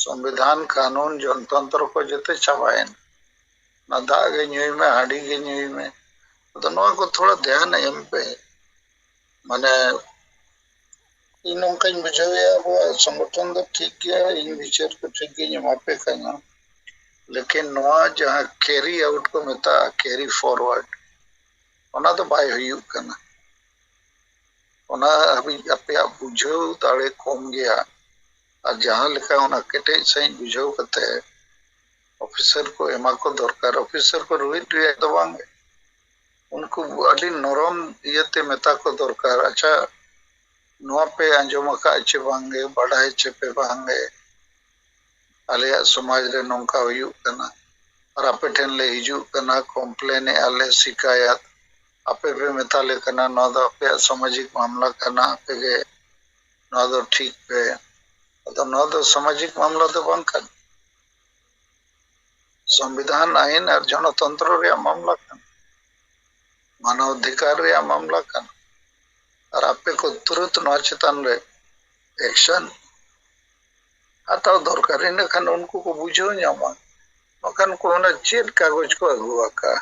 ᱥᱚᱢᱵᱤᱫᱷᱟᱱ ᱠᱟᱱᱩᱱ ᱡᱚᱱᱛᱚᱱᱛᱨᱚ ᱠᱚ ᱡᱚᱛᱚ ᱪᱟᱵᱟᱭᱮᱱᱟ ᱚᱱᱟ ᱫᱟᱜ ᱜᱮ ᱧᱩᱭ ᱢᱮ ᱦᱟᱺᱰᱤ ᱜᱮ ᱧᱩᱭ ᱢᱮ ᱟᱫᱚ ᱱᱚᱣᱟ ᱠᱚ ᱛᱷᱚᱲᱟ ᱫᱷᱮᱭᱟᱱ ᱮᱢ ᱯᱮ ᱢᱟᱱᱮ ᱤᱧ ᱱᱚᱝᱠᱟᱧ ᱵᱩᱡᱷᱟᱹᱣᱮᱫᱼᱟ ᱟᱵᱚᱣᱟᱜ ᱥᱚᱝᱜᱚᱴᱷᱚᱱ ᱫᱚ ᱴᱷᱤᱠ ᱜᱮᱭᱟ ᱤᱧ ᱵᱤᱪᱟᱹᱨ ᱠᱚ ᱴᱷᱤᱠ ᱜᱤᱧ ᱮᱢᱟ ᱯᱮ ᱠᱟᱱᱟ ᱞᱮᱠᱤᱱ ᱱᱚᱣᱟ ᱡᱟᱦᱟᱸ ᱠᱮᱨᱤ ᱟᱣᱩᱴ ᱠᱚ ᱢᱮᱛᱟᱜᱼᱟ ᱠᱮᱨᱤ ᱯᱷᱚᱨᱣᱟᱨᱰ ᱚᱱᱟ ᱫᱚ ᱵᱟᱭ ᱦᱩᱭᱩᱜ ᱠᱟᱱᱟ ᱚᱱᱟ ᱦᱟᱹᱵᱤᱡ ᱟᱯᱮᱭᱟᱜ ᱵᱩᱡᱷᱟᱹᱣ ᱫᱟᱲᱮ ᱠᱚᱢ ᱜᱮᱭᱟ ᱟᱨ ᱡᱟᱦᱟᱸ ᱞᱮᱠᱟ ᱚᱱᱟ ᱠᱮᱴᱮᱡ ᱥᱟᱺᱦᱤᱡ ᱵᱩᱡᱷᱟᱹᱣ ᱠᱟᱛᱮ ᱚᱯᱷᱤᱥᱟᱨ ᱠᱚ ᱮᱢᱟ ᱠᱚ ᱫᱚᱨᱠᱟᱨ ᱚᱯᱷᱤᱥᱟᱨ ᱠᱚ ᱨᱩᱦᱤᱫ ᱨᱮᱭᱟᱜ ᱫᱚ ᱵᱟᱝ ᱩᱱᱠᱩ ᱟᱹᱰᱤ ᱱᱚᱨᱚᱢ ᱤᱭᱟᱹᱛᱮ ᱢᱮᱛᱟ ᱠᱚ ᱫᱚᱨᱠᱟᱨ ᱟᱪᱪᱷᱟ ᱱᱚᱣᱟ ᱯᱮ ᱟᱸᱡᱚᱢ ᱟᱠᱟᱫ ᱪᱮ ᱵᱟᱝᱜᱮ ᱵᱟᱰᱟᱭ ᱪᱮ ᱯᱮ ᱵᱟᱝᱜᱮ ᱟᱞᱮᱭᱟᱜ ᱥᱚᱢᱟᱡᱽ ᱨᱮ ᱱᱚᱝᱠᱟ ᱦᱩᱭᱩᱜ ᱠᱟᱱᱟ ᱟᱨ ᱟᱯᱮ ᱴᱷᱮᱱ ᱞᱮ ᱦᱤᱡᱩᱜ ᱠᱟᱱᱟ ᱠᱚᱢᱯᱞᱮᱱ ᱮᱫᱼᱟ ᱞᱮ ᱥᱤᱠᱟᱭᱟᱛ ᱟᱯᱮ ᱯᱮ ᱢᱮᱛᱟᱞᱮ ᱠᱟᱱᱟ ᱱᱚᱣᱟ ᱫᱚ ᱟᱯᱮᱭᱟᱜ ᱥᱟᱢᱟᱡᱤᱠ ᱢᱟᱢᱞᱟ ᱠᱟᱱᱟ ᱟᱯᱮᱜᱮ ᱱᱚᱣᱟ ᱫᱚ ᱴᱷᱤᱠ ᱯᱮ ᱟᱫᱚ ᱱᱚᱣᱟ ᱫᱚ ᱥᱟᱢᱟᱡᱤᱠ ᱢᱟᱢᱞᱟ ᱫᱚ ᱵᱟᱝ ᱠᱟᱱᱟ ᱥᱚᱝᱵᱤᱫᱷᱟᱱ ᱟᱭᱤᱱ ᱟᱨ ᱡᱚᱱᱚᱛᱚᱱᱛᱨᱚ ᱨᱮᱭᱟᱜ ᱢᱟᱢᱞᱟ ᱠᱟᱱᱟ ᱢᱟᱱᱟᱣ ᱚᱫᱷᱤᱠᱟᱨ ᱨᱮᱭᱟᱜ ᱢᱟᱢᱞᱟ ᱠᱟᱱᱟ ᱟᱨ ᱟᱯᱮ ᱠᱚ ᱛᱩᱨᱟᱹᱛ ᱱᱚᱣᱟ ᱪᱮᱛᱟᱱ ᱨᱮ ᱮᱠᱥᱚᱱ ᱦᱟᱛᱟᱣ ᱫᱚᱨᱠᱟᱨ ᱤᱱᱟᱹᱠᱷᱟᱱ ᱩᱱᱠᱩ ᱠᱚ ᱵᱩᱡᱷᱟᱹᱣ ᱧᱟᱢᱟ ᱵᱟᱠᱷᱟᱱ ᱠᱚ ᱢᱮᱱᱟ ᱪᱮᱫ ᱠᱟᱜᱚᱡᱽ ᱠᱚ ᱟᱹᱜᱩ ᱟᱠᱟᱫᱼᱟ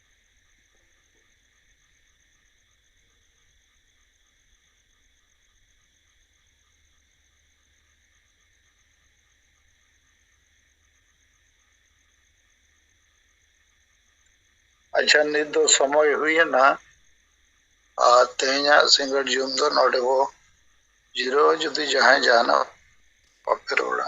ᱟᱪᱪᱷᱟ ᱱᱤᱛ ᱫᱚ ᱥᱚᱢᱚᱭ ᱦᱩᱭᱮᱱᱟ ᱟᱨ ᱛᱮᱦᱮᱧᱟᱜ ᱥᱤᱸᱜᱟᱹᱲ ᱡᱚᱢ ᱫᱚ ᱱᱚᱰᱮ ᱵᱚ ᱡᱤᱨᱟᱹᱣ ᱡᱩᱫᱤ ᱡᱟᱦᱟᱸᱭ ᱡᱟᱦᱟᱱᱟᱜ ᱵᱟᱯᱮ ᱨᱚᱲᱟ